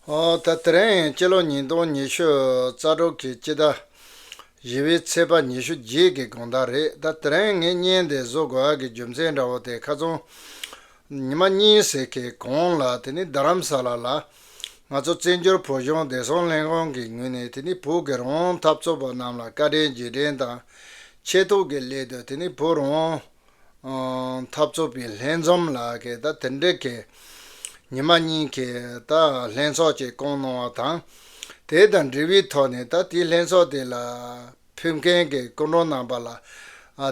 ད་དེ་རིང་སྤྱི་ལོ་ཉིས་སྟོང་ཉི་ཤུ་རྩ་དྲུག་གི་དཔྱིད་ཟླ་བཞི་བའི་ཚེས་པ་ཉི་ཤུ་རྗེས་ཀྱི་དགོང་དག་རེད་ད་དེ་རིང་ངས་བརྙན་དེ་བཟོ་དགོས་ཀྱི་རྒྱུ་མཚན་འདྲ་བོ་དེ་ཁ་ཚོན་ཉི་མ་གཉིས་ཟེར་གི་གོང་ལ་དེ་ནི་རྡ་རམ་ས་ལ་ལ་ང་ཚོ་བཙན་བྱོལ་བོད་གཞུང་བདེ་སྲུང་ལྷན་ཁང་གི་ངོས་ནས་དེ་ནི་བོད་ཀྱི་རང་དབང་འཐབ་རྩོད་པ་རྣམས་ལ་བཀའ་དྲིན་རྗེས་དྲན་དང་ཆེད་ཐུགས་ཀྱི་སླད་དུ་དེ་ནི་བོད་རང་འཐབ་རྩོད་པའི་ལྷན་འཛོམས་ལ་དེ་འབྲེལ་གྱི་ཉི་མ་གཉིས་ཀྱི་ལྷན་ཚོགས་ཀྱི་བསྐོང་གནང་བ་དང། དེ་དང་འབྲེལ་བའི་ཐོག་ནས་དེའི་ལྷན་ཚོགས་དེ་ལ་ཕེབས་མཁན་གྱི་སྐུ་མགྲོན་རྣམ་པ་ལ་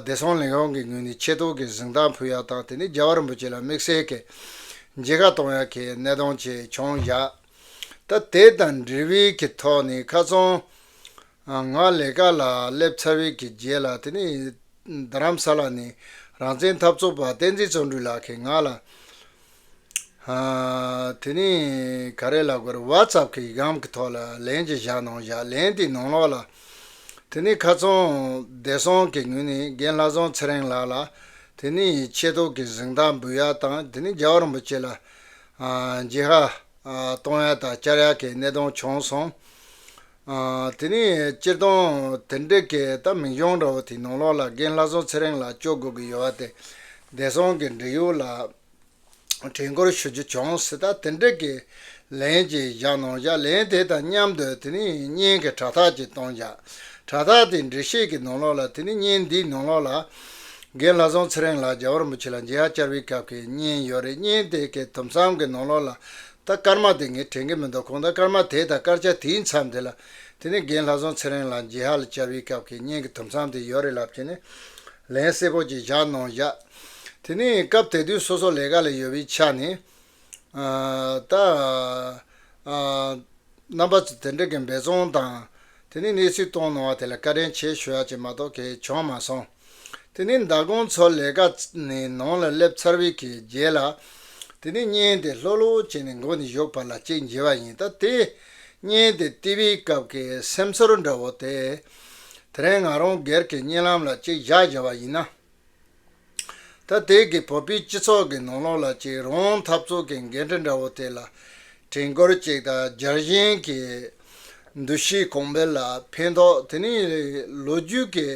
བདེ་སྲུང་ལས་ཁུངས་ཀྱི་ངོས་ནས་ཆེ་མཐོང་གི་གཟིགས་མདངས་ཕུལ་ཡག་དང་དེ་ནས་རྒྱལ་བ་རིན་པོ་ཆེ་ལ་དམིགས་བསལ་གྱི་མཇལ་ཁ་གཏོང་ཡག་གི་གནད་དོན་བཅས་བྱུང་བཞག་དེ་དང་འབྲེལ་བའི་གི་ཐོག་ནས་ཁ་ཚོན་ང་ལས་ཀ་ལ་སླེབས་ཚར་བའི་གི་རྗེས་ལ་དེ་ནས་རྡ་རམ་ས་ལ་ནས་རང་བཙན་འཐབ་རྩོད་པ་བསྟན་འཛིན་བརྩོན་འགྲུས་ལགས་ཀྱི་ང་ལ། དེ་ནས་ག་རེ་ལབ་ག་རེ WhatsApp གི་གམ་གི་ཐོག་ལ་ལན་ཅིག་བཞག་གནང་བཞག་ལན་དེ་ནང་ལོགས་ལ། དེ་ནས་ཁ་ཚོན་བདེ་སྲོང་གི་ངོས་ནས་རྒན་ལྷ་བཟང་ཚེ་རིང་ལགས་ལ། དེ་ནས་ཆེ་མདོག་གི་གཟེངས་རྟགས་འབུལ་ཡག་དང་དེ་ནས་རྒྱལ་བ་རིན་པོ་ཆེ་ལ། རྗེ་ཧ། གཏོང་ཡག་དང་བསྐྱར་ཡག་གི་གནད་དོན་བྱུང་སོང། དེ་ནས་སྤྱིར་བཏང་དེ་འདྲའི་གད་ལྟ་མི་འབྱུང་རོགས་དེ་ནང་ལོགས་ལ་རྒན་ལྷ་བཟང་ཚེ་རིང་ལ་བཅོལ་དགོས་ཀྱི་ཡོད་བ་དེ་བདེ་སྲུང་གི་འབྲེལ་ཡོད་ལ་དྲིན་སྐུར་ཞུ་རྒྱུ་བྱུང་སྲིད་ད་དེ་འདྲའི་གད་ལན་ཅིག་བཞག་གནང་བཞག་ལན་དེ་དང་མཉམ་དུ་དེ་ནི་བརྙན་གྱི་དྲ་ཐག་ཅིག་གཏོང་བཞག་དྲ་ཐག་དེ་འབྲི་ཤེས་ཀྱི་ནང་ལོགས་ལ་དེ་ནི་བརྙན་འདིའི་ནང་ལོགས་ལ་རྒན་ལྷ་བཟང་ཚེ་རིང་ལགས་རྒྱ་བོར་མུ་ཆེ་ལ་མཇལ་བྱར་བའི་སྐབས་ཀྱི་བརྙན་ཡོད་རེད་བརྙན་དེ་གའི་དུམ་མཚམས་ཀྱི་ནང་ལོགས་ལ་ད་སྐར་མ་དེ་ངས་དྲན་གྱི་མི་འདུག་གོང་ད་སྐར་མ་དེ་དང་སྐར་ཆ་དེའི་མཚམས་དེ་ལ། དེ་ནི་རྒན་ལྷ་བཟང་ཚེ་རིང་ལགས་འཇིགས་ཧ་ལ་བཅར་བའི་སྐབས་ཀྱི་བརྙན་གྱི་དུམ་ཚང་དེ་ཡོད་རེད་ལབ་ཀྱིན་ནས། ལན་གསལ་པོ་ཅིག་བཞག་གནང་བཞག། དེ་ནས་སྐབས་དེ་དུས་སོ་སོ་ལས་ཀ་ལ་ཡོད་པའི་ཆ་ནས། ད། རྣམ་པ་ཚོ་དེ་འདྲ་གི་འབད་བརྩོན་དང། དེ་ནི་གནས་ཚུལ་སྟོང་གནང་བ་དེ་ལ་བཀའ་དྲིན་ཆེ་ཞུ་ཡག་ཅིག་མ་གཏོགས་གལ་བྱུང་མ་སོང། དེ་ནི་མདའ་དགོང་ཚོ་ལས་ཀ་ནས་ནང་ལ་སླེབས་ཚར་བའི་གི་རྗེས་ལ། དེ་ནི་བརྙན་དེ་ལྷོག་ལྷོག་བྱས་ནས་མགོ་ནས་གཞོག་བར་ལ་གཅིག་འབྱིན་བ་ཡིན་ད་དེ། བརྙན་དེ་བལྟི་བའི་སྐབས་ཀྱི་སེམས་ཚོར་འདྲ་བོ་དེ། དེ་རིང་ང་རང་སྒེར་གྱི་བརྙན་ལམ་ལ་གཅིག་བཞག་བཞག་བ་ཡིན་ན། ད་ལྟའི་གི་བོད་པའི་སྤྱི་ཚོགས་ཀྱི་ནང་ལོགས་ལ་གཅིག་རོང་འཐབ་རྩོད་ཀྱི་འགན་འཁྲི་འདྲ་བོ་དེ་ལ་དྲན་སྐུལ་གཅིག་དང་སྦྱར་གཞན་གྱི་འདུ་ཤེས་གོང་འཕེལ་ལ་ཕན་ཐོགས་དེ་ནི་ལོ་རྒྱུས་ཀྱི་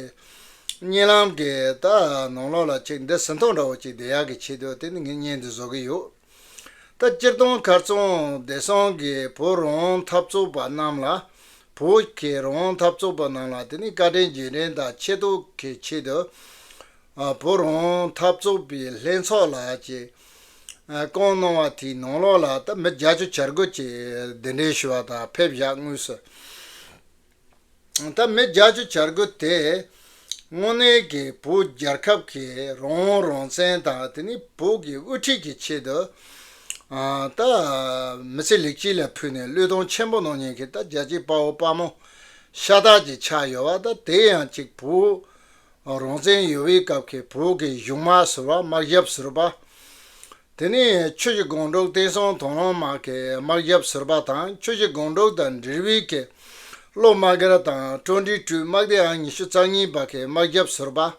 རྙིང་ལམ་གྱི་ནང་ལོགས་ལ་གཅིག་འདི་ཟིན་ཐོ་འདྲ་བོ་གཅིག་བསྡད་ཡག་གི་ཆེད་དུ་དེ་ནི་ངས་བརྙན་འདི་བཟོ་གི་ཡོད། ད་སྤྱིར་བཏང་མཁར་རྫོང་བདེ་སྲུང་གི་བོད་རང་འཐབ་ཚོགས་པ་རྣམས་ལ། བོད་ཀྱི་རང་འཐབ་ཚོགས་པ་རྣམས་ལ་དེ་ནི་བཀའ་དྲིན་རྗེས་དྲན་དང་ཆེ་མཐོང་གི་ཆེད་དུ། བོད་རང་འཐབ་ཚོགས་པའི་ལྷན་ཚོགས་ལ་ཅེས་བསྐོང་གནང་བ་དེའི་ནང་ལོགས་ལ་ད་མི་བརྒྱ་ཅུ་བྱར་འགོད་ཀྱིས་གདན་འདྲེན་ཞུ་བ་དང་ཕེབས་བཞག་དངོས་སུ། ད་མི་རྒྱ་ཆུ་བྱར་རྒོལ་དེ་དངོས་གནས་ཀྱི་བོད་རྒྱལ་ཁབ་ཀྱི་རང་དབང་རང་བཙན་དང་དེ་ནི་བོད་ཀྱི་དབུ་ཁྲིད་ཀྱི་ཆེད་དུ་ད་མི་ཚེ་ལེགས་སྐྱིད་ལ་ཕུལ་ནས་བློས་གཏོང་ཆེན་པོ་གནང་མྱོང་གི་ད་རྒྱལ་གཅེས་དཔའ་བོ་དཔའ་མོ་ཤ་སྟག་ཅིག་ཆགས་ཡོད་བ་ད་དེ་ཡང་གཅིག་བོད་རང་བཙན་ཡོལ་བའི་སྐབས་ཀྱི་བོད་ཀྱི་གཞུང་དམངས་ཟུར་བ་དམག་ཞབས་ཟུར་བ་དེ་ནི་ཆོས་ཀྱི་སྒོང་དྲུག་བསྟན་སྲུང་དོན་ལོངས་མ་ཀེ་དམག་རྒྱབ་ཟུར་པ་དང་ཆོས་ཀྱི་སྒོང་དྲུག་དང་འབྲེལ་བའི་ཀེ་ལོ་དམག་སྒེར་དང་ཀྲོ་འབྲི་སྤྲུལ་དམག་སྡེ་ཨང་ཉི་ཤུ་རྩ་གཉིས་པ་ཀེ་དམག་རྒྱབ་ཟུར་པ།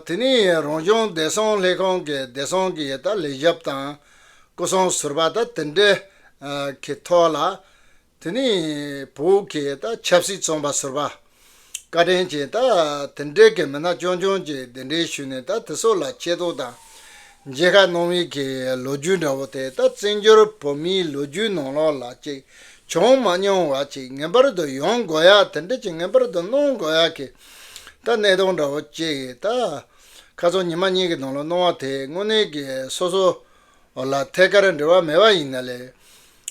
དེ་ནི་རང་བྱུང་བདེ་སྲུང་ལྷན་ཁང་གི་བདེ་སྲུང་གི་ཡི་དྭགས་ལས་རྒྱབ་དང་སྐུ་སྲུང་ཟུར་པ་དང་དེ་འབྲེལ་ཀེ་ཐོག་ལ་དེ་ནི་བོད་སྐད་དང་ཆབ་སྲིད་རྩོམ་པ་ཟུར་པ་བཀའ་དྲིན་ཅན་དང་དེ་འབྲེལ་གྱི་མི་སྣ་རྐྱང་རྐྱང་གིས་གདན་འདྲེན་ཞུས་ནས་ད་དེ་སོགས་ལ་ཆེ་བསྟོད་དང་མཇལ་ཁ་གནང་བས་ཀྱི་ལོ་རྒྱུས་འདྲ་བོ་དེ་ད་བཙན་བྱོལ་བོད་མིའི་ལོ་རྒྱུས་ནང་ལོག་ལ་ཅིག་བྱུང་མ་མྱོང་བ་ཅིག་ངེས་པར་དུ་ཡོང་དགོས་ཡ་དེ་འདྲ་ཅིག་ངེས་པར་དུ་གནང་དགོས་ཡ་གི་ད་གནས་སྟངས་འདྲ་བོ་ཅིག་ད་ཁ་ཚོན་ཉི་མ་གཉིས་ཀྱི་ནང་ལོག་གནང་བ་དེ་དངོས་གནས་ཀྱི་སོ་སོ་ལ་ཐད་ཀར་འབྲེལ་བ་མེད་པ་ཡིན་ན་ལས་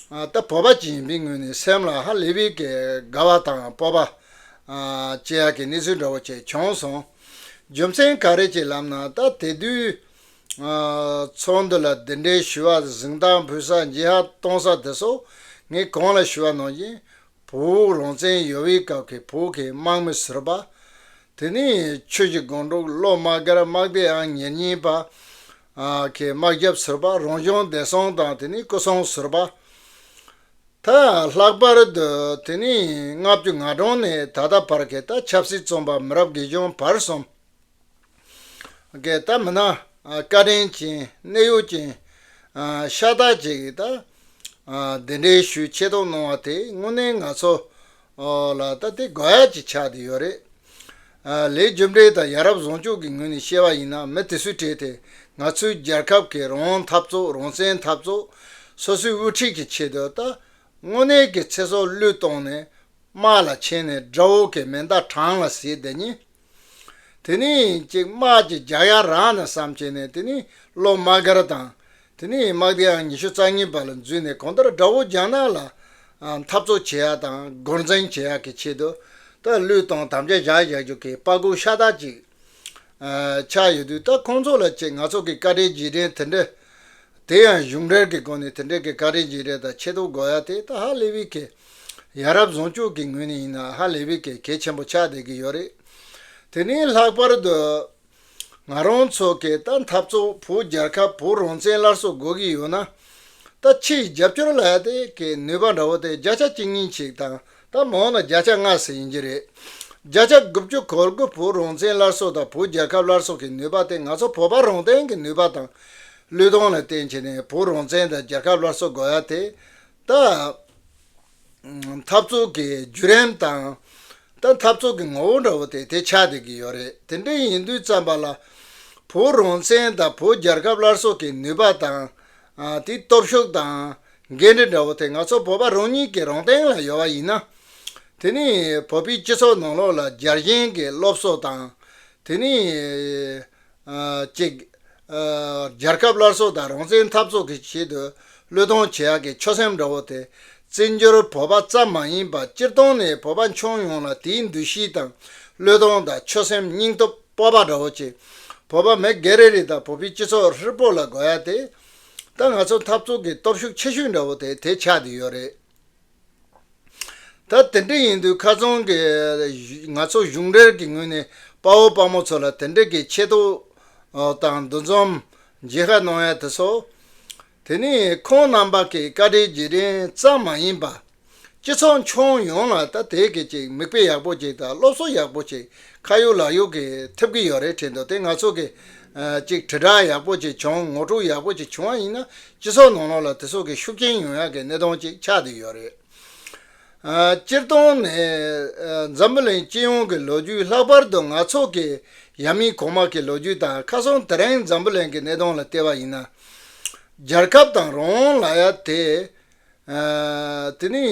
ལྟ་བུ་བ་ཅིན་པིན་ངོས་ནས་སེམས་ལ་ཧ་ལས་པའི་དགའ་བ་དང་སྤོབས་པ། སྐྱེ་ཡག་གི་གནས་ཚུལ་འདྲ་བོ་བཅས་བྱུང་སོང། རྒྱུ་མཚན་ག་རེ་གྱི་ལམ་ན་ད་དེ་དུས། ཚོགས་འདུ་ལ་འདི་འདྲའི་ཞུ་བ་གཟིགས་མདངས་འབུལ་ས་འཇིགས་ཧ་གཏོང་ས་དེ་སོགས་ངས་གང་ལ་ཞུ་བ་གནང་རྐྱེན། བོད་རང་བཙན་ཡོལ་བའི་སྐབས་ཀྱི་བོད་ཀྱི་དམག་མི་ཟུར་པ། དེ་ནས་ཆོས་ཀྱི་སྒང་དྲུག་བློ་དམག་སྒར་དམག་སྡེ་ཨང་ཉེར་གཉིས་པ། གི་དམག་རྒྱབ་ཟུར་པ་རང་བྱུང་བདེ་སྲུང་དང་དེ་ནས་སྐུ་སྲུང་ཟུར་པ། ད་ལྷག་པར་དུ་དེ་ནས་ལྔ་བཅུ་ང་གྲངས་ནས་ད་ལྟ་བར་གྱི་ད་ཆབ་སྲིད་རྩོམ་པ་མི་རབས་དགེ་སྦྱོང་བར་གསུམ་གྱི་ད་མི་སྣ་བཀའ་དྲིན་ཅན་གནས་ཡུལ་ཅན་ཤ་སྟག་ཅིག་གིས་ད་གདན་འདྲེན་ཞུས་ཆེད་དུ་གནང་བ་དེ་དངོས་གནས་ང་ཚོ་ཨོ་ལ་ད་དེ་དགོས་ཡ་གྱི་ཆགས་དེ་ཡོད་རེད། ལས་རྒྱུ་འབྲས་དང་ཡ་རབ་བཟང་སྤྱོད་ཀྱི་ངོས་ནས་བཤད་པ་ཡིན་ན་མི་དེ་སུས་བྲིས་དེ་ང་ཚོའི་རྒྱལ་ཁབ་ཀྱི་རང་འཐབ་རྩོད་རང་བཙན་འཐབ་རྩོད་སོ་སོའི་དབུ་ཁྲིད་ཀྱི་ཆེད་དུ་ད་དངོས་གནས་ཀྱི་ཚེ་སྲོག་བླུད་བཏང་ནས་དམག་ལ་ཕྱིན་ནས་དགྲ་བོ་ཀྱི་མེ་མདའ་བྲང་ལ་བཟེད་དེ་ཉིད། དེ་ནི་ཅེག་དམག་གིས་རྒྱ་གཡའ་རང་ནས་བསམ་བྱས་ནས་དེ་ནི་སློབ་དམག་སྒར་དང། དེ་ནི་དམག་སྡེའང་ཉི་ཤུ་རྩ་གཉིས་པ་ལ་འཛུལ་ནས་གང་ལྟར་དགྲ་བོ་རྒྱ་ནག་ལ་འཐབ་རྩོད་བྱེད་ཡག་དང་རྒོལ་འཛིང་བྱེད་ཡག་གི་ཆེད་དུ་ད་ལུས་དང་དམ་བཅའ་བཞག་བཞག་རྒྱུ་གི་དཔའ་རྒོད་ཤ་སྟག་ཅིག་ཆགས་ཡོད་དུས་ད་ཁོང་ཚོ་ལ་ཅེག་ནག་ཚོགས་ཀྱི་བཀའ་དྲིན་རྗེས་དྲན་དེ་འདྲ་དེ་ཡང་གཞུང་འབྲེལ་གྱི་སྒོ་ནས་དེ་འདྲ་གི་བཀའ་དྲིན་རྗེས་དྲན་དང་ཆེད་དུ་དགོས་ཡག་དེ་ད་ཧ་ལས་བི་ཁེ་ཡ་རབས་བཟང་སྤྱོད་ཀྱི་ངོས་ནས་ཡིན་ན་ཧ་ལས་པའི་གལ་ཆེན་པོ་ཆགས་བསྡད་ཀྱི་ཡོད་རེད། དེ་ནས་ལྷག་པར་དུ། ང་རང་ཚོ་གས་ད་འཐབ་རྩོད་བོད་རྒྱལ་ཁབ་བོད་རང་བཙན་སླར་གསོ་དགོས་ཀྱི་ཡོད་ན། ད་ཕྱི་ཡི་རྒྱབ་སྐྱོར་ལ་དེ་གས་ནུས་པ་འདྲ་བོ་དེ་བརྒྱ་ཆ་གཅིག་གཉིས་གཅིག་དང་ད་མང་ན་བརྒྱ་ཆ་ལྔ་ཟེར་ཡིན་གྱི་རེད། བརྒྱ་ཆ་དགུ་བཅུ་གོ་དགུ་བོད་རང་བཙན་སླར་གསོ་དང་བོད་རྒྱལ་ཁབ་སླར་གསོ་གི་ནུས་པ་དེ་ང་ཚོ་བོད་པ་རང་སྟེང་གི་ནུས་པ་དང། བློས་གཏོང་ལ་བརྟེན་བྱས་ནས་བོད་རང་བཙན་དང་རྒྱལ་ཁབ་སླར་གསོ་དགོས་ཡ་དེ་ལྟ། འཐབ་རྩོད་ཀྱི་བརྒྱུད་རིམ་དང། ལྟ་འཐབ་རྩོད་ཀྱི་ངོ་བོ་འདྲ་བོ་དེ་དེ་ཆ་དེ་གི་ཡོད་རེད་དེ་འདྲ་ཡིན་དུས་བརྩམས་པ་ལ། བོད་རང་བཙན་དང་བོད་རྒྱལ་ཁབ་སླར་གསོ་གི་ནུས་པ་དང། དེའི་སྟོབས་ཤུགས་དང། འགན་འཁྲི་འདྲ་བོ་དེ་ང་ཚོ་བོད་པ་རང་ཉིད་ཀྱི་རང་སྟེང་ལ་ཡོད་པ་ཡིན་ན། དེ་ནི་བོད་པའི་སྤྱི་ཚོགས་ནང་ལོགས་ལ་རྒྱལ་ཞེན་གྱི་སློབ་གསོ་དང། དེ་ནི། གཅིག། རྒྱལ་ཁབ་སླར་གསོ་དང་རང་བཙན་འཐབ་རྩོད་ཀྱི་ཆེད་དུ་བློས་གཏོང་བྱེད་ཡག་གི་ཆོད་སེམས་འདྲ་བོ་དེ། བཙན་བྱོལ་བོད་པ་ཙམ་མ་ཡིན་པར་སྤྱིར་བཏང་ནས་བོད་པ་མཆོང་ཡོངས་ལ་དེའི་འདུ་ཤེས་དང་བློས་གཏོང་དང་ཆོད་སེམས་སྙིང་སྟོབས་སྤོབས་པ་འདྲ་བོ་ཅིག་བོད་པ་མི་སྒེར་རེ་རེ་དང་བོད་པའི་སྤྱི་ཚོགས་ཧྲིལ་པོ་ལ་དགོས་ཡག་དེ། ད་ང་ཚོ་འཐབ་རྩོད་ཀྱི་སྟོབས་ཤུགས་ཆེ་ཤོས་འདྲ་བོ་དེ་དེ་ཆགས་བསྡད་ཡོད་རེད། ད་དེ་འདྲ་ཡིན་དུས་ཁ་ཚོན་གྱིས་ང་ཚོ་གཞུང་འབྲེལ་གྱི་ངོས་ནས་དཔའ་བོ་དཔའ་མོ་ཚོ་ལ་དེ་འདྲ་གི་ཆེ་མཐོང་དང་འདུ་འཛོམས་རྒྱས་ཁ་གནོང་ཡ་དེ་ཚོ། དེ་ནི་ཁོང་རྣམ་པ་གྱི་བཀའ་དྲིན་རྗེས་དྲན་ཙམ་མ་ཡིན་པ། སྤྱི་ཚོགས་མཆོང་ཡོངས་ལ་ད་དེ་གི་ཅིག་མིག་དཔེ་ཡག་པོ་ཅིག་དང་སློབ་གསོ་ཡག་པོ་ཅིག་ཁ་གཡུག་ལག་གཡུག་གི་ཐེབས་ཀྱི་ཡོད་རེད་དྲན་འདུག་དེ་ང་ཚོ་གི་ཅིག་དྲིལ་བསྒྲགས་ཡག་པོ་ཅིག་བྱུང་ངོ་སྤྲོད་ཡག་པོ་ཅིག་བྱུང་བ་ཡིན་ན་སྤྱི་ཚོགས་ནང་ལོགས་ལ་དེ་སོགས་ཀྱི་ཤུགས་རྐྱེན་ཡོང་ཡག་གི་གནས་སྟངས་ཅིག་ཆགས་བསྡད་ཡོད་རེད། སྤྱིར་བཏང་ནས་འཛམ་བུ་གླིང་སྤྱི་ཡོངས་ཀྱི་ལོ་རྒྱུས་ལྷག་པར་དུ་ནག་ཚོགས་ཀྱི་ཡ་མིན་གོང་མ་གྱི་ལོ་རྒྱུས་དང་ཁ་སང་དེ་རིང་འཛམ་བུ་གླིང་གི་གནས་སྟངས་ལ་བལྟས་པ་ཡིན་ན། རྒྱལ་ཁབ་དང་རང་དབང་ལ་ཡ་དེ། དེ་ནི་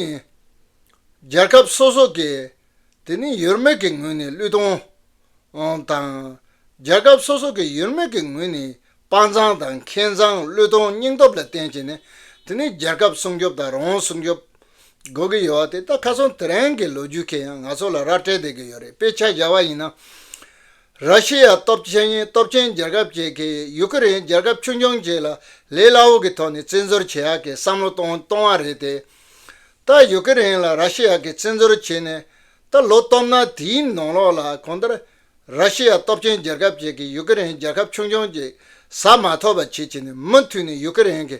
རྒྱལ་ཁབ་སོ་སོ་གྱིས་དེ་ནི་ཡོད་མེད་ཀྱི་ངོས་ནས་བསླུས་གཏོང་དང། རྒྱལ་ཁབ་སོ་སོ་གི་ཡོད་མེད་ཀྱི་ངོས་ནས་དཔའ་མཛངས་དང་མཁས་མཛངས་བསླུས་གཏོང་སྙིང་སྟོབས་ལ་བརྟེན་བྱས་ནས་དེ་ནི་རྒྱལ་ཁབ་སྲུང་སྐྱོབ་དང་རང་དབང་སྲུང་སྐྱོབ་དགོས་ཀྱི་ཡོད་བ་དེ་ལྟ་ཁ་སང་དེ་རིང་གི་ལོ་རྒྱུས་ཁེ་ཡང་ང་ཚོ་ལ་ར་སྤྲད་བསྡད་ཀྱི་ཡོད་རེད་དཔེ་ཆ་བཞག་པ་ཡིན་ན། ར་ཤི་ཡ་སྟོབས་ཆེན་སྟོབས་ཆེན་རྒྱལ་ཁབ་བཅས་ཀྱིས་ཡུ་ཀེ་རེན་རྒྱལ་ཁབ་ཆུང་ཆུང་བཅས་ལ་ལས་སླ་བོ་གི་ཐོག་ནས་བཙན་འཛུལ་བྱེད་ཡག་གི་བསམ་བློ་གཏོང་བ་རེད་དེ། ཏཱ་ཡུ་ཀེ་རེན་ལ་ར་ཤི་ཡ་གིས་བཙན་འཛུལ་བྱས་ནས་ད་ལོ་སྟོབས་ན་དེའི་ནང་ལོགས་ལ་གང་ལྟར་ར་ཤི་ཡ་སྟོབས་ཆེན་རྒྱལ་ཁབ་ཅིག་གིས་ཡུ་ཀེ་རེན་རྒྱལ་ཁབ་ཆུང་ཆུང་ཅིག་ཟ་མ་ཐོབ་པ་བྱེད་ཆེད་ནས་མུ་མཐུད་ནས་ཡུ་ཀེ་རེན་གྱི་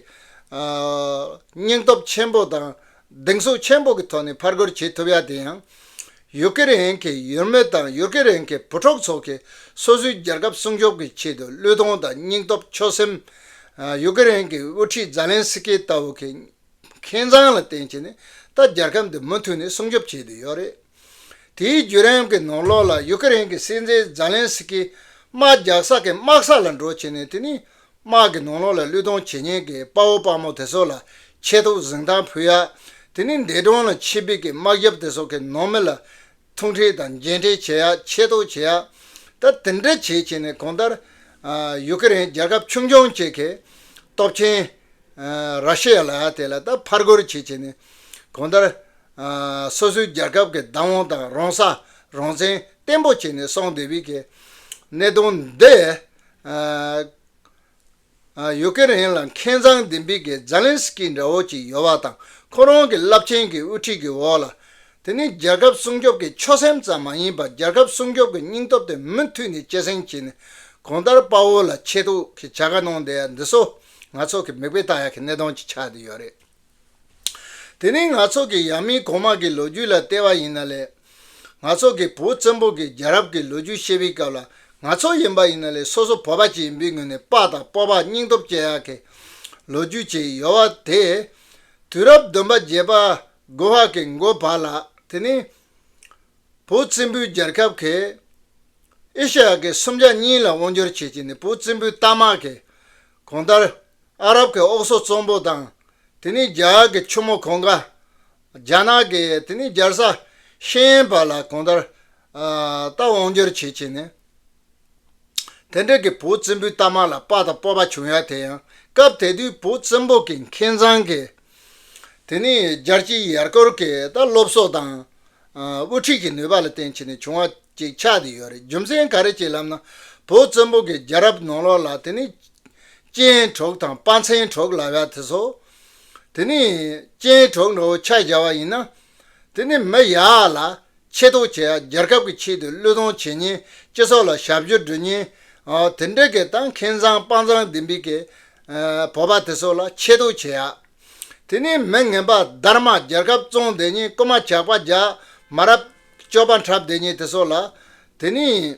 སྙིང་སྟོབས་ཆེན་པོ་དང་གདེང་ཚོད་ཆེན་པོ་གི་ཐོག་ནས་ཕར་རྒོལ་བྱེད་ཐུབ་ཡ་དེ་ཡང་ཡུ་ཀེ་རེན་གྱི་ཡུལ་མི་དང་ཡུ་ཀེ་རེན་གྱི་བུ་ཕྲུག་ཚོ་གིས་སོ་སོའི་རྒྱལ་ཁབ་སྲུང་སྐྱོབ་ཀྱི་ཆེད་དུ་བློས་གཏོང་དང་སྙིང་སྟོབས་ཆོད་སེམས། ཡུ་ཀེ་རེན་གྱི་དབུ་ཁྲིད་ཛཱ་ལེན་སི་ཀི་ལྟ་བུ་གིས་མཁན་ཚང་ལ་བརྟེན་ཆེད་ནས་ད་རྒྱལ་ཁམས་འདི་མུ་མཐུད་ནས་སྲུང་སྐྱོབ་བྱེད་དུ་ཡོད་རེད། དེའི་བརྒྱུད་རིམ་གྱི་ནང་ལོགས་ལ་ཡུ་ཀེ་རེན་གྱི་སྲིད་འཛིན་ཛཱ་ལན་སི་ཀིས་དམག་རྒྱག་ས་གིས་དམག་ས་ལ་འགྲོ་བྱེད་ནས་དེ་ནི་དམག་གི་ནང་ལོགས་ལ་བློས་གཏོང་བྱེད་ཉེན་གྱི་དཔའ་བོ་དཔའ་མོ་དེ་ཚོ་ལ་ཆེད་དུ་གཟིགས་མདངས་ཕུལ་ཡ། དེ་ནི་འདས་གྲོངས་ལ་ཆེད་ཕེབས་ཀྱི་དམག་རྒྱབ་དེ་ཚོ་གི་ནང་མི་ལ། ཐུག་འཕྲད་དང་མཇལ་འཕྲད་བྱེད་ཡག་ཆེ་མདོག་བྱེད་ཡག་ད་དེ་འདྲ་བྱེད་བྱས་ནས་གོང་ལྟར། ཡུ་ཀེ་རེན་རྒྱལ་ཁབ་ཆུང་ཆུང་བཅས་ཀྱི་སྟོབས་ཆེན། ར་ཤི་ཡ་ལ་དེ་ལ་ད་ཕར་རྒོལ་བྱེད་བྱས་ནས་གོང་ལྟར། སོ་སོའི་རྒྱལ་ཁབ་ཀྱི་བདག་དབང་དང་རང་ས་རང་བཙན་བརྟན་པོ་བྱས་ནས་སོང་དེ་བས་ཀྱི་གནད་དོན་འདི། ཡུ་ཀེ་རེན་ལ་མཁས་མཛངས་ལྡན་པའི་སྒེར་ཛཱ་ལན་སི་ཀི་འདྲ་བོ་ཅིག་ཡོད་པ་དང་ཁོ་རང་གི་རླབས་ཆེན་གྱི་དབུ་ཁྲིད་ཀྱི་འོག་ལ། དེ་ནི་རྒྱལ་ཁབ་སྲུང་སྐྱོབ་ཀྱི་ཆོད་སེམས་ཙམ་མ་ཡིན་པར་རྒྱལ་ཁབ་སྲུང་སྐྱོབ་ཀྱི་སྙིང་སྟོབས་དེ་མུ་མཐུད་ནས་སྐྱེད་སྲིང་བྱས་ནས་གང་ལྟར་དཔའ་བོ་ལ་ཆེད་དུ་གི་བྱ་དགའ་གནང་བསྡད་ཡ་འདི་སོགས་ང་ཚོ་གི་མིག་དཔེ་ལྟ་ཡ་གི་གནད་དོན་གྱི་ཆ་དེ་ཡོད་རེད། དེ་ནི་ནག་ཚོགས་ཀྱི་ཡང་མིན་གོང་མ་གི་ལོ་རྒྱུས་ལ་བལྟས་པ་ཡིན་ན་ལས། ནག་ཚོགས་ཀྱི་བོད་བཙན་པོ་གི་རྒྱལ་རབས་ཀྱི་ལོ་རྒྱུས་བཤད་པའི་སྐབས་ལ་ནག་ཚོགས་ཡིན་པ་ཡིན་ན་ལས་སོ་སོ་བོད་པ་གཅིག་ཡིན་པའི་ངོས་ནས་དཔའ་དང་སྤོབས་པ་སྙིང་སྟོབས་བསྐྱེད་ཡག་གི་ལོ་རྒྱུས་བཅས་ཡོད་བ་དེས། དུས་རབས་བདུན་པ་བརྒྱད་པ་དགུ་བ་གི་མགོ་བར་ལ་དེ་ནི། བོད་བཙན་པོའི་རྒྱལ་ཁབ་གིས་ཨེ་ཤ་ཡ་གི་སུམ་ཆ་གཉིས་ལ་དབང་སྒྱུར་བྱེད་ཀྱི་ནི་བོད་བཙན་པོའི་རྟ་དམག་གིས་གོང་ལྟར། ཨ་རབ་ཀྱི་ཨོག་སོ་ཙོང་པོ་དང། དེ་ནས་རྒྱ་གར་གྱི་ཆུ་མོ་གོང་ཀ། རྒྱ་ནག་གི་དེ་ནས་རྒྱལ་ས་ཤེས་ཡན་བར་ལ་གོང་ལྟར། རྟ་དབང་སྒྱུར་བྱེད་བྱས་ནས། དེ་འབྲེལ་གྱི་བུ་བཙན་པོའི་རྟ་དམག་ལ་དཔའ་དང་སྤོབས་པ་བྱུང་ཡ་དེ་ཡང་སྐབས་དེ་དུས་བུ་བཙན་པོ་གྱི་མཁས་མཛངས་ཀྱི། དེ་ནས་རྒྱལ་སྤྱིའི་ཡར་སྐོར་གྱི་རྟ་སློབ་གསོ་དང། དབུ་ཁྲིད་ཀྱི་ནུས་པ་ལ་བརྟེན་བྱས་ནས་བྱུང་བ་ཅིག་ཆགས་ཏེ་ཡོད་རེད་རྒྱུ་མཚན་ག་རེ་བྱས་ལབ་ན་བོད་བཙན་པོ་གི་རྒྱལ་རབས་ནང་ལོག་ལ་དེ་ནི་ཅེན་གྲོགས་དང་དཔའ་མཚན་གྲོགས་ལབ་ཡ་དེ་ཚོ་དེ་ནི་ཅེན་གྲོགས་འདྲ་བོ་ཕྱག་བཞག་བ་ཡིན་ན་དེ་ནི་མི་ཡག་ལ་ཆེ་མདོག་བྱས་ཡ་རྒྱལ་ཁབ་ཀྱི་ཆེད་དུ་བློས་གཏོང་བྱེད་ཉེན་སྤྱི་ཚོགས་ལ་ཞབས་ཞུ་འགྲུ་ཉེན་དེ་འདྲ་གི་ད་མཁན་ཚང་དཔའ་མཚང་ལྡིམ་པི་གི་བོད་པ་དེ་ཚོ་ལ་ཆེ་མདོག་བྱས་ཡ། དེ་ནས་མི་ངན་པ་སྡར་མ་རྒྱལ་ཁབ་བཙོང་དེ་ཉིད་རྐུ་མ་ཇག་པ་རྒྱ་མ་རབ་སྐྱོབ་པ་འཁྲབ་དེ་ཉིད་དེ་སོགས་ལ། དེ་ནས་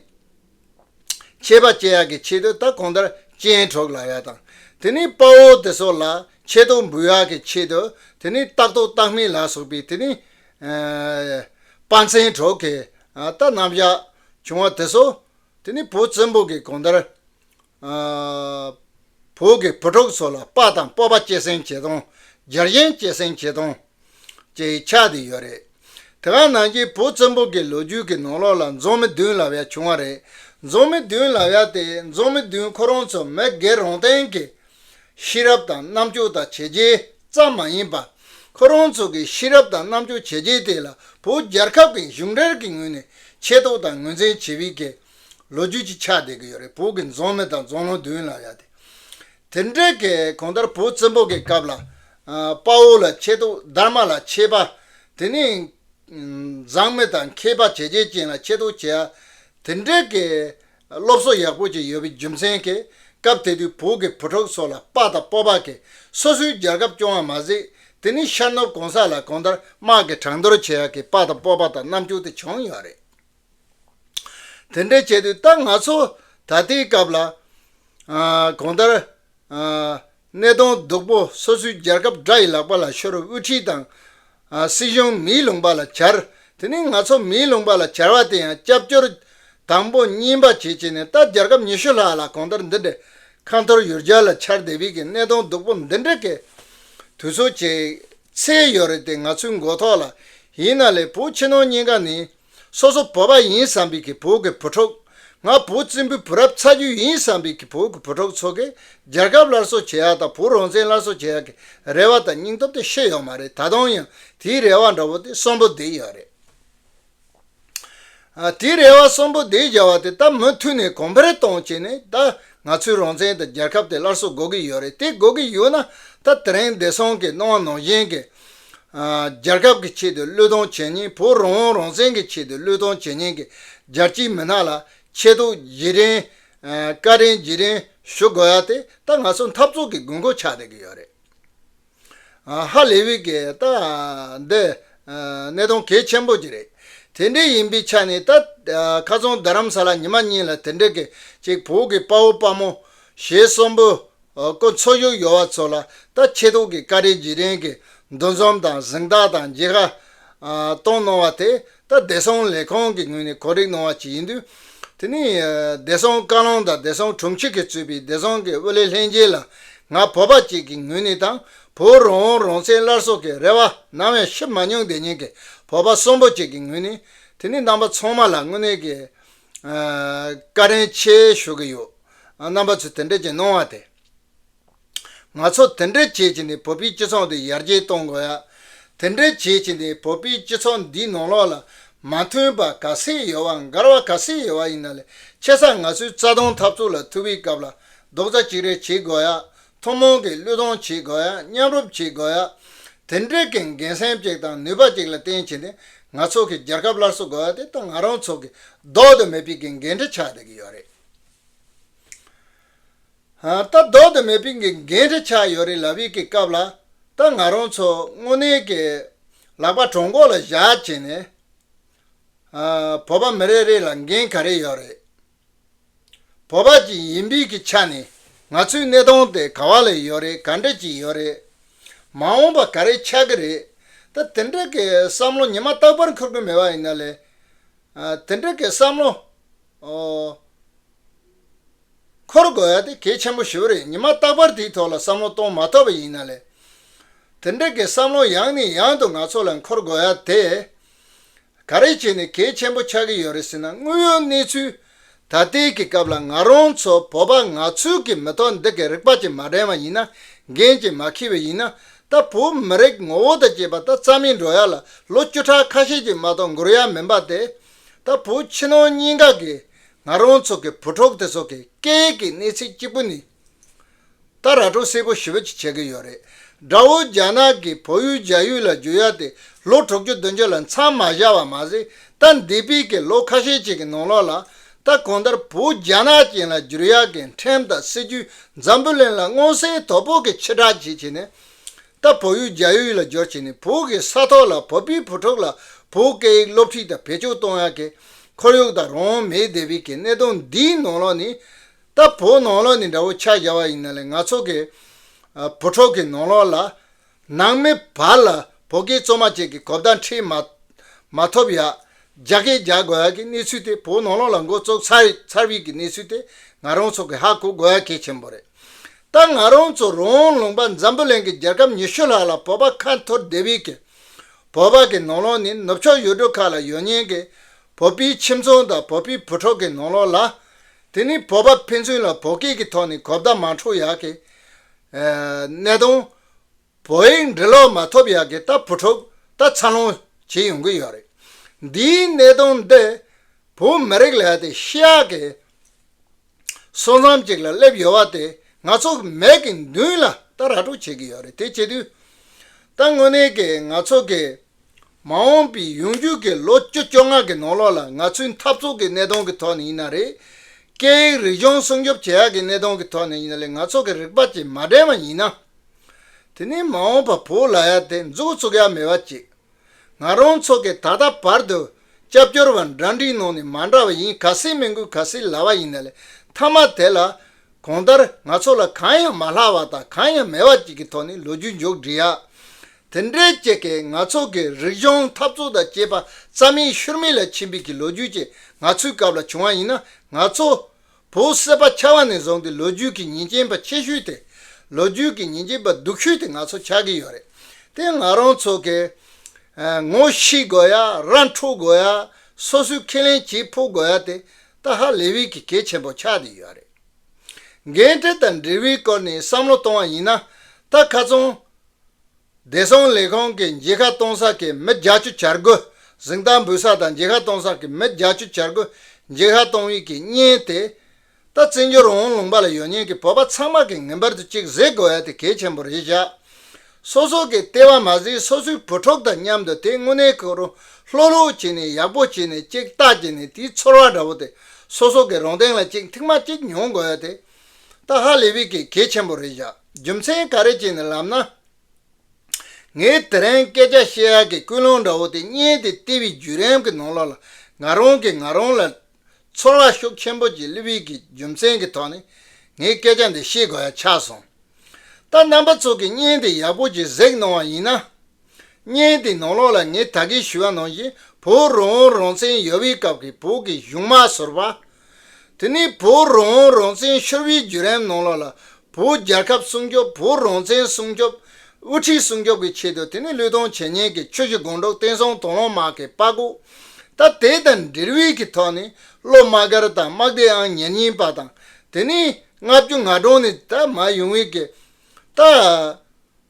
ཆད་པ་བཅད་ཡག་གི་ཆེད་དུ་ད་གོང་ལྟར་སྤྱན་དྲོག་ལག་ཡག་དང། དེ་ནས་དཔའ་བོ་དེ་སོགས་ལ་ཆད་གཏོང་འབུལ་ཡག་གི་ཆེད་དུ་དེ་ནས་རྟག་ཏུ་རྟག་མི་ལ་སོགས་པའི་དེ་ནས་དཔའ་མཚན་གྲོགས་གིས་ད་རྣམ་གཞག་བྱུང་བ་དེ་སོགས་དེ་ནས་བུ་བཙུན་པོ་གི་གོང་ལྟར་བོད་ཀྱི་བུ་ཕྲུག་ཚོ་ལ་དཔའ་དང་སྤོབས་པ་སྐྱེད་སྲིང་བྱེད་སྟངས་རྒྱལ་ཞེན་སྐྱེད་སྲིང་བྱེད་སྟངས་བཅས་ཡིག་ཆ་དེ་ཡོད་རེད། དེ་ག་ནང་བཞིན་བོད་བཙན་པོ་གི་ལོ་རྒྱུས་ཀྱི་ནང་ལོགས་ལ་འཛོམས་མི་བདུན་ལབ་ཡ་བྱུང་བ་རེད། འཛོམས་མི་བདུན་ལབ་ཡ་དེ་འཛོམས་མི་བདུན་ཁོ་རང་ཚོ་མི་སྒེར་རང་སྟེང་གི་ཤེས་རབ་དང་རྣམ་དཔྱོད་དང་བྱས་རྗེས་ཙམ་མ་ཡིན་པར། ཁོ་རང་ཚོ་གི་ཤེས་རབ་དང་རྣམ་དཔྱོད་བྱས་རྗེས་དེ་ལ་བོད་རྒྱལ་ཁབ་ཀྱི་གཞུང་འབྲེལ་གྱི་ངོས་ནས་ཆེ་མཐོ་དང་ངོས་འཛིན་བྱེད་པའི་གལ་ལོ་རྒྱུས་ཀྱི་ཆ་ལྡན་གྱི་ཡོད་རེད་བོད་ཀྱི་རྫོང་མི་དང་རྫོང་ལུང་བདུན་ལ་ཡ་དེ་དེ་འདྲའི་གི་གང་ལྟར་བོད་བཙན་པོ་གི་སྐབས་ལ་དཔའ་བོ་ལ་ཆེ་ཐོག་སྡར་མ་ལ་ཆེ་པ་དེ་ནས་མཛངས་མི་དང་མཁས་པ་བྱས་རྗེས་ཅན་ལ་ཆེ་ཐོག་བྱས་ཡ་དེ་འདྲའི་གི་སློབ་གསོ་ཡག་པོ་ཅིག་ཡོད་པའི་རྒྱུ་མཚན་གི་སྐབས་དེ་དུས་བོད་ཀྱི་བུ་ཕྲུག་སོགས་ལ་དཔའ་དང་སྤོབས་པ་གི་སོ་སོའི་རྒྱལ་ཁབ་སྐྱོང་བ་མ་ཟད་དེ་ནས་ཤར་ནུབ་གང་ས་ལ་གང་ལྟར་དམག་གི་གྲང་འདོར་བྱས་ཡ་གི་དཔའ་དང་སྤོབས་པ་དང་རྣམ་འགྱུར་དེ་བྱུང་ཡོད་རེད། དེ་འདྲ་བྱས་དུས་ད་ང་ཚོ་ད་ལྟའི་སྐབས་ལ། གོང་ལྟར། སྣེ་གདོང་སྡུག་པོ་སོ་སོའི་རྒྱལ་ཁབ་དགྲ་ཡི་ལག་པ་ལ་ཤོར་དབུ་ཁྲིད་དང། སྲིད་གཞུང་མིའི་ལུང་པ་ལ་གྱར། དེ་ནི་ང་ཚོ་མིའི་ལུང་པ་ལ་གྱར་བ་དེ་ཡང་སྐྱབས་བཅོལ་དང་པོ་གཉིས་པ་བྱེད་བྱེད་ནས་ད་རྒྱལ་ཁབ་ཉི་ཤུ་ལྷག་ལ་གོང་ལྟར་འདི་འདྲའི་ཁ་འཐོར་ཡུར་རྒྱལ་ལ་ཆར་འདེབས་ཡི་གེ་སྣེ་གདོང་སྡུག་པོ་འདི་འདྲ་གི་དུས་ཚོད་བྱེད་ཚད་ཡོད་རེད་དེ་ང་ཚོའི་མགོ་ཐོག་ལ་ཡིན་ན་ལས་བུ་ཁྱི་ནོར་གཉིས་ཀ་ནི། སོ་སོ་བོད་པ་ཡིན་བསམ་པའི་གི་བོད་ཀྱི་བུ་ཕྲུག། ང་བོད་བཙན་པོའི་བུ་རབས་ཚ་རྒྱུད་ཡིན་བསམ་པའི་གི་བོད་ཀྱི་བུ་ཕྲུག་ཚོ་གིས་རྒྱལ་ཁབ་སླར་གསོ་བྱེད་ཡག་དང་བོད་རང་བཙན་སླར་གསོ་བྱེད་ཡག་གི་རེ་བ་དང་སྙིང་སྟོབས་དེ་ཤི་ཡོད་མ་རེད་ད་དུང་ཡང་དེའི་རེ་བ་འདྲ་བོ་དེ་གསོན་པོ་བསྡད་ཡོད་རེད། དེའི་རེ་བ་གསོན་པོ་བསྡད་བཞག་བ་དེ་ད་མུ་མཐུད་ནས་གོང་འཕེལ་གཏོང་བྱས་ནས་ད་ང་ཚོའི་རང་བཙན་དང་རྒྱལ་ཁབ་དེ་སླར་གསོ་དགོས་གི་ཡོད་རེད་དེ་དགོས་གི་ཡོད་ན་ད་དེ་རིང་བདེ་སྲུང་གིས་གནང་བ་ནང་བཞིན་གྱི་རྒྱལ་ཁབ་ཀྱི་ཆེད་དུ་བློས་གཏོང་བྱེད་ཉིན་བོད་རང་དབང་རང་བཙན་གྱི་ཆེད་དུ་བློས་གཏོང་བྱེད་ཉིན་གྱི་རྒྱལ་སྤྱིའི་མི་སྣ་ལ་ཆེ་མཐོང་བརྗེ་རེན། བཀའ་དྲིན་རྗེས་དྲན་ཞུ་དགོས་ཡ་དེ་ད་ང་ཚོ་འཐབ་རྩོད་ཀྱི་དགོས་མཁོ་ཆགས་བསྡད་ཀྱི་ཡོད་རེད། ཧ་ལས་བི་ཀི་ད་འདི་གནད་དོན་གལ་ཆེན་པོ་གཅིག་རེད། དེ་འདྲའི་ཡིན་པའི་ཆ་ནས་ད་ཁ་རྩང་རྡ་རམ་ས་ལ་ཉི་མ་གཉིས་ལ་དེ་འདྲའི་གི་ཅིག་བོད་ཀྱི་དཔའ་བོ་དཔའ་མོ་ཞེ་གསུམ་པོ་སྐོར་འཚོ་བཞུགས་ཡོད་བ་ཚོ་ལ་ད་ཆེད་དུང་གི་ཀ་རེ་རྗེས་དྲན་གི་འདུ་འཛོམས་དང་གཟེངས་རྟགས་དང་རྗེས་ཁ་གཏོང་གནང་བ་དེ་ད་བདེ་སྲུང་ལས་ཁང་གི་ངོས་ནས་གོ་རིག་གནང་བ་ཞིག་ཡིན་དུས། དེ་ནི་བདེ་སྲུང་བཀའ་བློན་དང་བདེ་སྲུང་དྲུང་ཆེ་གིས་གཙོས་པའི་བདེ་སྲུང་གི་དབུ་ལས་ལྷན་རྒྱས་ལ་ང་བོད་པ་ཅིག་གི་ངོས་ནས་དང་བོའི་རང་དབང་རང་བཙན་སླར་གསོ་གི་རེ་བ་ནམ་ཡང་ཤི་མ་མྱོང་བདེ་སྙིང་གི་བོད་པ་གསོན་པོ་ཅིག་གི་ངོས་ནས་དེ་ནི་ནང་པ་ཚང་མ་ལ་དངོས་གནས་ཀྱི། ཀ་རན་ཆེ་ཞུ་གི་ཡོད། རྣམ་པ་ཚོས་དེ་འདྲ་བྱེད་གནང་བ་དེ། ང་ཚོ་དེ་འདྲ་བྱེད་ཀྱི་ནི་བོད་པའི་སྤྱི་ཚོགས་འདི་ཡར་རྒྱས་གཏོང་དགོས་ཡ། དེ་འདྲ་བྱེད་ཀྱི་ནི་བོད་པའི་སྤྱི་ཚོགས་འདིའི་ནང་ལོགས་ལ་མ་མཐུན་པ་ག་ཚད་ཡོད་བ་འགལ་བ་ག་ཚད་ཡོད་བ་ཡིན་ན་ལས་ཆེ་ས་ང་ཚོའི་རྩ་དོན་འཐབ་རྩོད་ལ་ཐུག་པའི་སྐབས་ལ་རྡོག་རྩ་གཅིག་རེ་བྱེད་དགོས་ཡ། ཐུན་མོང་གི་བློས་གཏོང་བྱེད་དགོས། མཉམ་རུབ་བྱེད་དགོས། དེ་འབྲེལ་གྱི་འགན་སེམས་གཅིག་དང་ནུས་པ་གཅིག་ལ་བརྟེན་བྱས་ཏེ་ང་ཚོ་གིས་རྒྱལ་ཁབ་སླར་གསོ་དགོས་པ་དེ་ད་ང་རང་ཚོ་གིས་ལྡོག་ཏུ་མེད་པའི་གི་འགན་འཁྲི་ཆགས་བསྡད་ཀྱི་ཡོད་རེད། ད་ལྡོག་ཏུ་མེད་པའི་གི་འགན་འཁྲི་ཆགས་ཡོད་རེད་ལབ་ཡོད་ཀྱི་སྐབས་ལ་ད་ང་རང་ཚོ་དངོས་གནས་ཀྱི་ལག་པ་གྲོག་མགོ་ལ་བཞག་བྱས་ནས་བོད་པ་མི་རེ་རེ་ལ་འགན་ག་རེ་ཡོད་རེད། བོད་པ་ཅིག་ཡིན་པའི་གི་ཆ་ནས་ང་ཚོའི་གནས་སྟངས་དེ་ག་བ་ལ་ཡོད་རེད་ག་འདྲ་ཅིག་ཡོད་རེད། མ་འོངས་པ་ག་རེ་ཆགས་གི་རེད། ད་དེ་འདྲ་གི་བསམ་བློ་ཉི་མ་རྟག་པར་འཁོར་གི་མེད་པ་ཡིན་ན་ལས། དེ་འདྲ་གི་བསམ་བློ་འཁོར་དགོས་ཡ་དེ་གལ་ཆེན་པོ་ཞིག་རེད་ཉི་མ་རྟག་པར་དེའི་ཐོག་ལ་བསམ་བློ་གཏོང་མ་ཐོབ་པ་ཡིན་ན་ལས། དེ་འདྲ་གི་བསམ་བློ་ཡང་ནས་ཡང་དུ་ང་ཚོ་ལ་འཁོར་དགོས་ཡ་དེ། ག་རེ་བྱས་ནས་གལ་ཆེན་པོ་ཆགས་ཀྱི་ཡོད་རེད་ཟེར་ན་དངོས་ཡོད་གནས་ཚུལ་ད་ལྟའི་གི་སྐབས་ལ་ང་རང་ཚོ་བོད་པ་ནག་ཚུལ་གྱི་མི་ཐོག་འདི་གི་རིག་པ་གྱི་མ་དྲན་བ་ཡིན་ན་འགན་གྱི་མ་ཁེལ་བའི་ཡིན་ན་ད་བོད་མི་རིགས་ངོ་བོ་དང་བཅས་པ་ད་རྩ་མེད་འགྲོ་ཡ་ལ་ལོ་བཅུ་ཕྲག་ཁ་ཤས་ཀྱི་མ་གཏོགས་འགོར་ཡ་མིན་པ་དེ་ད་བོད་ཕྱི་ནང་གཉིས་ཀ་གི་ང་རང་ཚོ་གི་བུ་ཕྲུག་དེ་ཚོ་གི་སྐད་ཀྱི་གནས་ཚིག་གཅིག་པུ་ནི། ད་ར་གྲོ་སེར་པོ་ཞི་བ་ཅིག་བྱེད་ཀྱི་ཡོད་རེད། དགྲ་བོ་རྒྱ་ནག་གིས་བོད་ཡུལ་རྒྱ་ཡུལ་ལ་འཇུ་ཡག་དེ་ལོ་དྲུག་ཅུ་བདུན་ཅུ་ལ་མཚམས་མ་བཞག་བ་མ་ཟད་ད་འདི་དཔེ་ཀྱི་ལོ་ཁ་ཤས་ཅིག་གི་ནང་ལོགས་ལ། ད་གང་ལྟར་བོད་རྒྱ་ནག་ཅན་ལ་འཇུར་ཡག་གི་འཕྲེང་དང་སྲིད་ཇུས་འཛམ་བུ་གླིང་ལ་མངོན་གསལ་དོད་པོ་གི་ཕྱི་བསྒྲགས་བྱེད་བྱེད་ནས། ད་བོད་ཡུལ་རྒྱ་ཡུལ་ལ་འཇོར་བྱེད་ནས་བོད་ཀྱི་ས་ཐོག་ལ་བོད་པའི་བུ་ཕྲུག་ལ་བོད་སྐད་ཡིག་སློབ་ཁྲིད་དང་བེད་སྤྱོད་གཏོང་ཡག་གི་ཁོར་ཡུག་དང་རང་མེད་སྡེ་བའི་གི་གནད་དོན་འདིའི་ནང་ལོགས་ནས། ད་བོའི་ནང་ལོགས་ནི་འདྲ་བོ་ཆ་བཞག་པ་ཡིན་ན་ལས་ང་ཚོ་གི་བུ་ཕྲུག་གི་ནང་ལོགས་ལ་ནང་མི་བར་ལ་བོད་སྐད་བཙོ་མ་བཅས་ཀྱི་གོ་བརྡ་འཕྲིད་མ་མ་ཐོབ་ཡ། རྒྱ་སྐད་རྒྱག་དགོས་ཡ་ཀྱི་གནས་ཚུལ་དེ་བོའི་ནང་ལོགས་ལ་མགོ་བཙུགས་ཚར་རེད་ཚར་བིས་ཀྱི་གནས་ཚུལ་དེ་ང་རང་ཚོ་གི་ཧ་གོ་དགོས་ཡ་གལ་ཆེན་པོ་རེད། ད་ང་རང་ཚོ་རོང་ལུང་པ་འཛམ་བུ་གླིང་གི་རྒྱལ་ཁབ་ཉི་ཤུ་ལྷག་ལ་བོད་པ་ཁ་འཐོར་བསྡད་བིས་ཀྱི་བོད་པ་གི་ནང་ལོགས་ནི་ནུབ་ཕྱོགས་ཡུལ་གྲུ་ཁག་ལ་ཡོད་ཉེན་གྱི་བོད་པིའི་ཁྱིམ་ཚང་དང་བོད་པིའི་བུ་ཕྲུག་གི་ནང་ལོགས་ལ་དེ་ནི་བོད་པ་ཕན་ཚུན་ལ་བོད་སྐད་ཀྱི་ཐོག་ནས་གོ་བརྡ་མ་འཕྲོད་ཡག་གི་གནས་དང། བོད་ཡིག་འབྲི་ཀློག་མ་ཐུབ་ཡག་གི་ལྟ་བུ་འཁྲུག་ལྟ་འཚར་ལོངས་བྱེད་ཡོང་གི་ཡོད་རེད། འདིའི་གནད་དོན་འདི་བོད་མི་རིགས་ལས་དེ་ཤི་ཡག་གི་སོ་མཚམས་ཅིག་ལ་སླེབས་ཡོད་བ་དེ་ང་ཚོ་གི་མེད་ཀྱི་མདུན་ལ་ལྟ་ར་སྤྲོད་བྱེད་ཀྱི་ཡོད་རེད་དེ་བྱེད་དུས་ད་དངོས་གནས་ཀྱི་ང་ཚོ་གི་མ་འོངས་པའི་ཡོང་རྒྱུས་ཀྱི་ལོ་བཅུ་བཅོ་ལྔ་གི་ནང་ལོགས་ལ་ང་ཚོའི་འཐབ་རྩོད་ཀྱི་གནས་སྟངས་ཀྱི་ཐོག་ནས་ཡིན་ན་རེད། སྐད་ཡིག་རིག་གཞུང་སྲུང་སྐྱོབ་བྱེད་ཡག་གི་གནས་སྟངས་ཀྱི་ཐོག་ནས་ཡིན་ན་ལས་ང་ཚོ་གི་རིག་པ་གཅིག་མ་འདྲེས་མ་ཡིན་ན། དེ་ནི་མ་འོངས་པར་བོད་ལ་ཡ་དེ་མཛུག་བཙུག་ཡ་མེད་པ་གཅིག་ང་རང་ཚོ་གི་ད་ལྟ་བར་དུ་སྐྱབས་བཅོལ་བ་འདྲ་འདྲིའི་ནང་ནས་མ་འདྲ་བ་ཡིན་ག་སྲིད་མི་འགུལ་ག་སྲིད་ལ་བ་ཡིན་ན་ལས་མཐའ་མ་དེ་ལ། གང་ལྟར་ང་ཚོ་ལ་གང་ཡང་མ་ལྷག་བ་དང་གང་ཡང་མེད་པ་གཅིག་གི་ཐོག་ནས་ལོ་རྒྱུས་མཇུག་སྒྲིལ་ཡག་དེ་འདྲའི་སྐྱེད་ཀས་ང་ཚོ་གི་རིག་གཞུང་འཐབ་རྩོད་དང་བཅས་པ་རྩ་མེད་ཤུར་མེད་ལ་ཕྱིན་པའི་གི་ལོ་རྒྱུས་ཅིག་ང་ཚོའི་སྐབས་ལ་བྱུང་བ་ཡིན་ན་ང་ཚོ། བོུ་བསད་པ་ཆགས་བ་ནས་བཟུང་སྟེ་ལོ་རྒྱུས་ཀྱི་ཉིན་རྐྱེན་པ་ཆེ་ཤོས་དེ། ལོ་རྒྱུས་ཀྱི་ཉིན་རྐྱེན་པ་སྡུག་ཤོས་དེ་ང་ཚོ་ཆགས་ཀྱི་ཡོད་རེད། དེ་ང་རང་ཚོ་གི། ངོ་ཤེས་དགོས་ཡ་ར་འཕྲོད་དགོས་ཡ། སོ་སོའི་ཁས་ལེན་བྱེད་ཕོད་དགོས་ཡ་དེ་ད་ཧ་ལས་བས་གི་གལ་ཆེན་པོ་ཆགས་དེ་ཡོད་རེད། འགན་འཁྲི་དང་འབྲེལ་བའི་སྐོར་ནས་བསམ་བློ་གཏོང་བ་ཡིན་ན། ད་ཁ་ཚོན། བདེ་སྲུང་ལས་ཁུངས་ཀྱིས་མཇལ་ཁ་གཏོང་ས་ཀྱི་མི་རྒྱ་ཆུ་བྱ་རྒོད་གཟིགས་སྟངས་འབུལ་ས་དང་མཇལ་ཁ་གཏོང་ས་ཀྱི་མི་རྒྱ་ཆུ་བྱ་རྒོད་མཇལ་ཁ་གཏོང་དབྱིག་གི་བརྙན་དེ། རྟ་རྩེ་འགྱུར་འོང་ལུང་པ་ལ་ཡོད་མཉན་གྱི་བོད་པ་ཚང་མ་གིས་ངེས་པར་དུ་གཅིག་གཟིགས་དགོས་ཡ་དེ་གལ་ཆེན་པོ་རེད་བཞག་སོ་སོ་གི་ལྟེ་བ་མ་གཟིགས་སོ་སོའི་བུ་ཕྲུག་དང་མཉམ་དུ་དེ་དངོས་གནས་ཁོ་རུ་ལྷོད་ལྷོད་བྱས་ནས་ཡག་པོ་བྱས་ནས་གཅིག་བལྟ་བྱས་ནས་དེའི་ཚོར་བ་འདྲ་བོ་དེ་སོ་སོ་གི་རོང་སྟེང་ལ་གཅིག་མཐིང་མ་གཅིག་མྱོང་དགོས་ཡ་དེ་ཏཱ་ཧ་ལེ་བི་ཀི་གལ་ཆེན་པོ་རེད་བཞག་རྒྱུ་མཚན་ག་རེ་བྱས་ནས་ལབ་ན། ངས་དེ་རིང་སྐད་ཆ་བཤད་ཡག་གི་ཀུན་སློང་འདྲ་བོ་དེ་བརྙེད་དེ་ལྟེ་བའི་བརྒྱུད་རིམ་གྱི་ནང་ལོགས་ལ་ང་རང་གིས་ང་རང་ལ་ཚོར་བ་ཤུགས་ཆེན་པོ་གྱི་ལི་བི་ཀི་རྒྱུ་མཚན་གྱི་ཐོག་ནས་ངས་སྐད་ཆ་འདི་བཤད་དགོས་ཡ་ཆགས་སོང། ད་རྣམ་པ་ཚོ་གིས་བརྙན་དེ་ཡག་པོ་གྱིས་གཟིགས་གནང་བ་ཡིན་ན། བརྙན་དེ་ནང་ལོགས་ལ་ངས་ད་གིན་ཞུ་བ་ནང་བཞིན་བོད་རང་དབང་རང་བཙན་ཡོལ་བའི་སྐབས་ཀྱི་བོད་ཀྱི་གཞུང་མ་ཟུར་བ། དེ་ནས་བོད་རང་དབང་རང་བཙན་ཤོར་བའི་བརྒྱུད་རིམ་ནང་ལོགས་ལ་བོད་རྒྱལ་ཁབ་སྲུང་སྐྱོབ་བོད་རང་བཙན་སྲུང་སྐྱོབ། དབུ་ཁྲིད་སྲུང་སྐྱོབ་ཀྱི་ཆེད་དུ་དེ་ནས་ལུས་དང་བྱས་ཉེས་ཀྱི་ཆོས་བཞི་དགོངས་གྲོགས་བསྟན་སྲུང་དང་ལོང་དམག་གི་དཔའ་སྒུག། ད་དེ་དང་འབྲེལ་དབུས་ཀྱི་ཐོག་ནས་ལོ་དམག་སྒར་དང་དམག་སྡེ་ཨང་ཉེར་གཉིས་པ་དང་དེ་ནས་ལྔ་བཅུ་ང་གྲངས་ནས་ད་མ་ཡུང་བའི་ཀྱི་ད།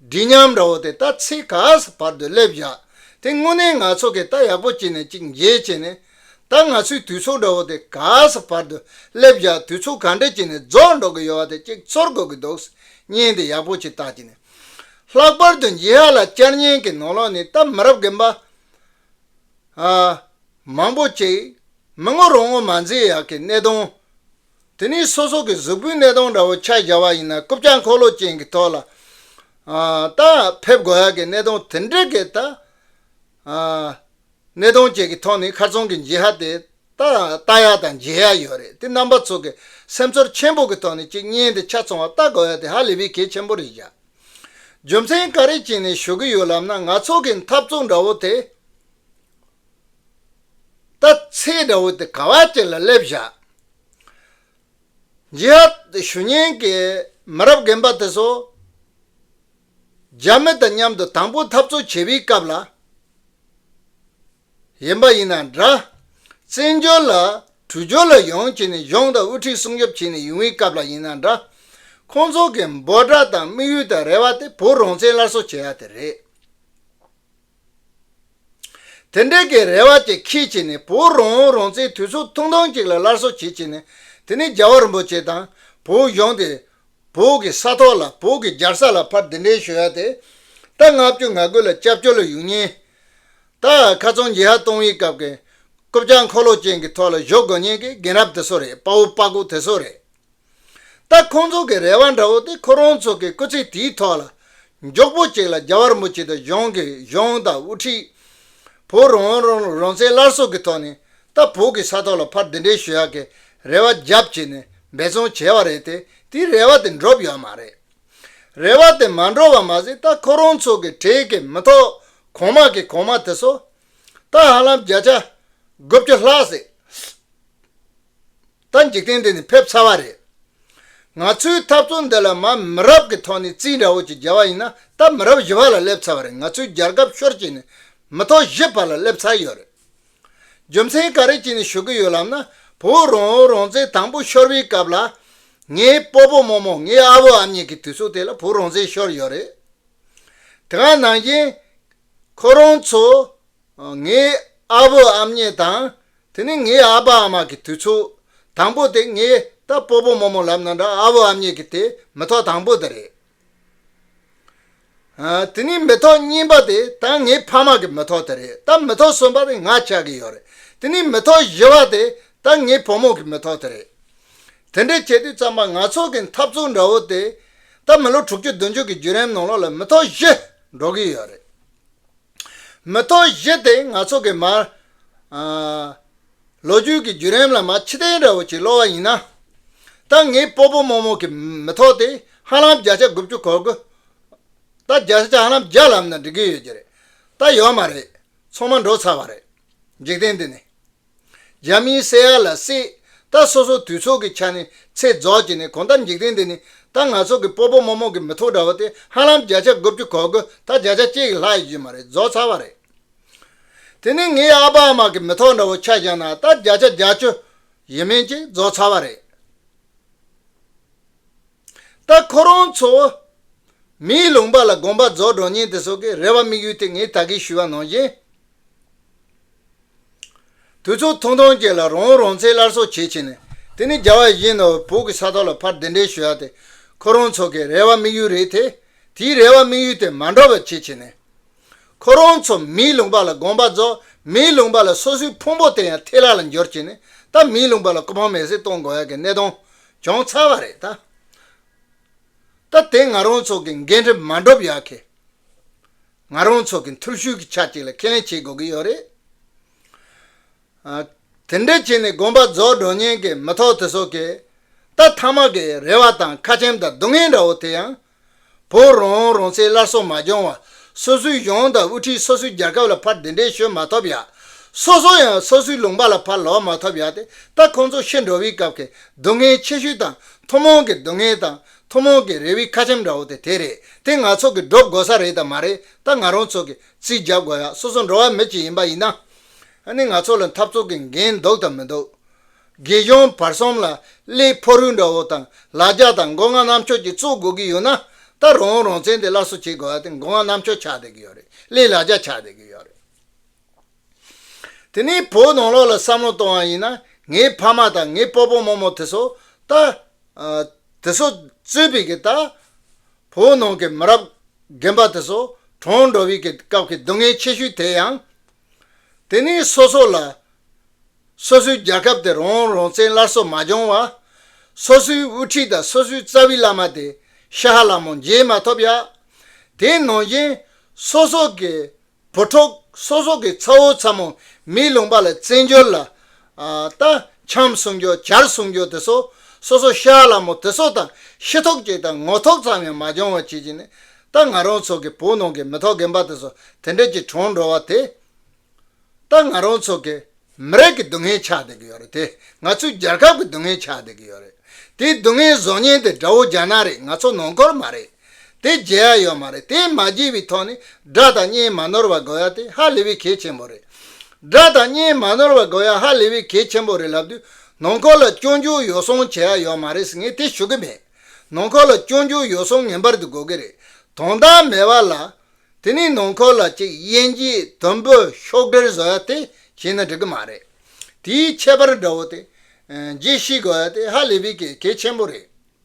འདི་སྙམ་ར་བོ་དེ་ལྟ་ཚེ་ག་ས་བར་དུ་སླེབས་བཞག་དེ་དངོས་གནས་ང་ཚོ་གི་ལྟ་ཡག་པོ་བྱེད་ནས་ཅིག་འཇལ་བྱེད་ནས་ད་ང་ཚོའི་དུས་ཚོགས་འདྲ་བོ་དེ་ག་ས་བར་དུ་སླེབས་བཞག་དུས་ཚོགས་ག་འདྲ་བྱེད་ནས་རྫོགས་འགྲོ་གི་ཡོད་བ་དེ་ཅིག་ཚོར་དགོས་ཀྱི་འདུག་བརྙན་དེ་ཡག་པོ་ཅིག་བཏགས་བྱེད་ནས་ལྷག་པར་དུ་འཇིགས་ཧ་ལ་བཅར་བརྙན་གྱི་ནོར་ལོག་ནི་ལྟ་མི་རབས་རྒན་པ་མང་པོ་ཅིག་མི་ངོ་རུ་ངོ་མ་འཛིན་ཡག་གི་གནད་དོན། དེ་ནི་སོ་སོ་གི་གཟུགས་པོའི་གནས་སྟོང་འདྲ་བོ་ཕྱག་བཞག་པ་ཡིན་ན་རྐུབ་བཀྱག་འཁོར་ལོ་ཅན་གྱི་ཐོག་ལ་ལྟ། ཕེབས་དགོས་ཡག་གི་གནས་སྟོང་དེ་འདྲའི་གེ་ལྟ། གནས་སྟོང་བཅས་ཀྱི་ཐོག་ནི་ཁར་ཚོང་གི་འཇིགས་ཧ་དེ་ལྟ་ཡག་དང་འཇལ་ཡག་ཡོད་རེད་དེ་རྣམ་པ་ཚོ་གི་སེམས་ཚོར་ཆེན་པོ་གི་ཐོག་ནས་གཅིག་གཉེན་དེ་ཆ་ཚོང་བ་ལྟ་དགོས་ཡག་དེ་ཧ་ལས་པའི་གེ་ཆེན་པོ་རེད་བཞག་རྒྱུ་མཚན་ག་རེ་བྱས་ནས་ཞུ་གི་ཡོད་ལབ་ན་ང་ཚོ་གི་འཐབ་རྩོད་འདྲ་བོ་དེ། ད་ཚེས་དགྲ་བོ་དེ་ག་བ་ཅན་ལ་སླེབས་བཞག། Jihad། ཞུ་སྙན་གྱི་མི་རབས་རྒན་པ་དེ་ཚོ་རྒྱ་མི་དང་མཉམ་དུ་དང་པོ་འཐབ་རྩོད་བྱེད་པའི་སྐབས་ལ་ཡིན་པ་ཡིན་ན་འདྲ། བཙན་བྱོལ་ལ་དྲུག་བྱོལ་ལ་ཡོང་བྱས་ནས་གཞུང་དང་དབུ་ཁྲིད་སྲུང་སྐྱོབ་བྱས་ནས་ཡོང་བའི་སྐབས་ལ་ཡིན་ན་འདྲ། ཁོང་ཚོ་གི་འབོད་སྒྲ་དང་དམིགས་ཡུལ་དང་རེ་བ་དེ་བོད་རང་བཙན་སླར་གསོ་བྱེད་ཡག་དེ་རེད། དེ་འབྲེལ་གྱི་རེ་བ་དེ་ཁྱེད་ཀྱིས་ནི་བོད་རང་དབང་རང་བཙན་དུས་ཚོད་ཐུང་ཐུང་ཅིག་ལ་སླར་གསོ་བྱེད་ཀྱི་ནི་དེ་ནི་རྒྱ་བ་རིན་པོ་ཆེ་དང་བོད་གཞུང་དེ་བོད་ཀྱི་ས་ཐོག་ལ་བོད་ཀྱི་རྒྱལ་ས་ལ་ཕར་འདི་འདྲའི་ཞུ་ཡ་དེ་ད་ང་བསྐྱོད་ང་དགོས་ལ་སྐྱབས་བཅོལ་ལ་ཡུན་ཉེན་ད་ཁ་ཚོན་འགྱེད་ཧ་གཏོང་བའི་སྐབས་ཀྱི་རྐུབ་བཀྱག་འཁོར་ལོ་ཅན་གྱི་ཐོག་ལ་བཞོ་དགོས་ཉེན་གྱི་རྒན་རབས་དེ་ཚོ་རེད་དཔའ་བོ་དཔའ་ཁུག་དེ་ཚོ་རེད། ད་ཁོང་ཚོ་གི་རེ་བ་འདྲ་བོ་དེ་ཁོ་རང་ཚོ་གི་སྐུ་ཚེ་དེའི་ཐོག་ལ་མགྱོགས་པོ་གཅིག་ལ་རྒྱ་བར་མུ་གཅིག་ཏུ་གཞུང་གི་གཞུང་དང་དབུ་ཁྲིད། བོད་རང་དབང་རང་ལུགས་རང་བཙན་སླར་གསོ་གི་ཐོག་ནས་ད་བོད་ཀྱི་ས་ཐོག་ལ་ཕར་འདི་འདྲའི་ཞུ་ཡག་གི་རེ་བ་རྒྱབ་བྱེད་ནས་འབད་བརྩོན་བྱས་བ་རེད་དེ་དེའི་རེ་བ་དེ་འགྲུབ་ཡོད་མ་རེད། རེ་བ་དེ་མ་འགྲུབ་བ་མ་ཟད་ད་ཁོ་རང་ཚོ་གི་གྲས་ཀྱི་མི་ཐོག་གོང་མ་གི་གོང་མ་དེ་ཚོ་ད་ཧ་ལམ་བརྒྱ་ཆ་དགུ་བཅུ་ལྷག་ཟིག་ད་འཇིག་རྟེན་འདི་ནས་ཕེབས་ཚར་བ་རེད། ང་ཚོའི་འཐབ་རྩོད་འདི་ལ་མ་མི་རབས་ཀྱི་ཐོག་ནས་རྩིས་འདྲ་བོ་ཅིག་རྒྱལ་བ་ཡིན་ན་ད་མི་རབས་བཞི་བ་ལ་སླེབས་ཚར་བ་རེད་ང་ཚོའི་རྒྱལ་ཁབ་ཤོར་རྗེས་ནས་མི་ཐོག་བཞི་བར་ལ་སླེབས་ཚར་ཡོད་རེད། རྒྱུ་མཚན་ག་རེ་ཅིག་ནས་ཞུ་གི་ཡོད་ལབ་ན་བོད་རང་དབང་རང་བཙན་དང་པོ་ཤོར་བའི་སྐབས་ལ། ངའི་སྤོ་པོ་རྨོ་རྨོ་ངའི་ཨ་བུ་ཨ་མྱེས་ཀྱི་དུས་ཚོད་དེ་ལ་བོད་རང་བཙན་ཤོར་ཡོད་རེད། དེ་ག་ནང་བཞིན། ཁོ་རང་ཚོ་ངའི་ཨ་བུ་ཨམ་གཉིས་དང་དེ་ནི་ངའི་ཨ་ཕ་ཨ་མ་གི་དུས་ཚོད་དང་པོ་དེ་ངས་ད་སྤོ་སྤོ་མོ་མོ་ལབ་ན་འདྲ་ཨ་བུ་ཨམ་གཉིས་ཀྱི་དེ་མི་ཐོག་དང་པོ་དེ་རེད། དེ་ནི་མི་ཐོག་གཉིས་པ་དེ་ད་ངའི་ཕ་མ་གི་མི་ཐོག་དེ་རེད་ད་མི་ཐོག་གསུམ་པ་དེ་ང་ཆགས་ཀྱི་ཡོད་རེད་དེ་ནི་མི་ཐོག་བཞི་བ་དེ་ད་ངའི་བུ་མོ་གི་མི་ཐོག་དེ་རེད། དེ་འདྲས་བྱས་དུས་ཙམ་པ་ང་ཚོ་གི་འཐབ་རྩོད་འདྲ་བོ་དེ་ད་མི་ལོ་དྲུག་ཅུ་བདུན་ཅུ་གི་བརྒྱུད་རིམ་ནང་ལོགས་ལ་མི་ཐོག་བཞི་འགྲོ་གི་ཡོད་རེད། མི་ཐོག་བཞི་སྟེ་ནག་ཚོགས་ཀྱི་མར། ལོ་རྒྱུས་ཀྱི་བརྒྱུད་རིམ་ལ་མ་ཕྱི་གཏན་ར་བོ་ཆེ་སློ་བ་ཡིན་ན། ད་ངའི་སྤོ་སྤོ་རྨོ་རྨོ་གི་མི་ཐོག་དེ་ཧ་ལམ་བརྒྱ་ཆ་དགུ་བཅུ་གོ་དགུ། ད་བརྒྱ་ཆ་ཧ་ལམ་བརྒྱ་ལམ་ན་འགྲིག་གི་ཡོད་ཀྱི་རེད། ད་ཡོད་མ་རེད། ཚོང་མ་འགྲོ་ཚར་བ་རེད། འཇིག་རྟེན་འདི་ནི། རྒྱ་མིའི་བསད་ཡ་ལ་སྲིད། ད་སོ་སོ་དུས་ཚོད་ཀྱི་ཆ་ནས་ཚེ་རྫོགས་ཀྱི་ནས་གོང་ད་འཇིག་རྟེན་འདི་ནི་ད་ང་ཚོ་གི་སྤོ་སྤོ་མོ་མོ་གི་མི་ཐོག་འདྲ་བོ་སྟེ་ཧ་ལམ་བརྒྱ་ཆ་དགུ་བཅུ་གོ་དགུ་ད་བརྒྱ་ཆ་གཅིག་གི་ལྷག་ཡོད་ཀྱི་མ་རེད་རྫོགས་ཚར་བ་རེད། དེ་ནི་ངའི་ཨ་ཕ་ཨ་མ་གི་མི་ཐོག་འདྲ་བོ་ཆ་བཞག་ན་ད་བརྒྱ་ཆ་བརྒྱ་བཅུ་ཡིན་མིན་གྱི་རྫོགས་ཚར་བ་རེད། ད་ཁོ་རང་ཚོ། མིའི་ལུང་པ་ལ་དགོངས་པ་རྫོགས་འགྲོ་ཉིན་དེ་སོགས་ཀྱི་རེ་བ་དམིགས་ཡུལ་དེ་ངས་ད་གིན་ཞུས་བ་ནང་བཞིན། དུས་ཚོད་ཐུང་ཐུང་ཅིག་ལ་རང་རང་ཚེ་སླར་གསོ་བྱེད་ཕྱིན་ནས་དེ་ནི་རྒྱ་བ་བཞིན་ནོ་བོ་གི་ས་ཐོག་ལ་ཕར་གདན་འདྲེན་ཞུ་ཡག་དེ་ཁོ་རང་ཚོ་གི་རེ་བ་དམིགས་ཡུལ་རེད་དེ། དེའི་རེ་བ་དམིགས་ཡུལ་དེ་མ་འགྲོ་བར་བྱེད་ཕྱིན་ནས། ཁོ་རང་ཚོ་མིའི་ལུང་པ་ལ་དགོངས་པ་རྫོགས་མིའི་ལུང་པ་ལ་སོ་སོའི་ཕུང་པོ་དེ་ཡང་ཐེ་ལག་ལ་འབྱོར་ཕྱིན་ནས་ད་མིའི་ལུང་པ་ལ་ཀུ་ཕང་མེར་སྲེག་གཏོང་དགོས་ཡག་གི་གནས་སྟངས་བྱུང་ཚར་བ་རེད་ད། ད་དེ་ང་རང་ཚོ་གི་འགན་འཁྲི་མ་འགྲུབ་ཡག་གི། ང་རང་ཚོ་གི་འཐུར་ཤུལ་གྱི་ཆ་གཅིག་ལ་ཁས་ལེན་བྱེད་དགོས་ཀྱི་ཡོད་རེད། དེ་འདྲ་བྱས་ནས་དགོན་པ་རྫོགས་འགྲོ་ཉེན་གྱི་མི་ཐོག་དེ་ཚོ་གིས་ད་ཐ་མག་གི་རེ་བ་དང་ཁ་ཆེམས་དང་སྡུག་བསྔལ་འདྲ་བོ་དེ་ཡང་བོད་རང་དབང་རང་བཙན་སླར་གསོ་མ་བྱུང་བར་སོ་སོའི་གཞུང་དང་དབུ་ཁྲིད་སོ་སོའི་རྒྱལ་ཁབ་ལ་ཕར་འདི་འདྲའི་ཤོད་མ་ཐོབ་ཡ། སོ་སོ་ཡང་སོ་སོའི་ལུང་པ་ལ་ཕར་ལོག་མ་ཐོབ་ཡ་དེ་ལྟ་ཁོང་ཚོ་ཤི་འགྲོ་བའི་སྐབས་ཀྱི་སྡུག་བསྔལ་ཆེ་ཤོས་དང་ཐུན་མོང་གི་སྡུག་བསྔལ་དང་ཐུན་མོང་གི་རེ་བའི་ཁ་ཆེམས་འདྲ་བོ་དེ་དེ་རེད་དེ་ང་ཚོ་གིས་སྒྲུབ་དགོས་ས་རེད་དམ་མ་རེད་ད་ང་རང་ཚོ་གིས་རྩིས་རྒྱབ་དགོས་ཡ་སོ་སོ་འགྲོ་བ་མི་གཅིག་ཡིན་པ་ཡིན་ན། ནི་ང་ཚོ་ལ་འཐབ་རྩོད་ཀྱི་འགན་འདུག་དམ་མི་འདུག། དགེ་སྦྱོང་བར་གསུམ་ལ་གླེ་ཕོ་རུལ་འདྲ་བོ་དང་ལ་རྒྱ་དང་མགོ་རྔ་གནམ་ཆོས་ཀྱི་གཙོ་དགོས་ཀྱི་ཡོད་ན་ད་རང་བོ་རང་བཙན་དེ་སླར་གསོ་བྱེད་དགོས་བ་དེ་མགོ་རྔ་གནམ་ཆོས་ཆགས་བསྡད་ཀྱི་ཡོད་རེད་གླེ་ལ་རྒྱ་ཆགས་བསྡད་ཀྱི་ཡོད་རེད། དེ་ནས་བོད་ནང་ལོག་ལ་བསམ་བློ་གཏོང་བ་ཡིན་ན་ངའི་ཕ་མ་དང་ངའི་སྤོ་སྤོ་རྨོ་རྨོ་དེ་སོ་ད་དེ་སོ་རྩོད་པི་གི་ད་བོད་ནང་གི་མི་རབས་རྒན་པ་དེ་སོ་གྲོངས་འགྲོ་བི་གི་སྐབས་ཀྱི་སྡུག་བསྔལ་ཆེ་ཤོས་དེ་ཡང། དེ་ནི་སོ་སོ་ལ། སོ་སོའི་རྒྱལ་ཁབ་དེ་རོང་རོང་བཙན་སླར་གསོ་མ་བྱུང་བར། སོ་སོའི་དབུ་ཁྲིད་དང་སོ་སོའི་རྩ་བའི་བླ་མ་དེ་ཤ་ཧ་ལ་མོ་མཇལ་མ་ཐོབ་ཡ། དེའི་ནང་བཞིན་སོ་སོ་གི་བུ་ཕྲུག་སོ་སོ་གི་ཚ་བོ་ཚ་མོ་མིའི་ལུང་པ་ལ་བཙན་བྱོལ་ལ་ལྟ། བྱམས་སྲུང་རྒྱུ་གར་སྲུང་རྒྱུ་དེ་སོ་སོ་སོ་ཤ་ལ་མོ་དེ་སོ་དང་ཤི་ཐོག་གཅིག་དང་ངོ་ཐོག་ཙམ་ཡང་མ་སྦྱོང་བར་བྱེད་ཀྱི་ནི་ལྟ་ང་རང་ཚོ་གི་བུ་ནང་གི་མི་ཐོག་རྒན་པ་དེ་སོ་དེ་འདྲས་ཀྱི་གྲོང་འགྲོ་བ་དེ་ལྟ་ང་རང་ཚོ་གི་མི་རིགས་ཀྱི་སྡུག་བསྔལ་ཆགས་བསྡད་ཀྱི་ཡོད་རེད་དེ་ང་ཚོའི་རྒྱལ་ཁབ་ཀྱི་སྡུག་བསྔལ་ཆགས་བསྡད་ཀྱི་ཡོད་རེད་དེའི་སྡུག་བསྔལ་བཟོ་ཉེན་དེ་དགྲ་བོ་རྒྱ་ནག་རེད་ང་ཚོ་ནང་འཁོར་མ་རེད། དེ་བརྗེ་ཡག་ཡོད་མ་རེད་དེ་མ་བརྗེ་བའི་ཐོག་ནས་དགྲ་དང་གཉེན་མ་ནོར་བ་དགོས་ཡག་དེ་ཧ་ལས་བའི་གལ་ཆེན་པོ་རེད། དགྲ་དང་གཉེན་མ་ནོར་བ་དགོས་ཡག་ཧ་ལས་བའི་གལ་ཆེན་པོ་རེད་ལབ་དུས་ནང་འཁོར་ལ་སྐྱོན་འགྱུར་ཡོ་སོང་བྱེད་ཡག་ཡོད་མ་རེད་ངས་དེ་ཞུ་གི་མེད། ནང་འཁོར་ལ་སྐྱོན་འགྱུར་ཡོ་སོང་ངེས་པར་དུ་དགོས་ཀྱི་རེད། དོན་དག་མེད་པ་ལ། དེ་ནས་ནང་འཁོར་ལ་ཅིག་དབྱེན་གྱིས་དུམ་བུ་ཤོག་དྲིལ་བཟོ་ཡག་དེ་བྱས་ན་འགྲིག་གི་མ་རེད། དེའི་ཁྱད་པར་དགྲ་བོ་དེ། རྗེས་ཤེས་དགོས་ཡག་དེ་ཧ་ལས་བའི་གལ་ཆེན་པོ་རེད།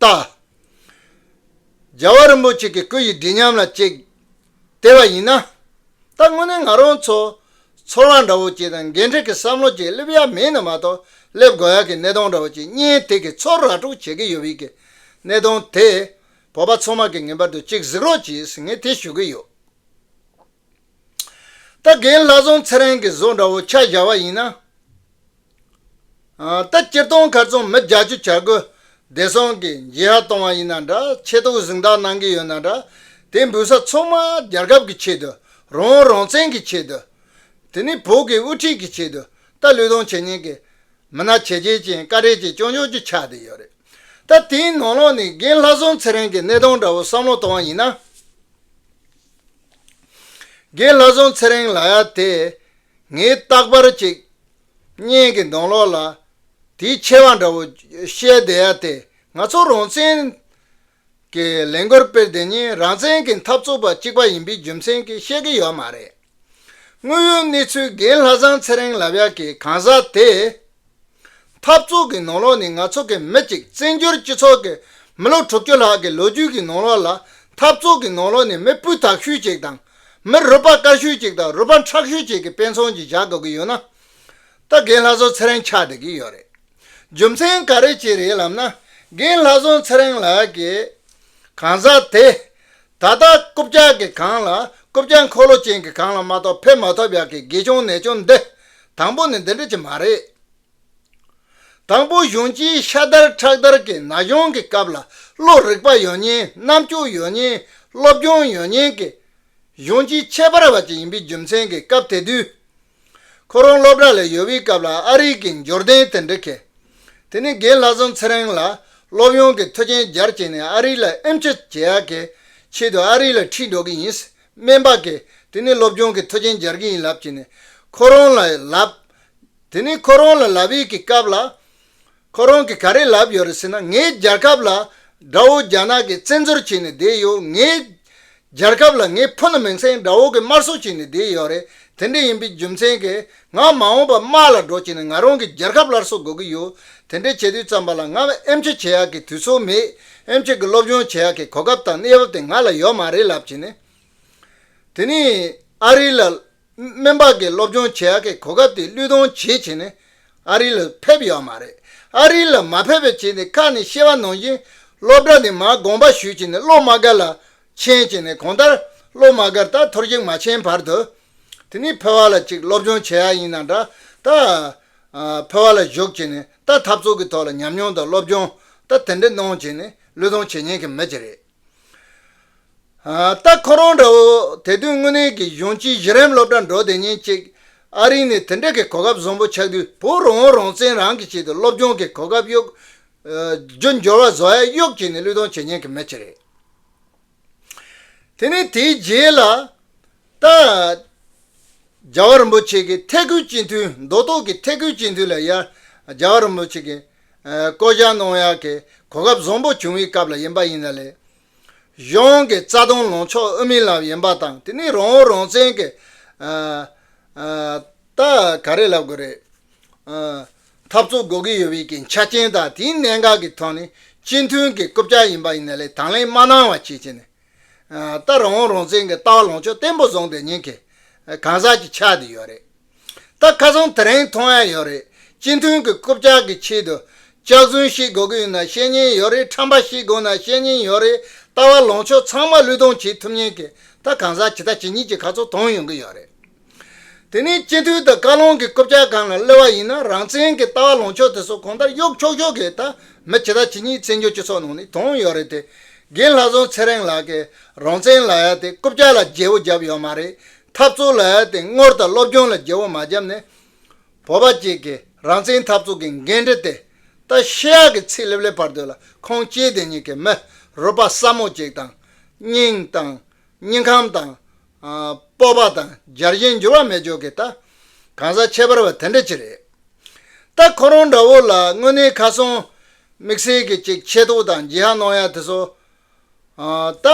རྟགས། རྒྱལ་བ་རིན་པོ་ཆེ་གི་སྐུ་ཡི་བདེ་ཉམས་ལ་གཅེས། དེ་བ་ཡིན་ན། ད་དངོས་གནས་ང་རང་ཚོ། ཚོར་བ་འདྲ་བོ་ཅིག་དང་འགན་འཁྲི་གི་བསམ་བློ་ཅིག་སླེབས་ཡ་མེད་ནི་མ་གཏོགས་སླེབས་དགོས་ཡ་གི་གནས་སྟངས་འདྲ་བོ་ཅིག་གཉེན་སྟེགས་ཀྱི་ཚོགས་ར་དཀྲུག་བྱེད་ཀྱི་ཡོད་བི་གི་གནས་སྟངས་དེ། བོད་པ་ཚང་མ་གི་ངེས་པར་དུ་གཅིག་གཟིགས་རོགས་གྱིས་ངས་དེ་ཞུ་གི་ཡོད། ད་རྒན་ལྷ་བཟང་ཚེ་རིང་གི་བཟོ་འདྲ་བོ་ཆགས་བཞག་བ་ཡིན་ན། ལྟ་སྤྱིར་བཏང་མཁར་རྫོང་མི་རྒྱ་ཆུ་བྱ་རྒོད་བདེ་སྲུང་གིས་འགྱེད་ཧ་གཏོང་བ་ཡིན་ན་འདྲ་ཆེད་དུ་གཟིགས་འདང་གནང་གི་ཡོད་ན་འདྲ་དེ་འབུད་ས་ཚང་མ་རྒྱལ་ཁབ་ཀྱི་ཆེད་དུ་རང་རང་བཙན་གྱི་ཆེད་དུ། དེ་ནི་བོད་ཀྱི་དབུ་ཁྲིད་ཀྱི་ཆེད་དུ་ལྟ་ལུས་དང་བྱས་ཉེས་ཀྱི་མི་སྣ་བྱས་རྗེས་ཅན་བཀའ་ཁྲི་བཅས་བསྐྱོན་ཆོག་རྒྱུ་ཆ་དེ་ཡོད་རེད་ད་དེའི་ནང་ལོགས་ནས་རྒན་ལྷ་བཟང་ཚེ་རིང་གི་གནས་སྟངས་འདྲ་བོ་བསམ་བློ་གཏོང་བ་ཡིན་ན། རྒན་ལྷ་བཟང་ཚེ་རིང་ལགས་ཡ་དེ་ངས་རྟག་པར་གཅིག་གཉེན་གྱི་མདོང་ལོག་ལ། དེའི་ཆེ་བ་འདྲ་བོ་བཤད་བསྡད་ཡ་དེ་ང་ཚོ་རང་བཙན་གྱི་ལས་འགུལ་སྤེལ་བསྡད་ཉིན་རང་བཙན་གྱི་འཐབ་རྩོད་པ་གཅིག་པ་ཡིན་པའི་རྒྱུ་མཚན་གྱིས་བཤད་ཀྱི་ཡོད་མ་རེད། དངོས་ཡོད་གནས་ཚུལ་རྒན་ལྷ་བཟང་ཚེ་རིང་ལབ་ཡག་གི་གང་ཟག་དེས། འཐབ་རྩོད་ཀྱི་ནང་ལོག་ནི་ང་ཚོ་གི་མི་གཅིག་བཙན་བྱོལ་སྤྱི་ཚོགས་ཀྱི་མི་ལོ་དྲུག་ཅུ་ལྷག་གི་ལོ་རྒྱུས་ཀྱི་ནང་ལོག་ལ་འཐབ་རྩོད་ཀྱི་ནང་ལོག་ནི་མི་སྤུས་དག་ཤོས་གཅིག་དང་མི་རུས་པ་དཀར་ཤོས་གཅིག་དང་རུས་པ་ཁྲག་ཤོས་གཅིག་གི་དཔེ་མཚོན་གྱིས་བཞག་དགོས་ཀྱི་ཡོད་ན། ད་རྒན་ལྷ་བཟོ་ཚེ་རིང་ཆགས་བསྡད་ཀྱི་ཡོད་རེད། རྒྱུ་མཚན་ག་རེ་བྱས་རེད་ལབ་ན་རྒན་ལྷ་བཟོ་ཚེ་རིང་ལགས་ཀྱིས། གང་ཟག་དེ། ད་ལྟ་རྐུབ་བཀྱག་གི་གངས་ལ་རྐུབ་བཀྱག་འཁོར་ལོ་ཅན་གྱི་གངས་ལ་མ་གཏོགས་ཕེབས་མ་ཐུབ་ཡག་གི་དགེ་སྦྱོང་ནད་སྦྱོང་འདི། དང་པོ་ནས་འདི་འདྲ་ཅིག་མ་རེད། དང་པོ་གཞུང་སྤྱིའི་ཤ་དར་ཁྲག་དར་གྱི་ན་གཞོན་གྱི་སྐབས་ལ་བློ་རིག་པ་ཡོད་ཉེན་རྣམ་དཔྱོད་ཡོད་ཉེན་སློབ་སྦྱོང་ཡོད་ཉེན་གྱི་གཞུང་སྤྱིའི་ཁྱད་པར་བ་ཅིག་ཡིན་པའི་རྒྱུ་མཚན་གྱིས་སྐབས་དེ་དུས་ཁོ་རང་སློབ་གྲྭ་ལས་ཡོལ་བའི་སྐབས་ལ་ཨ་རིག་གི་འབྱོར་ལྡན་དེ་འདྲ་གིས་དེ་ནི་རྒན་ལྷ་བཟང་ཚེ་རིང་ལ་སློབ་ཡོན་གྱི་མཐུ་ཅན་སྦྱར་བྱས་ནས་ཨ་རིག་ལ་ཨིམ་ཆི་བྱེད་ཡག་གི་ཆེད་དུ་ཨ་རིག་ལ་ཁྲིད་འགྲོ་གི་ཡིན་སྨན་པ་གིས་དེ་ནི་སློབ་སྦྱོང་གི་མཐུ་ཅན་སྦྱར་གྱི་ཡིན་ལབ་བྱས་ནས་ཁོ་རང་ལ་ལབ། དེ་ནི་ཁོ་རང་ལ་ལབ་ཡས་ཀྱི་སྐབས་ལ། ཁོ་རང་གིས་ག་རེ་ལབ་ཡོད་རེད་ཟེར་ན་ངའི་རྒྱལ་ཁབ་ལ་དགྲ་བོ་རྒྱ་ནག་གིས་བཙན་འཛུལ་བྱས་ནས་བསྡད་ཡོད་ངའི་རྒྱལ་ཁབ་ལ་ངའི་ཕུ་ནུ་མིང་སྲིང་དགྲ་བོ་གིས་དམར་གསོད་བྱས་ནས་བསྡད་ཡོད་རེད་དེ་འདྲ་ཡིན་པའི་རྒྱུ་མཚན་གྱིས་ང་མ་འོངས་པར་དམག་ལ་འགྲོ་བྱས་ནས་ང་རང་གི་རྒྱལ་ཁབ་སླར་གསོ་དགོས་ཀྱི་ཡོད་དེ་འདྲ་བྱེད་དུས་བརྩམས་པ་ལ་ང་ཨེམ་ཆི་བྱེད་ཡག་གི་དུས་ཚོད་མེད་ཨེམ་ཆི་གི་སློབ་སྦྱོང་བྱེད་ཡག་གི་གོ་སྐབས་དང་གནས་བབ་དེ་ང་ལ་ཡོད་མ་རེད་ལབ་བྱས་ནས་དེ་ནི་ཨ་རི་ལ་སྨན་པ་གིས་སློབ་སྦྱོང་བྱེད་ཨ་ཁའི་གོ་སྐབས་དེ་བློས་གཏོང་བྱེད་བྱས་ནས་ཨ་རི་ལ་ཕེབས་ཡོད་མ་རེད། ཨ་རི་ལ་མ་ཕེབས་པའི་རྗེས་འདི་ཁ་ནས་བཤད་པ་ནང་བཞིན་སློབ་གྲྭ་དེ་མར་དགོངས་པ་ཞུས་བྱས་ནས་སློབ་མ་སྒར་ལ་འཕྱན་བྱས་ནས་གོང་ལྟར་སློབ་མ་སྒར་དག་ཐོར་ཞིག་མ་འཕྱན་བར་དུ། དེ་ནས་ཕོ་བ་ལ་ཅིག་སློབ་སྦྱོང་བྱེད་ཨ་ཡིན་ན་འདྲ་ད། ཕོ་བ་ལ་བཞུགས་བྱས་ནས་ད་འཐབ་ཚོགས་ཀྱི་ཐོག་ལ་ཉམས་མྱོང་དང་སློབ་སྦྱོང་ད་དེ་འདྲ་གནང་བྱས་ནས་བློས་གཏོང་བྱེད་ཉན་མཁན་མི་ཅི་རེད། ལྟ། ཁོ་རང་འདྲ་བོ་དེ་དུས་དངོས་གནས་ཀྱི་གཞོན་སྐྱེས་གཞི་རིམ་སློབ་གྲྭ་འགྲོ་དེ་ཉིན་གཅིག་ཨ་རི་ནས་དེ་འདྲ་གི་གོ་སྐབས་བཟང་པོ་ཆགས་དུས་བུ་རང་བོ་རང་བཙན་རང་གིས་བྱེད་དུ་སློབ་སྦྱོང་གི་གོ་སྐབས་གཡུག། རྒྱུ་འབྱོར་བ་བཟོ་ཡ་གཡུག་བྱས་ནས་བློས་གཏོང་བྱེད་མཁན་གྱི་མི་ཅིག་རེད། དེ་ནས་དེའི་རྗེས་ལ། ལྟ། རྒྱ་བ་རིན་པོ་ཆེ་གི་ཐེག་དགུའི་སྤྱི་འཐུས་མདོ་སྟོད་ཀྱི་ཐེག་དགུའི་སྤྱི་འཐུས་ལ་ཡར། རྒྱ་བ་རིན་པོ་ཆེ་གི། བསྐོ་བཞག་གནང་ཡག་གི་གོ་སྐབས་བཟང་པོ་བྱུང་བའི་སྐབས་ལ་ཡིན་པ་ཡིན་ན་ལས་གཞུང་གི་རྩ་དོན་ལངས་ཕྱོགས་དབུ་མའི་ལམ་ཡིན་པ་དང་དེ་ནི་རང་འོས་རང་བཙན་གྱི་ད་ག་རེ་ལབ་དགོས་རེད། འཐབ་རྩོད་དགོས་ཀྱི་ཡོད་པའི་གི་ཆ་རྐྱེན་དང་དེའི་གནད་འགག་གི་ཐོག་ནས་སྤྱི་མཐུན་གྱི་རྐུབ་བཀྱག་ཡིན་པ་ཡིན་ན་ལས་དང་ལེན་མ་གནང་བ་བྱེད་ཀྱི་ནས་ད་རང་འོས་རང་བཙན་གྱི་ལྟ་བ་ལངས་ཕྱོགས་བརྟན་པོ་བཟང་དེ་ཉིད་གི་གང་ཟག་གྱི་ཆ་དེ་ཡོད་རེད། ད་ཁ་སང་དེ་རིང་མཐོང་ཡ་ཡོད་རེད་སྤྱི་མཐུན་གྱི་རྐུབ་བཀྱག་གི་ཆེད་དུ། ལྕགས་རྫུན་ཤེས་དགོས་ཀྱི་ཡོད་ན་ཤེས་ཉེན་ཡོད་རེད་ཁྲམ་པ་ཤེས་དགོས་ན་ཤེས་ཉེན་ཡོད་རེད་ལྟ་བ་ལོངས་ཕྱོགས་ཚང་མ་བློས་གཏོང་བྱེད་ཐུབ་ཉེན་ཀྱི་ད་གང་ཟག་ཇི་ལྟ་ཇི་སྙིད་ཀྱི་ཁ་ཚོ་དོང་ཡོང་གི་ཡོད་རེད། དེ་ནས་སྤྱི་མཐུན་དང་བཀའ་བློན་གྱི་རྐུབ་བཀྱག་གང་ལ་གློད་བ་ཡིན་ན་རང་བཙན་གྱི་ལྟ་བ་ལོངས་ཕྱོགས་དེ་ཚོ་གོང་ལྟར་གཡོག་ཁྱོག་ཁྱོག་གི་ད་མི་ཇི་ལྟ་ཇི་སྙིད་བཙན་བྱོལ་སྤྱི་ཚོགས་ནང་ནས་དོང་ཡོད་རེད་དེ་དགེན་ལྷ་བཟང་ཚེ་རིང་ལགས་ཀྱི་རང་བཙན་ལ་ཡ་དེ་རྐུབ་བཀྱག་ལ་རྒྱལ་བོ་རྒྱབ་ཡོད་མ་རེད་འཐབ་རྩོད་ལ་ཡར་ཐེངས་སྔོར་དང་སློབ་སྦྱོང་ལ་རྒྱལ་བོ་མ་བརྒྱབ་ནས། བོད་པ་གཅིག་གིས་རང་བཙན་འཐབ་རྩོད་ཀྱི་འགན་འཁྲི་དེ་ལྟ་ཞེ་ཡག་གི་ཚིག་ལེབ་ལེབ་བར་དོད་ལ་ཁོང་སྐྱེས་དེ་ཉིད་ཀྱི་མི་རུ་པ་སྲ་མོ་ཅིག་དང། སྙིང་དང། སྙིང་ཁམས་དང། སྤོབས་པ་དང་སྦྱར་བཞིན་འགྱུར་བ་མེད་ཅོག་གི་ལྟ། གང་ཟག་ཁྱད་པར་བ་དེ་འདྲ་ཅིག་རེད། ལྟ་ཁོ་རང་འདྲ་བོ་ལ་དངོས་གནས་ཁ་སང་དམིགས་བསལ་གྱི་ཅིག་ཆེ་ཐོག་དང་ལྗིད་ཧ་གནང་ཡ་དེ་སོགས་ད།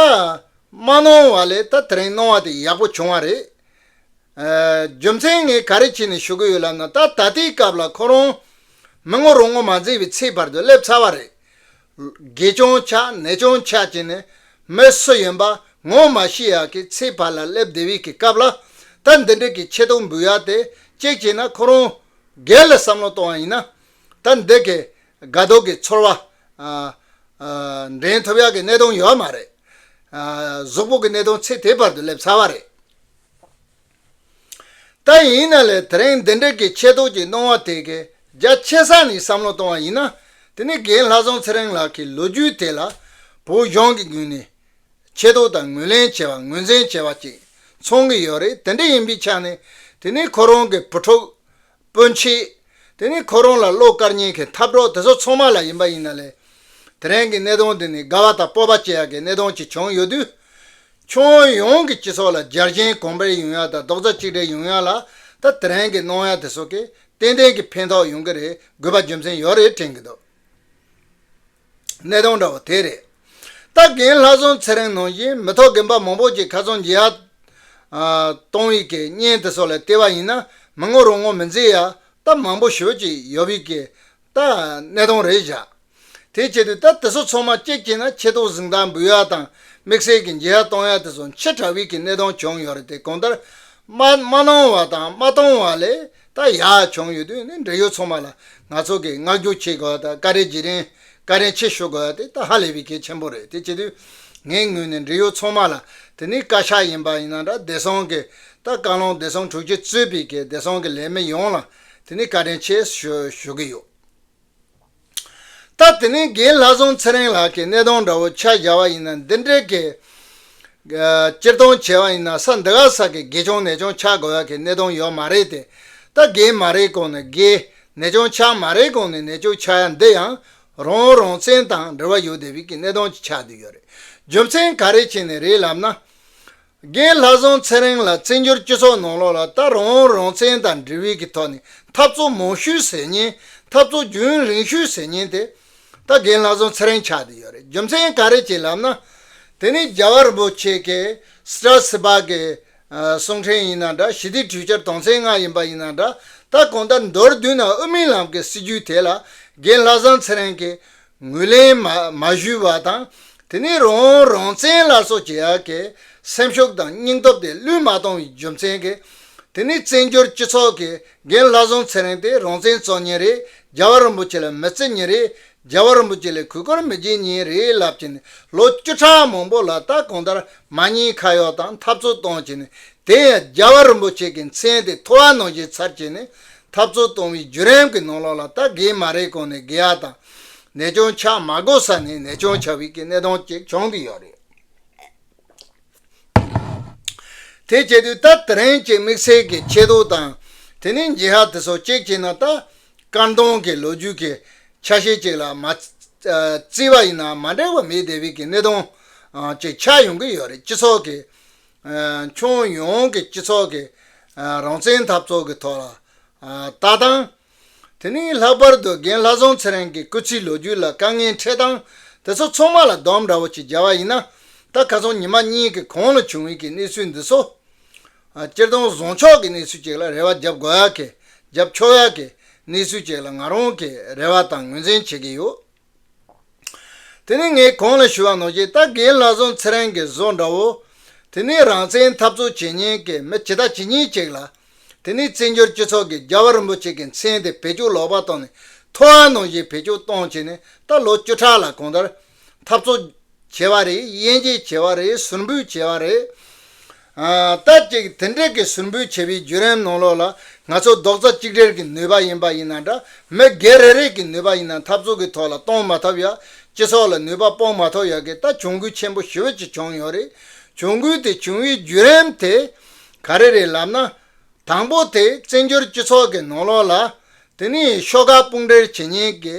མ་གནོང་བ་ལས་ད་དེ་རིང་གནོང་བ་དེ་ཡག་པོ་བྱུང་བ་རེད། རྒྱུ་མཚན་ངས་ག་རེ་བྱས་ནས་ཞུ་གི་ཡོད་ལབ་ན་ད་ད་ལྟའི་སྐབས་ལ་ཁོ་རང་མི་ངོ་རང་ངོ་མ་འཛིན་པའི་ཚེའི་བར་དུ་སླེབས་ཚར་བ་རེད། དགེ་ཅུང་ཆགས་ནད་ཅུང་ཆགས་བྱས་ནས་མི་སུ་ཡིན་པ་ངོ་མ་ཤེས་ཡག་གི་ཚེའི་བར་ལ་སླེབས་བདེ་བས་ཀྱི་སྐབས་ལ་ད་འདི་འདྲིག་གི་ཆེ་མཐོང་འབུལ་ཡག་དེ་གཅིག་བྱས་ན་ཁོ་རང་སྒེར་ལ་བསམ་བློ་གཏོང་བ་ཡིན་ན་ད་འདི་གི་དགའ་སྡུག་གི་ཚོར་བ་འདྲེན་ཐུབ་ཡག་གི་གནད་དོན་ཡོད་མ་རེད། གཟུགས་པོ་གི་གནད་དོན་ཚེ་དེ་བར་དུ་སླེབས་ཚར་བ་རེད། ད་ཡིན་ན་ལས་དེ་རིང་འདི་འདྲ་གི་ཆེ་དོག་གི་གནང་བ་དེ་གའི་རྒྱ་ཆེ་ས་ནས་བསམ་བློ་གཏོང་བ་ཡིན་ན་དེ་ནི་རྒན་ལྷ་བཟང་ཚེ་རིང་ལགས་ཀྱི་ལོ་རྒྱུས་དེ་ལ་བོད་གཞུང་གི་ངོས་ནས་ཆེ་དོག་དང་ངོས་ལེན་བྱས་པ་ངོས་འཛིན་བྱས་པ་ཅིག་མཚོན་གྱི་ཡོད་རེད་དེ་འདྲ་ཡིན་པའི་ཆ་ནས་དེ་ནི་ཁོ་རང་གི་བུ་ཕྲུག་སྤོད་མཆིས། དེ་ནི་ཁོ་རང་ལ་བློ་དཀར་ཉེན་ཁའི་འཐབ་གྲོགས་དེ་ཚོ་ཚང་མ་ལ་ཡིན་པ་ཡིན་ན་ལས། དེ་རིང་གི་གནས་སྟངས་འདི་ནི་དགའ་བ་དང་སྤོབས་པ་སྐྱེ་ཡག་གི་གནས་སྟངས་ཅིག་བྱུང་ཡོད་དུས། ཁྱོན་ཡོངས་ཀྱི་སྤྱི་ཚོགས་ལ་འཇར་མཁྱེན་གོང་འཕེལ་ཡོང་ཡག་དང་རྡོག་རྩ་གཅིག་སྒྲིལ་ཡོང་ཡག་ལ་ད་དེ་རིང་གི་གནང་ཡག་དེ་ཚོ་གིས་ཏན་ཏན་གྱི་ཕན་ཐོགས་ཡོང་གི་རེད་དགོས་པ་རྒྱུ་མཚན་ཡོད་རེད་དྲན་གྱི་འདུག། གནས་སྟངས་འདྲ་བོ་དེ་རེད། ད་གིན་ལྷ་སྲུང་ཚེ་རིང་ནང་བཞིན་མི་ཐོག་རྒན་པ་མང་པོ་ཅིག་ཁ་ཚོན་འབྱེད་ཡག་གཏོང་བའི་གི་བརྙན་དེ་སོགས་ལ་ལྟས་པ་ཡིན་ན་མི་ངོ་རུ་ངོ་མི་འཛིན་ཡག་ད་མང་པོ་ཞོད་ཅིག་ཡོད་པའི་གི་ད་གནས་སྟངས་རེད་བཞག་དེ་ཆེད་དུ་ད་དེ་ཚོ་ཚང་མ་བསྐྱེད་བསྐྱེད་ན་ཆེ་མཐོང་གཟིགས་མདངས་འབུལ་ཡག་དང་དམིགས་བསལ་གི་འབྱེད་ཡག་གཏོང་ཡག་དེ་ཚོ་མཆེད་དྲགས་པའི་གི་གནས་སྟངས་བྱུང་ཡོད་རེད་དེ་གང་ལྟར་མ་གནང་བ་དང་མ་གཏོང་བ་ལས་ད་ཡག་བྱུང་ཡོད་དུས་ནི་འབྲེལ་ཡོད་ཚོང་མ་ལ་ང་ཚོ་གིས་མངགས་རྒྱུག་བྱེད་དགོས་པ་དང་ཀ་རེ་རྗེས་དྲན་ཀ་རེ་མཆེད་ཞུ་དགོས་པ་དེ་ད་ཧ་ལས་པའི་གལ་ཆེན་པོ་རེད་དེ་བྱེད་དུས་ངའི་ངོས་ནས་འབྲེལ་ཡོད་ཚོང་མ་ལ་དེ་ནི་བཀའ་ཤག་ཡིན་པ་ཡིན་ན་འདྲ་བདེ་སྲུང་གི་ད་བཀའ་བློན་བདེ་སྲུང་དྲུག་ཅུ་གཙོས་པའི་གི་བདེ་སྲུང་གི་ལས་མི་ཡོངས་ལ་དེ་ནི་ཀ་རེ་མཆེད་ཞུ་ཞུ་གི་ཡོད། སྟབས་དེ་ནི་རྒན་ལྷ་སྲོང་ཚེ་རིང་ལགས་ཀྱིས་སྣེ་གདོང་འདྲ་བོ་ཆ་བཞག་པ་ཡིན་ན་འདི་འདྲའི་གེ། སྤྱིར་བཏང་བྱས་པ་ཡིན་ན་ས་འདི་ག་ས་གི་དགེ་སྦྱོང་ནད་སྦྱོང་ཆགས་དགོས་ཡ་གི་སྣེ་གདོང་ཡོག་མ་རེད་དེ། ད་རྒན་མ་རེད་གོང་ནས་དགེ། ནད་སྦྱོང་ཆགས་མ་རེད་གོང་ནས་ནད་སྐྱུག་ཆགས་ཡ་འདི་ཡང། རང་རང་བཙན་དང་འབྲེལ་བ་ཡོད་དེ་བིས་ཀྱི་སྣེ་གདོང་གི་ཆགས་དུས་ཡོད་རེད། རྒྱུ་མཚན་ག་རེ་བྱས་ནས་རེད་ལབ་ན། རྒན་ལྷ་བཟང་ཚེ་རིང་ལ་བཙན་བྱོལ་སྤྱི་ཚོགས་ནང་ལོགས་ལ་ལྟ་རང་རང་བཙན་དང་འབྲེལ་བའི་གི་ཐོག་ནས་འཐབ་རྩོད་མང་ཤོས་ཟེར་ཉིན་འཐབ་རྩོད་རྒྱུན་རིང་ཤོས་ཟེར་ཉིན་དེ་ད་རྒན་ལྷ་བཟང་ཚེ་རིང་ཆགས་དེ་ཡོད་རེད་རྒྱུ་མཚན་ག་རེ་བྱས་ལབ་ན་དེ་ནི་རྒྱ་གར་རིན་པོ་ཆེ་གེ་སྲ་སི་པ་གི་གསུང་འཕྲིན་ཡིན་ན་འདྲ་ཞི་བདེ་གྲོས་འཆར་དོན་ཚན་ལྔ་ཡིན་པ་ཡིན་ན་འདྲ་ད་གོང་ལྟར་མདོར་བསྡུས་ན་དབུ་མའི་ལམ་གི་སྲིད་བྱུས་དེ་ལ་རྒན་ལྷ་བཟང་ཚེ་རིང་གིས་ངོས་ལེན་མ་ཞུས་པ་དང་དེ་ནས་རང་རང་བཙན་ལ་སོགས་ཀྱི་ཡ་གྱལ་སེམས་ཤུགས་དང་སྙིང་སྟོབས་དེ་བླུས་མ་གཏོང་བའི་རྒྱུ་མཚན་གྱིས་དེ་ནས་བཙན་བྱོལ་སྤྱི་ཚོགས་ཀྱི་རྒན་ལྷ་བཟང་ཚེ་རིང་དེ་རང་བཙན་རྩོད་ཉིན་རེ་རྒྱལ་བ་རིན་པོ་ཆེ་ལ་མི་བརྩི་ཉིན་རེ་རྒྱལ་བ་རིན་པོ་ཆེ་ལས་གུས་བཀུར་མི་བྱེད་ཉིན་རེ་ལབ་ཀྱིན་ལོ་བཅུ་ཕྲག་མང་པོ་ལ་ད་གང་ལྟར་མ་ཉེས་ཁ་གཡོག་དང་འཐབ་རྩོད་གཏོང་ཀྱིན་དེ་ཡང་རྒྱལ་བ་རིན་པོ་ཆེ་གི་མཚན་དེ་ཐོ་བ་ནང་བཞེས་ཚར་གྱིན་འཐབ་རྩོད་གཏོང་བའི་བརྒྱུད་རིམ་གྱི་ནང་ལོགས་ལ་རྟ་རྒན་མ་རེད་གོང་ནས་རྒན་ཡག་དང། ནད་སྐྱོང་ཆགས་མ་དགོས་ས་ནས་ནད་སྐྱོང་ཆགས་བིས་ཀྱི་གནས་སྟངས་གཅིག་བྱུང་གི་ཡོད་རེད། དེ་བྱེད་དུས་རྟ་དེ་རིང་གཅིག་དམིགས་བསལ་གྱི་ཆེ་མདོག་དང། དེ་ནས་འགྱིག་ཧ་དེ་སོགས་གཅིག་བྱས་ན་རྟ་དཀར་མདོང་གི་ལོ་རྒྱུས་ཀྱི་ཆ་ཤས་གཅིག་ལ་མ་བརྩིས་པ་ཡིན་ན་མ་འགྲིག་པ་མེད་དེ་བིས་ཀྱི་གནས་སྟངས་གཅིག་ཆགས་ཡོང་གི་ཡོད་རེད་སྤྱི་ཚོགས་ཀྱི། ཁྱོན་ཡོངས་ཀྱི་སྤྱི་ཚོགས་ཀྱི་རང་བཙན་འཐབ་རྩོད་ཀྱི་ཐོག་ལ་ལྟ་སྟངས། དེ་ནི་ལྷག་པར་དུ་རྒན་ལྷ་བཟང་ཚེ་རིང་གི་སྐུ་ཚེའི་ལོ་རྒྱུས་ལ་དཀའ་ངལ་འཕྲད་སྟངས་དེ་ཚོ་ཚང་མ་ལ་འདོམས་འདྲ་བོ་ཅིག་སྦྱར་བ་ཡིན་ན། ད་ག་ཚོང་ཉི་མ་གཉིས་ཀྱི་གོང་ལ་བྱུང་ཡུལ་གྱི་གནས་ཚུལ་འདི་ཚོ། སྤྱིར་བཏང་བཟང་ཕྱོགས་ཀྱི་གནས་ཚུལ་ཅིག་ལ་རེ་བ་རྒྱབ་དགོས་ཡག་གི་རྒྱབ་ཆོག་ཡག་གི་གནས་ཚུལ་ཅིག་ལ་ང་རང་གིས་རེ་བ་དང་ངོས་འཛིན་བྱེད་ཀྱི་ཡོད། དེ་ནི་ངས་གོང་ལ་ཞུས་བ་ནོར་གྱིས་རྟ་རྒན་ལགས་ཟོང་ཚེ་རིང་གི་བཟོ་འདྲ་བོ། དེ་ནི་རང་བཙན་འཐབ་རྩོད་བྱེད་ཉན་མཁན་མི་ཇི་ལྟ་ཇི་སྙེད་ཅིག་ལ། དེ་ནི་བཙན་བྱོལ་སྤྱི་ཚོགས་ཀྱིས་རྒྱལ་བ་རིན་པོ་ཆེ་གི་མཚན་དེ་བེད་སྤྱོད་ལོག་པར་བཏང་ནས་ཐོ་ཨ་ནོར་གྱིས་བེད་སྤྱོད་གཏོང་བྱས་ནས་ད་ལོ་བཅུ་ཕྲག་ལ་གང་ལྟར། འཐབ་རྩོད། བྱེད་པ་རེད་དབྱེ་འབྱེད་བྱེད་པ་རེད་ཟུར་འབུད་བྱེད་པ་རེད། ད་ཅིག་དེ་འདྲས་ཀྱི་ཟུར་འབུད་བྱེད་པའི་བརྒྱུད་རིམ་ནང་ལོགས་ལ་ང་ཚོ་རྡོག་རྩ་གཅིག་སྒྲིལ་གྱི་ནུས་པ་ཡིན་པ་ཡིན་ན་འདྲ་མི་སྒེར་རེ་རེས་ཀྱི་ནུས་པ་ཡིན་ན་འཐབ་རྩོད་ཀྱི་ཐོག་ལ་གཏོང་མ་ཐབས་ཡག་སྤྱི་ཚོགས་ལ་ནུས་པ་སྤོང་མ་ཐོབ་ཡག་གི་ད་གྱོང་གུད་ཆེན་པོ་ཞི་བེད་ཅིག་བྱུང་ཡོད་རེད་གྱོང་གུད་དེ་བྱུང་བའི་བརྒྱུད་རིམ་དེ་ག་རེ་རེད་ལབ་ན། དང་པོ་དེ་བཙན་བྱོལ་སྤྱི་ཚོགས་ཀྱི་ནང་ལོགས་ལ་དེ་ནི་ཤོག་ཁག་དཔུང་སྒྲིལ་བྱེད་མཁན་གྱི་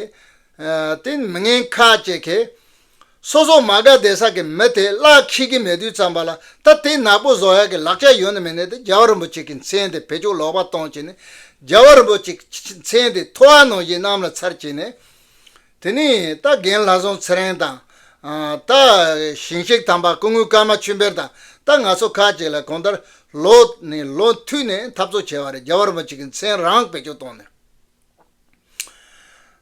ཏིང་མི་ངན་ཁ་ཅེས་ཁེ། སོ་སོ་མ་དགའ་སྡེ་སག་གི་མི་དེས་གླག་འཁྱིལ་གྱི་མེ་དུས་བརྩམས་པ་ལ་ད་དེ་ནག་པོ་བཟོ་ཡག་གི་ལག་ཆ་ཡོད་ནི་མིན་ནས་དེ་རྒྱལ་བ་རིན་པོ་ཆེ་གི་མཚན་དེ་བེད་སྤྱོད་ལོག་པ་གཏོང་བྱེད་ནི་རྒྱལ་བ་རིན་པོ་ཆེ་གི་མཚན་དེ་ཐོ་བ་ནོ་བཞིན་གནམ་ལ་ཚར་བྱེད་ནས། དེ་ནས་ད་རྒན་ལྷ་སྲོང་ཚེ་རིང་དང། ད་ཞིང་གཤེགས་དམ་པ་སྐུ་དངོས་ཀརྨ་ཆོས་འཕེལ་དང་ད་ང་ཚོ་ཁ་ཅིག་ལ་གོང་ལྟར་ལོ་ནས་ལོ་མཐུད་ནས་འཐབ་རྩོད་བྱེད་པ་རེད་རྒྱལ་བ་རིན་པོ་ཆེ་གི་མཚན་རང་བེད་སྤྱོད་གཏོང་ནས།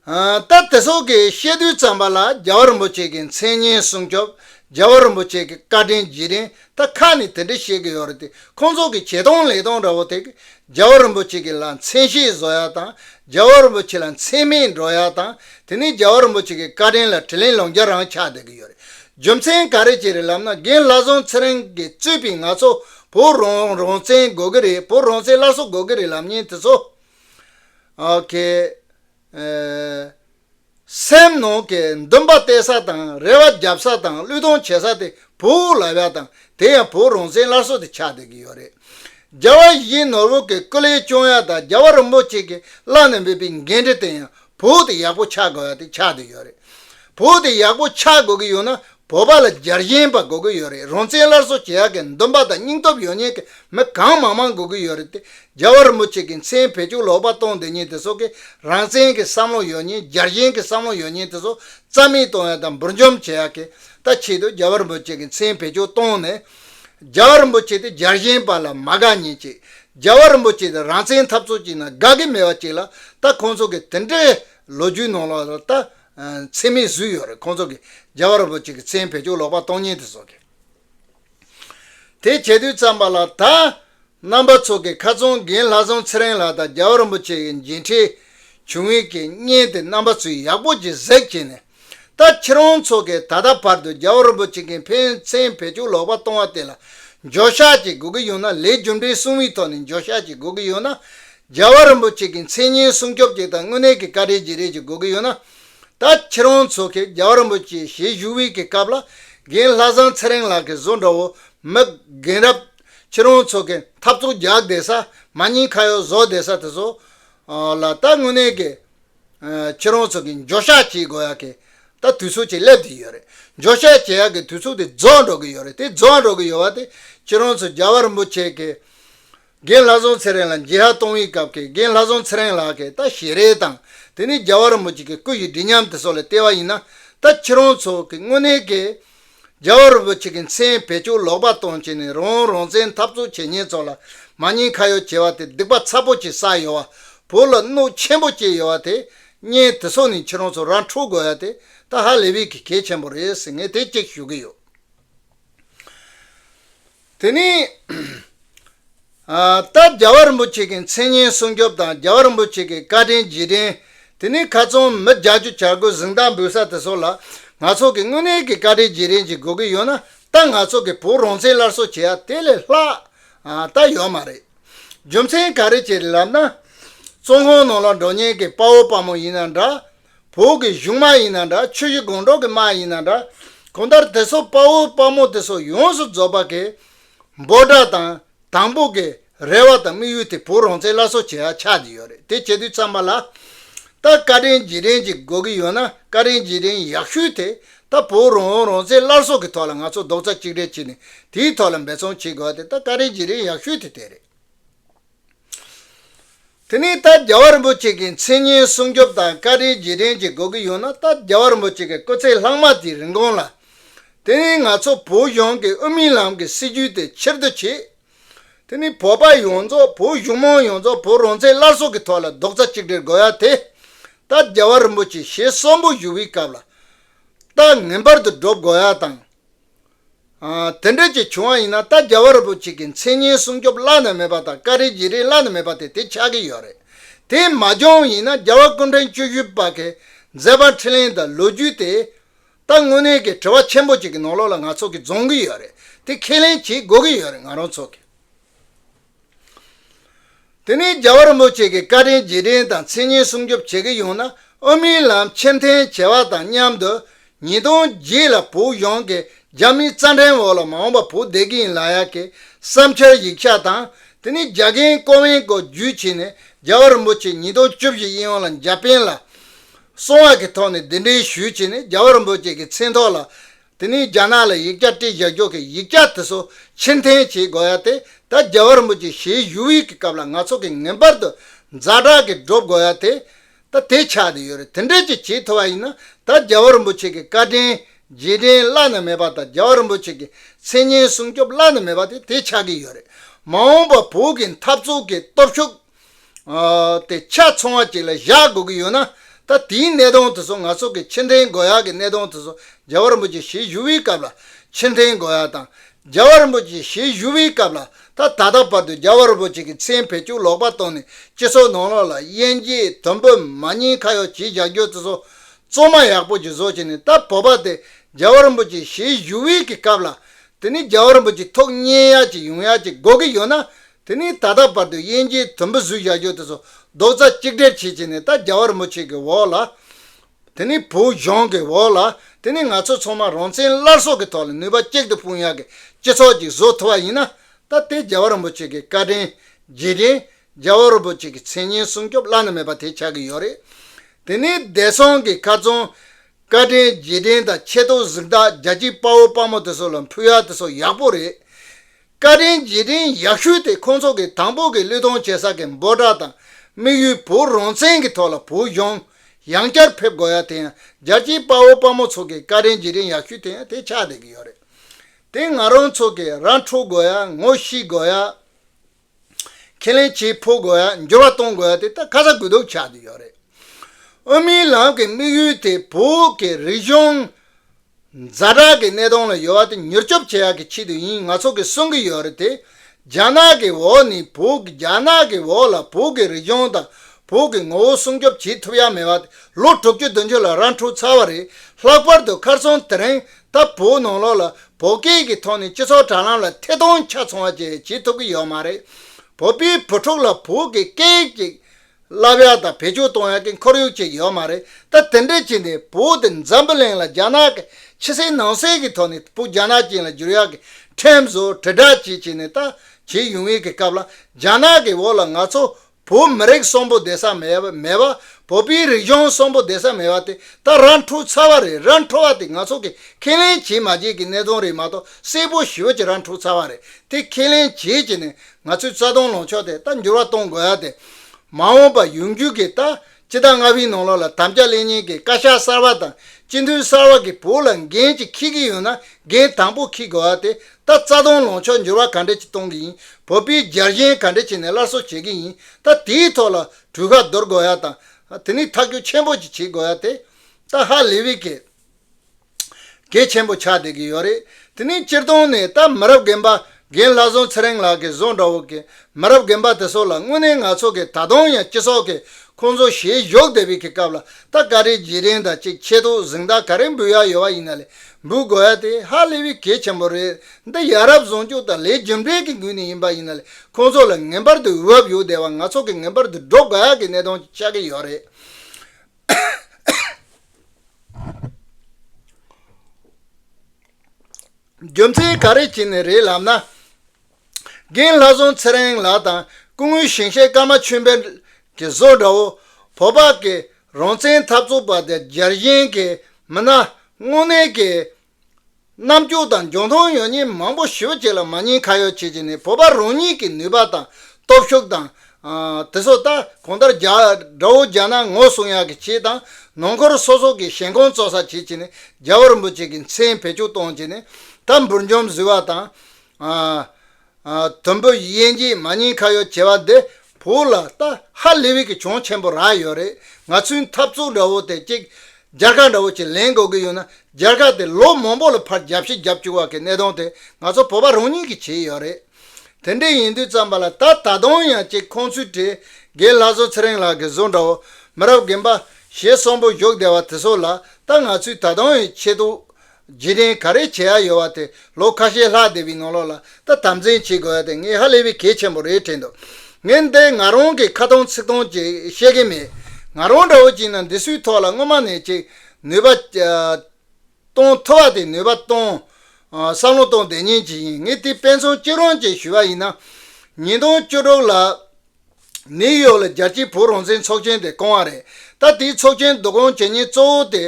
སྟབས་དེ་སོགས་ཀྱི་བཤད་རྡུལ་ཙམ་པ་ལ་རྒྱལ་བ་རིན་པོ་ཆེ་གི་མཚན་སྙན་སྲུང་སྐྱོབ་རྒྱལ་བ་རིན་པོ་ཆེ་གི་བཀའ་དྲིན་རྗེས་དྲན་ད་ཁ་ནས་དེ་འདྲ་བཤད་གི་ཡོད་རེད་དེ་ཁོང་ཚོ་གི་བྱས་སྟོང་ལས་སྟོང་འདྲ་བོ་དེ་གི་རྒྱལ་བ་རིན་པོ་ཆེ་གི་ལ་མཚན་ཤས་བཟོ་ཡག་དང་རྒྱལ་བ་རིན་པོ་ཆེ་ལ་མཚན་སྨད་འགྲོ་ཡག་དང་དེ་ནས་རྒྱལ་བ་རིན་པོ་ཆེ་གི་བཀའ་དྲིན་ལ་དྲི་ལན་ལོང་རྒྱ་རང་ཆགས་བསྡད་གི་ཡོད་རེད་རྒྱུ་མཚན་ག་རེ་བྱས་རེད་ལབ་ན་རྒན་ལྷ་བཟང་ཚེ་རིང་གི་རྩོད་པས་ང་ཚོ་བོད་རང་བཙན་དགོས་གི་རེད་བོད་རང་བཙན་སླར་གསོ་དགོས་གི་རེད་ལབ་ཉེན་དེ་ཚོ་གལ། སེམས་ནང་གི་འདུན་པ་གཏད་ས་དང་རེ་བ་བརྒྱབ་ས་དང་བློས་གཏོང་བྱེད་ས་དེ་བོད་དབུགས་ལ་བ་དང་དེ་ཡང་བོད་རང་བཙན་སླར་གསོ་དེ་ཆགས་བསྡད་ཀྱི་ཡོད་རེད། རྒྱ་བ་བཞིའི་ནོར་བུ་གི་སྐུ་ལས་བྱུང་ཡ་དང་རྒྱ་བ་རིན་པོ་ཆེ་གིས་བླངས་ནས་འབུད་པའི་འགན་འཁྲི་དེ་ཡང་བོད་དེ་ཡག་པོ་ཆགས་དགོས་པ་དེ་ཆགས་དུས་ཡོད་རེད། བོད་དེ་ཡག་པོ་ཆགས་དགོས་ཀྱི་ཡོད་ན་བོད་པ་ལ་འཇར་ཞེན་པ་དགོས་ཀྱི་ཡོད་རེད་རང་བཙན་སླར་གསོ་བྱེད་ཡག་གི་འདུན་པ་དང་སྙིང་སྟོབས་ཡོད་ཉེན་གྱི་མི་གང་མང་མང་དགོས་ཀྱི་ཡོད་རེད་དེ་རྒྱ་བ་རིན་པོ་ཆེ་གྱི་མཚན་བེད་སྤྱོད་ལོག་པ་གཏོང་འདི་ཉིད་དེ་སོགས་ཀྱི་རང་བཙན་གྱི་བསམ་བློ་ཡོད་ཉེན་འཇར་ཞེན་གྱི་བསམ་བློ་ཡོད་ཉེན་དེ་སོགས་རྩ་མེད་གཏོང་ཡག་དང་འབུར་འཇོམས་བྱེད་ཡག་གི་ད་ཆེད་དུ་རྒྱ་བ་རིན་པོ་ཆེ་གྱི་མཚན་བེད་སྤྱོད་གཏོང་ནས། རྒྱལ་བ་རིན་པོ་ཆེ་དེ་རྒྱལ་གཞན་པ་ལ་མ་དགའ་ཉེས་ཅིག་རྒྱལ་བ་རིན་པོ་ཆེ་དེ་རང་བཙན་འཐབ་རྩོད་ཅིག་ན་དགའ་གི་མེད་པ་ཅིག་ལ་ད་ཁོང་ཚོ་གི་དེ་འདྲའི་ལོ་རྒྱུས་ནང་ལ་ད་མཚན་མེད་བཟོས་ཡོད་རེད་ཁོང་ཚོ་གི་རྒྱལ་བ་རིན་པོ་ཆེ་གི་མཚན་བེད་སྤྱོད་ལོག་པ་སྟོང་ཉིད་དེ་བཟོ་གི་དེ་བྱེད་དུས་ཙམ་པ་ལ་ད་རྣམ་པ་ཚོ་གི་ཁ་ཚོང་རྒན་ལྷ་བཟང་ཚེ་རིང་ལགས་དང་རྒྱལ་བ་རིན་པོ་ཆེ་གི་མཇལ་འཕྲད་བྱུང་ཡུལ་གྱི་བརྙན་དེ་རྣམ་པ་ཚོས་ཡག་པོ་གྱི་གཟེགས་བྱས་ནས་ད་ཁྱེད་རང་ཚོ་གིས་ད་ལྟ་བར་དུ་རྒྱལ་བ་རིན་པོ་ཆེ་གིས་ཕན་ཚན་བེད་སྤྱོད་ལོག་པ་གཏོང་བ་དེ་ལ་འགྱོད་བཤགས་བྱེད་དགོས་ཀྱི་ཡོད་ན་ལས་རྒྱུ་འབྲས་གསུམ་བའི་ཐོག་ནས་འགྱོད་བཤགས་བྱེད་དགོས་ཀྱི་ཡོད་ན། རྒྱལ་བ་རིན་པོ་ཆེ་གི་མཚན་སྙན་སྲུང་སྐྱོབ་བྱེད་སྟངས་དངོས་གནས་ཀྱི་བཀའ་དྲིན་བརྗེ་རེས་བྱེད་དགོས་ཀྱི་ཡོད་ན། ད་ཁྱེད་རང་ཚོ་གིས་རྒྱལ་བ་རིན་པོ་ཆེའི་ཞལ་བཞུགས་དབུས་ཀྱི་སྐབས་ལ་རྒན་ལྷ་བཟང་ཚེ་རིང་ལགས་ཀྱི་བཟོ་འདྲ་བོ་མི་རྒན་རབས་ཁྱེད་རང་ཚོ་གིས་འཐབ་རྩོད་རྒྱག་བསྡད་ས་མ་ཉིན་ཁ་ཡོག་བཟོ་བསྡད་ས་དེ་ཚོ་ལ་ད་དངོས་གནས་ཀྱི། ཁྱེད་རང་ཚོ་གིས་འགྱོད་བཤགས་བྱེད་དགོས་ཡག་གི། ད་དུས་ཚོད་ཅིག་སླེབས་དུས་ཡོད་རེད། འགྱོད་བཤགས་བྱེད་ཡག་གི་དུས་ཚོད་དེ་རྫོགས་འགྲོ་གི་ཡོད་རེད་དེ་རྫོགས་འགྲོ་གི་ཡོད་བ་དེ་ཁྱེད་རང་ཚོ་རྒྱལ་བ་རིན་པོ་ཆེ་གི། རྒན་ལྷ་བཟང་ཚེ་རིང་ལ་མཇལ་ཧ་གཏོང་བའི་སྐབས་ཀྱི་རྒན་ལྷ་བཟང་ཚེ་རིང་ལགས་ཀྱིས་ད་ཞེ་རེ་དང་དེ་ནི་རྒྱལ་བ་རིན་པོ་ཆེ་གི་སྐུ་ཡི་སྒྲིག་ཉམས་དེ་སོགས་ལ་བལྟས་བ་ཡིན་ན། ད་ཁྱེད་རང་ཚོ་གིས་དངོས་གནས་ཀྱི། རྒྱལ་བ་རིན་པོ་ཆེ་གི་མཚན་བེད་སྤྱོད་ལོག་པར་གཏོང་བྱེད་ནས་རང་འོང་རང་བཙན་འཐབ་རྩོད་བྱེད་ཉེན་ཚོགས་ལ་མ་ཉེས་ཁ་ཡོག་བྱེད་པ་དེ་སྡིག་པ་ཚ་པོ་ཆེ་ས་ཡོད་བ་བོད་ལ་གནོད་ཆེན་པོ་སྐྱེལ་ཡོད་བ་དེ་བརྙན་དེ་ཚོ་ནས་ཁྱེད་རང་ཚོ་ར་འཕྲོད་དགོས་ཡ་དེ་ད་ཧ་ལས་བེད་ཀི་གལ་ཆེན་པོ་རེད་ཟེར་ངས་དེ་གཅིག་ཞུ་གི་ཡོད། དེ་ནི། རྟ་རྒྱ་བ་རིན་པོ་ཆེ་གི་མཚན་སྙན་སྲུང་སྐྱོབ་དང་རྒྱ་བ་རིན་པོ་ཆེ་གི་བཀའ་དྲིན་རྗེས་དྲན། དེ་ནི་ཁ་ཚོན་མི་རྒྱག་རྒྱུ་བྱ་དགོས་གཟིངས་རྟགས་འབུལ་ས་དེ་སོགས་ལ། ང་ཚོ་གི་དངོས་གནས་ཀྱི་བཀའ་དྲིན་རྗེས་དྲན་གྱི་དགོས་གི་ཡོད་ན་ད་ང་ཚོ་གི་བོད་རང་བཙན་སླར་གསོ་བྱེད་ཡ་དེ་ལས་ལྷག་ད་ཡོད་མ་རེད། རྒྱུ་མཚན་ག་རེ་བྱས་ལབ་ན། ཙོང་ཧོང་ནང་ལ་འགྲོ་ཉེན་གི་དཔའ་བོ་དཔའ་མོ་ཡིན་ན་འདྲ། བོད་ཀྱི་གཞུང་མ་ཡིན་ན་འདྲ་ཆོས་གཞི་དགོངས་གྲོགས་ཀྱི་མ་ཡིན་ན་འདྲ། གང་ལྟར་དེ་སོགས་དཔའ་བོ་དཔའ་མོ་དེ་སོགས་ཡོངས་སུ་རྫོགས་པ་གི། འབོད་སྒྲ་དང་དང་པོ་གི་རེ་བ་དང་དམིགས་ཡུལ་དེ་བོད་རང་བཙན་བླ་སྲོག་བྱེད་ཡ་ཆགས་ཀྱི་ཡོད་རེད་དེ་བྱེད་དུས་ཚང་མ་ལ། ད་བཀའ་དྲིན་རྗེས་དྲན་གྱི་དགོས་ཀྱི་ཡོད་ན་བཀའ་དྲིན་རྗེས་དྲན་ཡག་ཤོས་དེ་ད་བོད་རང་དབང་རང་བཙན་བླར་སྲོག་གི་ཐོག་ལ་ང་ཚོ་རྡོག་རྩ་གཅིག་སྒྲིལ་བྱེད་ནས་དེའི་ཐོག་ལ་འབད་བརྩོན་བྱེད་དགོས་ཡ་དེ་ད་བཀའ་དྲིན་རྗེས་དྲན་ཡག་ཤོས་དེ་དེ་རེད། དེ་ནི་ལྟ་རྒྱ་བ་རིན་པོ་ཆེ་གི་མཚན་སྙན་སྲུང་སྐྱོབ་དང་བཀའ་དྲིན་རྗེས་དྲན་བྱེད་དགོས་ཀྱི་ཡོད་ན་ལྟ་རྒྱ་བ་རིན་པོ་ཆེ་གི་སྐུ་ཚེ་ལྷག་མ་དེའི་རིན་གོང་ལ། དེ་ནི་ང་ཚོ་བོད་གཞུང་གི་དབུ་མའི་ལམ་གི་སྲིད་བྱུས་དེ་ཕྱིར་བསྡུ་བྱས། དེ་ནི་བོད་པ་ཡོངས་རྫོགས་བོད་གཞུང་མང་ཡོངས་རྫོགས་བོད་རང་བཙན་སླར་གསོ་གི་ཐོག་ལ་རྡོག་རྩ་གཅིག་སྒྲིལ་དགོས་ཡ་དེ། ལྟ་རྒྱ་བ་རིན་པོ་ཆེ་ཞེས་གསོན་པོ་བཞུགས་པའི་སྐབས་ལ། ལྟ་ངན་པར་དུ་སྒྲུབ་དགོས་ཡ་དང། དེ་འདྲ་ཅིག་བྱུང་བ་ཡིན་ན་ད་རྒྱ་བ་རི་པོ་ཆེ་གི་མཚན་སྙན་སྲུང་སྐྱོབ་བླ་ན་མེད་པ་དང་བཀའ་རེ་རྗེ་རེ་བླ་ན་མེད་པ་དེ་དེ་ཆགས་ཀྱི་ཡོད་རེད་དེ་མ་འབྱུང་ཡིན་ན་རྒྱ་བ་སྐུ་འཕྲེང་བཅུ་བཞི་པ་གི་མཛད་པ་འཕྲིན་ལན་དང་ལོ་རྒྱུས་དེ་ད་དངོས་གནས་ཀྱི་དྲི་བ་ཆེན་པོ་ཅིག་གི་ནང་ལོགས་ལ་ང་ཚོ་གི་རྫོང་གི་ཡོད་རེད་དེ་ཁས་ལེན་བྱེད་དགོས་ཀྱི་ཡོད་རེད་ང་རང་ཚོ་གི། དེ་ནས་རྒྱལ་བ་རིན་པོ་ཆེ་གིས་བཀའ་དྲིན་རྗེས་དྲན་དང་མཚན་སྙན་སྲུང་སྐྱོབ་བྱེད་ཀྱི་ཡོང་ན་ཨོ་མིན་ལམ་ཕྱིར་འཐེན་བྱས་པ་དང་མཉམ་དུ་ཉིས་སྟོང་བརྒྱད་ལ་བོད་གཞུང་གི་རྒྱ་མིའི་རྩ་འགྲེམས་འོག་ལ་མ་འོངས་པ་བོད་བདེ་སྐྱིད་ལ་ཡག་གི་བསམ་འཆར་ཡིག་ཆ་དང་དེ་ནས་རྒྱ་རྒན་ཀོ་ཝེན་ཀོ་བརྒྱུད་བྱས་ནས་རྒྱལ་བ་རིན་པོ་ཆེ་ཉིས་སྟོང་བཅུ་བཞི་དབྱིན་ཡུལ་ལ་འཇབ་འཕེན་ལ་སོང་བ་གི་ཐོག་ནས་འདི་འདྲའི་ཞུས་བྱས་ནས་རྒྱལ་བ་རིན་པོ་ཆེ་གི་མཚན་ཐོག་ལ་དེ་ནས་རྒྱ་ནག་ལ་ཡིག་བརྒྱ་སྤྲད་བཞག་འཇོག་གི་ཡིག་བརྒྱ་དེ་ཚོ་ཕྱིར་འཐེན་བྱེད་དགོས་ཡ་དེ་ད་རྒྱ་བར་མོ་ཅིག་ཞེས་ཞུ་བའི་གི་སྐབས་ལ་ང་ཚོ་གི་ངན་པར་དུ་འཛའ་དྲག་གི་སྒྲོབ་དགོས་ཡ་དེ་ད་དེ་ཆགས་དུ་ཡོད་རེད་དེ་འདྲས་ཅིག་བྱེད་ཐུབ་པ་ཡིན་ན་ད་རྒྱ་བར་མོ་ཆེ་གི་བཀའ་དྲིན་རྗེས་དྲིན་བླ་ན་མེད་པ་དང་རྒྱ་བར་མོ་ཆེ་གི་མཚན་སྙན་སྲུང་སྐྱོབ་བླ་ན་མེད་པ་དེ་དེ་ཆགས་གི་ཡོད་རེད་མ་འོངས་པ་བོད་གི་འཐབ་རྩོད་གི་སྟོབས་ཤུགས། དེ་ཆ་ཚང་བ་ཅིག་ལ་བཞག་དགོས་ཀྱི་ཡོད་ན། ད་དེའི་གནད་དོན་དེ་ཚོ་ང་ཚོ་གི་ཕྱིར་འཐེན་དགོས་ཡག་གི་གནད་དོན་དེ་ཚོ་རྒྱལ་བ་རིན་པོ་ཆེ་ཞལ་བཞུགས་པའི་སྐབས་ལ་ཕྱིར་འཐེན་དགོས་ཡག་དང། རྒྱལ་བ་རིན་པོ་ཆེ་ཞལ་བཞུགས་པའི་སྐབས་ལ་ད་ད་ལྟ་བར་དུ་རྒྱལ་བ་རིན་པོ་ཆེ་གི་མཚན་བེད་སྤྱོད་ལོག་པ་བཏང་ནས་སྤྱི་ཚོགས་ནང་ལོག་ལ་དབྱེན་འབྱེད་དོན་བོད་མ་གཉིས་ཁ་ཡོག་བྱེད་བཞག་རྒྱུ་དེ་ཚོ་བཙོ་མ་ཡག་པོ་ཅིག་བཟོ་བྱས་ནས་ད་བོད་པ་དེ་རྒྱལ་བ་རིན་པོ་ཆེ་ཞལ་བཞུགས་པའི་གི་སྐབས་ལ་དེ་ནི་རྒྱལ་བ་རིན་པོ་ཆེ་ཐུགས་མཉེས་ཡག་ཅིག་ཡོང་ཡག་ཅིག་དགོས་ཀྱི་ཡོད་ན་དེ་ནས་ད་ལྟ་བར་དུ་དབྱེན་སྐྱེས་དུམ་བུ་གཟུགས་བཞག་ཆོག་དེ་སོགས་རྡོག་རྩ་གཅིག་སྦྲེལ་བྱེད་བྱས་ནས་ད་རྒྱ་བར་མོ་ཆེ་གི་འོག་ལ། དེ་ནས་བུ་གཞོན་གི་འོག་ལ། དེ་ནས་ང་ཚོ་ཚང་མ་རང་བཙན་སླར་གསོ་གི་ཐོག་ལ་ནུས་པ་གཅིག་ཏུ་སྤུངས་ཡག་གི་སྤྱི་ཚོགས་ཅིག་བཟོ་ཐུབ་པ་ཡིན་ན། ད་དེ་རྒྱ་བར་མོ་ཆེ་གི་བཀའ་དྲིན། རྗེས་དྲིན། རྒྱ་བར་བོ་ཆེ་གི་མཚན་སྙན་སྲུང་སྐྱོབ་བླ་ན་མེད་པ་དེ་ཆགས་གི་ཡོད་རེད། དེ་ནས་བདེ་སྲུང་གི་ཁ་ཙོང། བཀའ་དྲིན་རྗེས་དྲིན་དང་ཆེ་མཐོང་གཟིགས་རྟགས་རྒྱ་སྐྱིད་དཔའ་བོ་དཔའ་མོ་དེ་སོགས་ལ་འཕུལ་ཡག་དེ་སོགས་ཡག་པོ་རེད། བཀའ་དྲིན་རྗེས་དྲིན་ཡག་ཞུས་ཏེ་ཁོང་ཚོ་གི་དང་པོ་གི་གླུད་གཏོང་བྱེད་ས་གི་འབོ་བྲག་དང་དམིགས་ཡུལ་བུ་རོང་བཙན་གི་ཐོག་ལ་བུ་གཞོང་ཡང་བསྐྱར་ཕེབས་དགོ་ཡ་དེ་ཡང་རྒྱལ་སྤྱིའི་དཔའ་བོ་དཔའ་མོ་ཚོ་གི་བཀའ་དྲིན་རྗེས་དྲིན་ཡག་ཞུས་དེ་ཡང་དེ་ཆགས་བསྡད་གི་ཡོད་རེད་དེ་ང་རང་ཚོ་གི་རང་འཁྲུག་དགོ་ཡ་ངོ་ཤིས་དགོ་ཡ་ཁས་ལེན་བྱེད་ཕོ་དགོ་ཡ་འགྱུར་བ་གཏོང་དགོ་ཡ་དེ་ད་ཁ་ས་གུ་དུག་ཆགས་བསྡད་ཡོད་རེད་དབུ་མའི་ལམ་གི་དམིགས་ཡུལ་དེ་བོད་གི་རིག་གཞུང། རྫ་དྲག་གི་གནས་སྟངས་ལ་ཡོད་བ་དེ་མྱུར་སྐྱོབ་བྱེད་ཡག་གི་ཆེད་དུ་ཡིན་ང་ཚོ་གི་གསུང་གི་ཡོད་རེད་དེ་རྒྱ་ནག་གི་འོག་ནས་བོད་རྒྱ་ནག་གི་འོག་ལ་བོད་གི་རིག་གཞུང་དང་བོད་གི་ངོ་བོ་སྲུང་སྐྱོབ་བྱེད་ཐུབ་ཡག་མེད་བ་དེ་ལོ་དྲུག་ཅུ་བདུན་ཅུ་ལ་རང་འཁྲུག་ཚར་བ་རེད་ལྷག་པར་དུ་ཁར་སོང་དེ་རིང་ད་བོད་ནང་ལོག་ལ་བོད་སྐད་གི་ཐོག་ནས་སྤྱི་ཚོགས་དྲ་ལམ་ལ་ཐེ་གཏོང་ཆ་ཚང་བ་བཅས་བྱེད་ཐུབ་གི་ཡོད་མ་རེད་བོད་པའི་བུ་ཕྲུག་ལ་བོད་གི་སྐད་ཅིག་གླ་བ་དང་བེད་སྤྱོད་གཏོང་ཡག་གི་འཁོར་ཡུག་ཅིག་ཡོད་མ་རེད་ད་དེ་འདྲས་བྱས་འདི་བོད་དེ་འཛམ་བུ་གླིང་ལ་རྒྱ་ནག་གི་ཕྱི་སེལ་ནང་སེལ་གི་ཐོག་ནས་བོད་རྒྱ་ནག་ཅན་ལ་བསྒྱུར་ཡག་གི་ཁྲིམས་བཟོ་དྲིལ་བསྒྲགས་བྱས་བྱས་ནས་ད་བྱས་ཡུང་ཡིག་གི་སྐབས་ལ་རྒྱ་ནག་གི་བོད་ལ་ང་ཚོ་བོད་མི་རིགས་གསོན་པོ་བསྡད་ས་མེད་པ་བོད་པའི་རིགས་གཞུང་གསོན་པོ་བསྡད་ས་མེད་པ་དེ་ད་ར་འཁྲུག་ཚར་བ་རེད་ར་འཁྲུག་བ་དེ་ང་ཚོ་གི་ཁས་ལེན་བྱས་མ་བྱས་གི་གནད་དོན་རེད་མ་གཏོགས་གསལ་པོ་ཞུ་བྱས་ར་འཁྲུག་ཚར་བ་རེད་དེ་ཁས་ལེན་བྱས་བྱས་ནས་ང་ཚོས་རྩ་སྟོང་ལོངས་ཕྱོགས་དེ་ལྟར་འགྱུར་བ་གཏོང་དགོས་ཡ་དེ། མ་འོངས་པར་ཡོང་རྒྱུ་གི་ལྟ་ཇི་ལྟར་སྔར་བྷིའི་ནང་ལོགས་ལ་དམ་བཅའ་གླེང་ཉན་གི་བཀའ་ཤག་གསར་བ་དང་སྤྱི་མཐུན་གསར་བ་གི་བོུ་ལ་འགན་ཅིག་འཁྱིལ་གི་ཡོད་ན་འགན་དང་པོ་འཁྱིལ་དགོས་ཡ་དེ་ལྟ་རྩ་སྟོང་ལོངས་ཕྱོགས་འགྱུར་བ་ག་འདྲེ་ཅིག་གཏོང་གི་ཡིན་བོད་པིའི་རྒྱལ་གཞེན་ག་འདྲེ་བྱེད་ནས་སླར་གསོ་བྱེད་གི་ཡིན་ལྟ་དེའི་ཐོག་ལ་གྲུས་ཁ་འདོར་དགོས་ཡ་དང་དེ་ནི་ཐག་གྱོ་ཆེན་པོ་ཅིག་བྱེད་དགོས་ཡ་དེ་ལྟ་ཧ་ལི་བི་ཀེ། གལ་ཆེན་པོ་ཆགས་བསྡད་ཀྱི་ཡོད་རེད་དེ་ནི་སྤྱིར་བཏང་ནས་ད་མི་རབས་རྒན་པ་རྒན་ལྷ་བཟང་ཚེ་རིང་ལགས་ཀྱི་བཟོ་འདྲ་བོ་གི་མི་རབས་རྒན་པ་དེ་ཚོ་ལ་དངོས་གནས་ང་ཚོ་གི་ད་དུང་ཡང་སྤྱི་ཚོགས་ཀྱི་ཁོང་ཚོ་ཞལ་བཞོག་བསྡད་པའི་གི་སྐབས་ལ་ད་བཀའ་ཁྲི་རྗེས་དྲན་དང་ཅིག་ཆེད་དུ་གཟིགས་མདའ་ག་རེ་འབུལ་ཡག་ཡོད་པ་ཡིན་ན་ལས་འབུལ་དགོས་ཡ་དེ་ཧ་ལས་པའི་གལ་ཆེན་པོ་རེད་འདི་ཡ་རབས་བཟང་སྤྱོད་དང་ལས་རྒྱུ་འབྲས་ཀྱི་འགུལ་ནས་ཡིན་པ་ཡིན་ན་ལས་ཁོང་ཚོ་ལ་ངེས་པར་དུ་འོས་བབ་ཡོད་བསྡད་པ་ང་ཚོ་གི་ངེས་པར་དུ་སྒྲོག་དགོས་ཡག་གི་གནད་དོན་ཆགས་ཀྱི་ཡོད་རེད། རྒྱུ་མཚན་ག་རེ་བྱས་ནས་རེད་ལབ་ན། རྒན་ལྷ་སྲོང་ཚེ་རིང་ལགས་དང་སྐུ་ངོའི་ཞིང་གཤེགས་ཀརྨ་ཆོས་འཕེལ་གྱི་བཟོ་འདྲ་བོ་བོ་དཔག་གིས་རང་བཙན་འཐབ་རྩོད་པ་དེ་རྒྱལ་ཞེན་གྱི་མི་སྣ་དངོས་གནས་ཀྱི་རྣམ་འགྱུར་དང་འབྱུང་སྟངས་ཡོད་ཉེས་མང་པོ་ཞིབ་བྱས་ལ་མ་ཉེས་ཁ་ཡོག་བྱེད་ཀྱི་ནི་བོད་པ་རང་ཉིད་ཀྱི་ནུས་པ་དང་སྟོབས་ཤུགས་དང། དེ་སོགས་ལྟ་གོང་ལྟར་རྒྱ་དགྲ་བོ་རྒྱ་ནག་ངོ་སྲུང་ཡག་གི་བྱེད་དང་ནང་འཁོར་སོ་སོ་གི་ཞེན་ཁོང་བཙོག་ས་བྱེད་ཀྱི་ནི་རྒྱ་བོ་རིན་པོ་ཆེ་གི་མཚན་བེད་སྤྱོད་གཏོང་ཀྱི་ནི་ད་འབུར་འཇོམས་བཟི་བ་དང། དུམ་བུ་དབྱེ་འབྱེད་མ་རྙིང་ཁ་ཡོག་བྱེད་པ་འདི་བོད་ལ་ལྟ་ཧ་ལས་བས་ཀྱི་གྱོང་ཆེན་པོ་རག་ཡོད་རེད་ང་ཚོའི་འཐབ་རྩོད་འདྲ་བོ་དེ་ཅིག་རྒྱ་གར་འདྲ་བོ་ཅིག་ལེན་དགོས་ཀྱི་ཡོད་ན་རྒྱ་གར་དེ་ལོ་མང་པོ་ལ་ཕར་རྒྱབ་ཕྱི་རྒྱབ་བཅུག་བ་གི་གནད་དོན་དེ་ང་ཚོ་བོད་པ་རང་ཉིད་ཀྱི་བྱས་ཡོད་རེད་དེ་འདྲས་ཡིན་དུས་བརྩམས་པ་ལ་ད་ད་དུང་ཡང་ཅིག་ཁོང་ཚོའི་གྲས་རྒན་ལྷ་བཟོ་ཚེ་རིང་ལགས་ཀྱི་བཟོ་འདྲ་བོ་མི་རབས་རྒན་པ་ཞེས་གསོན་པོ་བཞུགས་བསྡད་བ་དེ་ཚོ་ལ་ད་ང་ཚོས་ད་དུང་ཡང་ཆེད་དུ་རྗེས་དྲན་ག་རེ་བྱེད་ཡ་ཡོད་བ་དེ་ལོ་ཁ་ཤས་ལྷག་སྡེ་བའི་ནང་ལོགས་ལ་ད་དམ་འཛིན་བྱེད་དགོས་ཡ་དེ་ངས་ཧ་ལས་པའི་གལ་ཆེན་པོ་རེད་དྲན་འདུག་ངས་འདི་ང་རང་གི་ཁ་ཐང་ཚིག་ཐང་གཅིག་བཤད་གིན་མེད་ང་རང་འདྲ་བོ་གཅིག་ན་འདི་སུའི་ཐོག་ལ་སྔོན་མ་ནས་ཅིག་ནུས་པ་གཏོང་ཐུབ་བ་དེ་ནུས་པ་གཏོང། བསམ་བློ་གཏོང་བདེ་ཉིན་གཅིག་ཡིན་ངས་དེ་དཔེ་མཚོན་གཅིག་རང་གཅིག་ཞུས་བ་ཡིན་ན། ཉིས་སྟོང་བཅུ་དྲུག་ལ། ནིའུ་ཡོག་ལ་རྒྱལ་སྤྱིའི་བོད་རང་བཙན་ཚོགས་ཆེན་དེ་བསྐོང་བ་རེད། ད་དེའི་ཚོགས་ཆེན་བསྡུ་བསྐོང་བྱེད་ཉེན་གཙོ་བོ་དེ།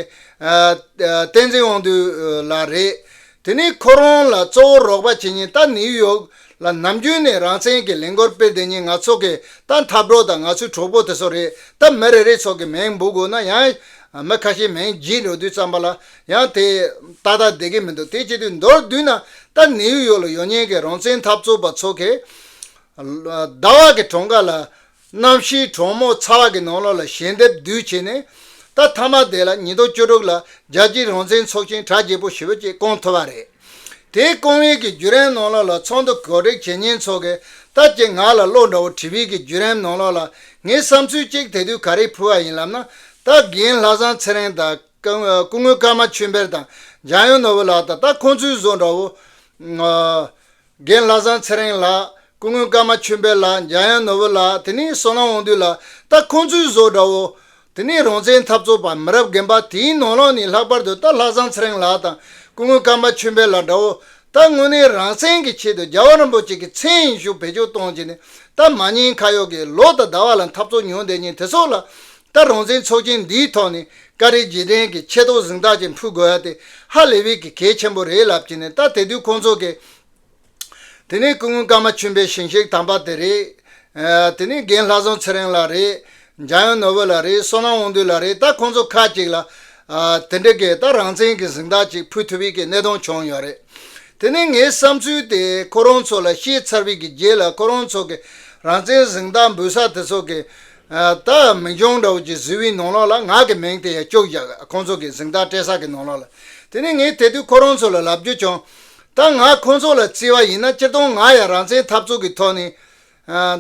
བསྟན་འཛིན་དབང་འདུས་ལགས་རེད། དེ་ནི་ཁོ་རང་ལ་གཙོ་བོ་རོགས་པ་བྱེད་ཉེན་ད་ནིའུ་ཡོག་ལ་ནམ་རྒྱུན་ནས་རང་བཙན་གྱི་ལས་འགོར་སྤེལ་བསྡད་ཉེན་ང་ཚོ་གི་ད་འཐབ་གྲོགས་དང་ང་ཚོའི་གྲོགས་པོ་དེ་ཚོ་རེད་ད་མི་རེ་རེ་ཚོགས་ཀྱི་མིང་འབུ་དགོས་ན་ཡང། མི་ཁ་ཤས་མིང་བགྱིས་འགྲོ་དུས་ཙམ་པ་ལ་ཡང་དེ་ཏག་ཏག་བསྡད་ཀྱི་མི་འདུག་དེ་བྱེད་དུས་མདོར་བསྡུས་ན་ད་ནིའུ་ཡོག་ལ་ཡོང་ཉེན་གྱི་རང་བཙན་འཐབ་རྩོད་པ་ཚོ་གི། ཟླ་བ་གི་གྲོང་ཁ་ལ། གནམ་གཤིས་གྲོག་མོ་ཚ་བ་གི་ནང་ལོགས་ལ་ཞལ་འདེབས་བསྡུས་བྱས་ནས། ད་ཐ་མ་དེ་ལ་ཉིས་སྟོང་བཅུ་དྲུག་ལ་རྒྱལ་སྤྱིའི་རང་བཙན་ཚོགས་ཆེན་གྲ་རྒྱས་པོ་ཞི་བ་བཅས་བསྐོང་ཐུབ་པ་རེད། དེའི་བསྐོང་ཡུལ་གྱི་བརྒྱུད་རིམ་ནང་ལོགས་ལ་ཚོགས་འདུ་གོ་སྒྲིག་བྱེད་ཉེན་ཚོགས་ཀྱི་ལྟ་ཅི་ང་ལ་བློ་འདྲ་བོ་དྲི་བའི་གི་བརྒྱུད་རིམ་ནང་ལོགས་ལ་ངའི་བསམ་ཚུལ་གཅིག་དེ་དུས་ག་རེ་ཕུལ་བ་ཡིན་ལབ་ན། ད་རྒན་ལྷ་བཟང་ཚེ་རིང་དང། སྐུ་ངོ་ཀརྨ་ཆོས་འཕེལ་དང། འཇམ་དབྱངས་ནོར་བུ་ལགས་དང་ད་ཁོང་ཚོའི་བཟོ་འདྲ་བོ། རྒན་ལྷ་བཟང་ཚེ་རིང་ལགས། སྐུ་ངོས་སྐར་མ་ཆོས་འཕེལ་ལགས་འཇམ་དབྱངས་ནོར་བུ་ལགས་དེ་ནི་བསོད་ནམས་དབང་འདུས་ལགས་ད་ཁོང་ཚོའི་བཟོ་འདྲ་བོ། དེ་ནི་རང་བཙན་འཐབ་རྩོད་པ་མི་རབས་རྒན་པ་དེའི་ནོར་ལག་ནི་ལྷག་པར་དུ་ད་ལྷ་བཟང་ཚེ་རིང་ལགས་དང་སྐུ་ངོས་སྐར་མ་ཆོས་འཕེལ་ལགས་འདྲ་བོ། ད་དངོས་གནས་རང་བཙན་གྱི་ཆེད་དུ་རྒྱལ་བ་རིན་པོ་ཆེ་གི་མཚན་ཡིན་ཞུ་བེད་སྤྱོད་གཏོང་བྱེད་ནི་ད་མ་ཉེས་ཁ་ཡོག་གི་ལོ་ད་ད་བ་ལ་འཐབ་རྩོད་མྱོང་བསྡད་ཉིན་དེ་སོགས་ལ་ད་རང་བཙན་ཚོགས་ཆེན་འདིའི་ཐོག་ནས་ཀ་རེ་རྗེས་དྲན་གྱི་ཆེ་མདོག་གཟེངས་རྟགས་ཅིག་འཕུལ་དགོས་ཡ་དེ་ཧ་ལས་བས་ཀྱི་གལ་ཆེན་པོ་རེད་ལབ་ཀྱི་ནས་ད་དེ་དུས་ཁོང་ཚོ་གས། དེ་ནས་སྐུ་ངོ་ཀརྨ་ཆུན་པའི་ཞིང་གཤེགས་དམ་པ་དེ་རེད། དེ་ནས་རྒན་ལྷ་བཟང་ཚེ་རིང་ལགས་རེད། འཇམ་དབྱངས་ནོར་བུ་ལགས་རེད་བསོད་ནམས་དབང་འདུས་ལགས་རེད་ད་ཁོང་ཚོ་ཁག་ཅིག་ལ། དེ་འདྲ་གས་ད་རང་བཙན་གྱི་གཟེངས་རྟགས་ཅིག་འཕུལ་ཐུབ་བས་ཀྱི་གནད་དོན་བྱུང་ཡོད་རེད། དེ་ནས་ངའི་བསམ་ཚུལ་དེ་ཁོ་རང་ཚོ་ལ་བཤད་ཚར་བས་ཀྱི་རྗེས་ལ་ཁོ་རང་ཚོ་གས་རང་བཙན་གཟེངས་རྟགས་འབུལ་ས་དེ་ཚོ་གས། ད་མི་འབྱུང་འདྲ་བོ་ཀྱི་གཟི་འོད་ནང་ལོགས་ལ་ངག་གི་མིང་དེ་ཡང་བཅུག་བཞག་ཁོང་ཚོ་གི་གཟིངས་རྟགས་སྤྲད་ས་གི་ནང་ལོགས་ལ། དེ་ནས་ངས་དེ་དུས་ཁོ་རང་ཚོ་ལ་ལབ་རྒྱུ་བྱུང། ད་ང་ཁོང་ཚོ་ལ་བརྩི་བ་ཡིན་ན་སྤྱིར་བཏང་ང་ཡང་རང་བཙན་འཐབ་རྩོད་ཀྱི་ཐོག་ནས།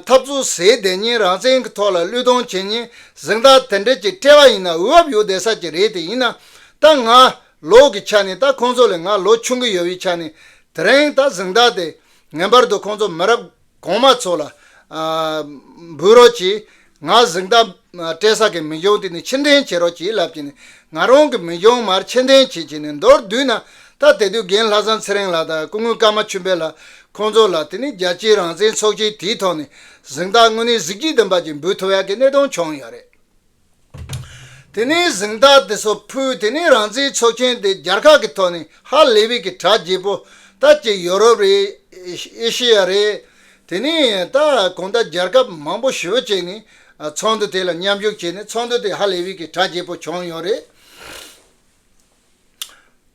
འཐབ་རྩོད་ཟས་བསྡད་ཉིན་རང་བཙན་གྱི་ཐོག་ལ་བློས་གཏོང་བྱེད་ཉིན་གཟིངས་རྟགས་དེ་འདྲ་ཅིག་སྤྲད་པ་ཡིན་ན་འུར་བབ་ཡོད་བསྡད་ས་ཅིག་རེད་དེ་ཡིན་ན། ད་ང་ལོགས་ཀྱི་ཆ་ནས་ད་ཁོང་ཚོ་ལས་ང་ལོ་ཆུང་གི་ཡོད་པའི་ཆ་ནས་དེ་རིང་ད་གཟིངས་རྟགས་དེ་ངན་པར་དུ་ཁོང་ཚོ་མི་རབས། གོང་མ་ཚོ་ལ། འབུལ་རོགས་གྱིས། ང་གཟིགས་མདའ། སྤྲད་ས་གི་མི་གཞོང་དེ་ནས་ཕྱིར་འདྲེན་བྱེད་རོགས་གྱིས་ལབ་ཀྱིས་ནས་ང་རང་གི་མི་གཞོང་མར་ཕྱིར་འདྲེན་བྱེད་ཀྱིས་ནས་མདོར་བསྡུས་ན། ད་དེ་དུས་རྒན་ལྷ་བཟང་ཚེ་རིང་ལགས་དང་སྐུ་ངོས་ཀརྨ་ཆུ་འབེལ་ལགས་ཁོང་ཚོ་ལ་དེ་ནས་རྒྱལ་སྤྱིའི་རང་བཙན་ཚོགས་ཆེན་དེའི་ཐོག་ནས་གཟིགས་མདའ་དངོས་གནས་གཟིགས་ཀྱིས་བདུན་པ་ཅིག་འབུལ་ཐུབ་ཡག་གི་གནད་དོན་བྱུང་ཡོད་རེད། དེ་ནས་གཟེངས་རྟགས་དེ་ཚོ་ཕུལ་དེ་ནས་རང་བཙན་ཆོག་མཆན་དེ་རྒྱར་ཁག་གི་ཐོག་ནས་ཧ་ལས་བིས་ཀྱི་གྲགས་རྒྱས་པོ་ད་ཀྱི་ཡོ་རོབ་རེད་ཨེ་ཤེ་ཡ་རེད་དེ་ནས་ད་གོང་ད་རྒྱར་ཁབ་མང་པོ་ཞོལ་བཅས་ནས་ཚོགས་འདུ་དེ་ལ་མཉམ་ཞུགས་བྱས་ནས་ཚོགས་འདུ་དེ་ཧ་ལས་བིས་ཀྱི་གྲགས་རྒྱས་པོ་བྱུང་ཡོད་རེད།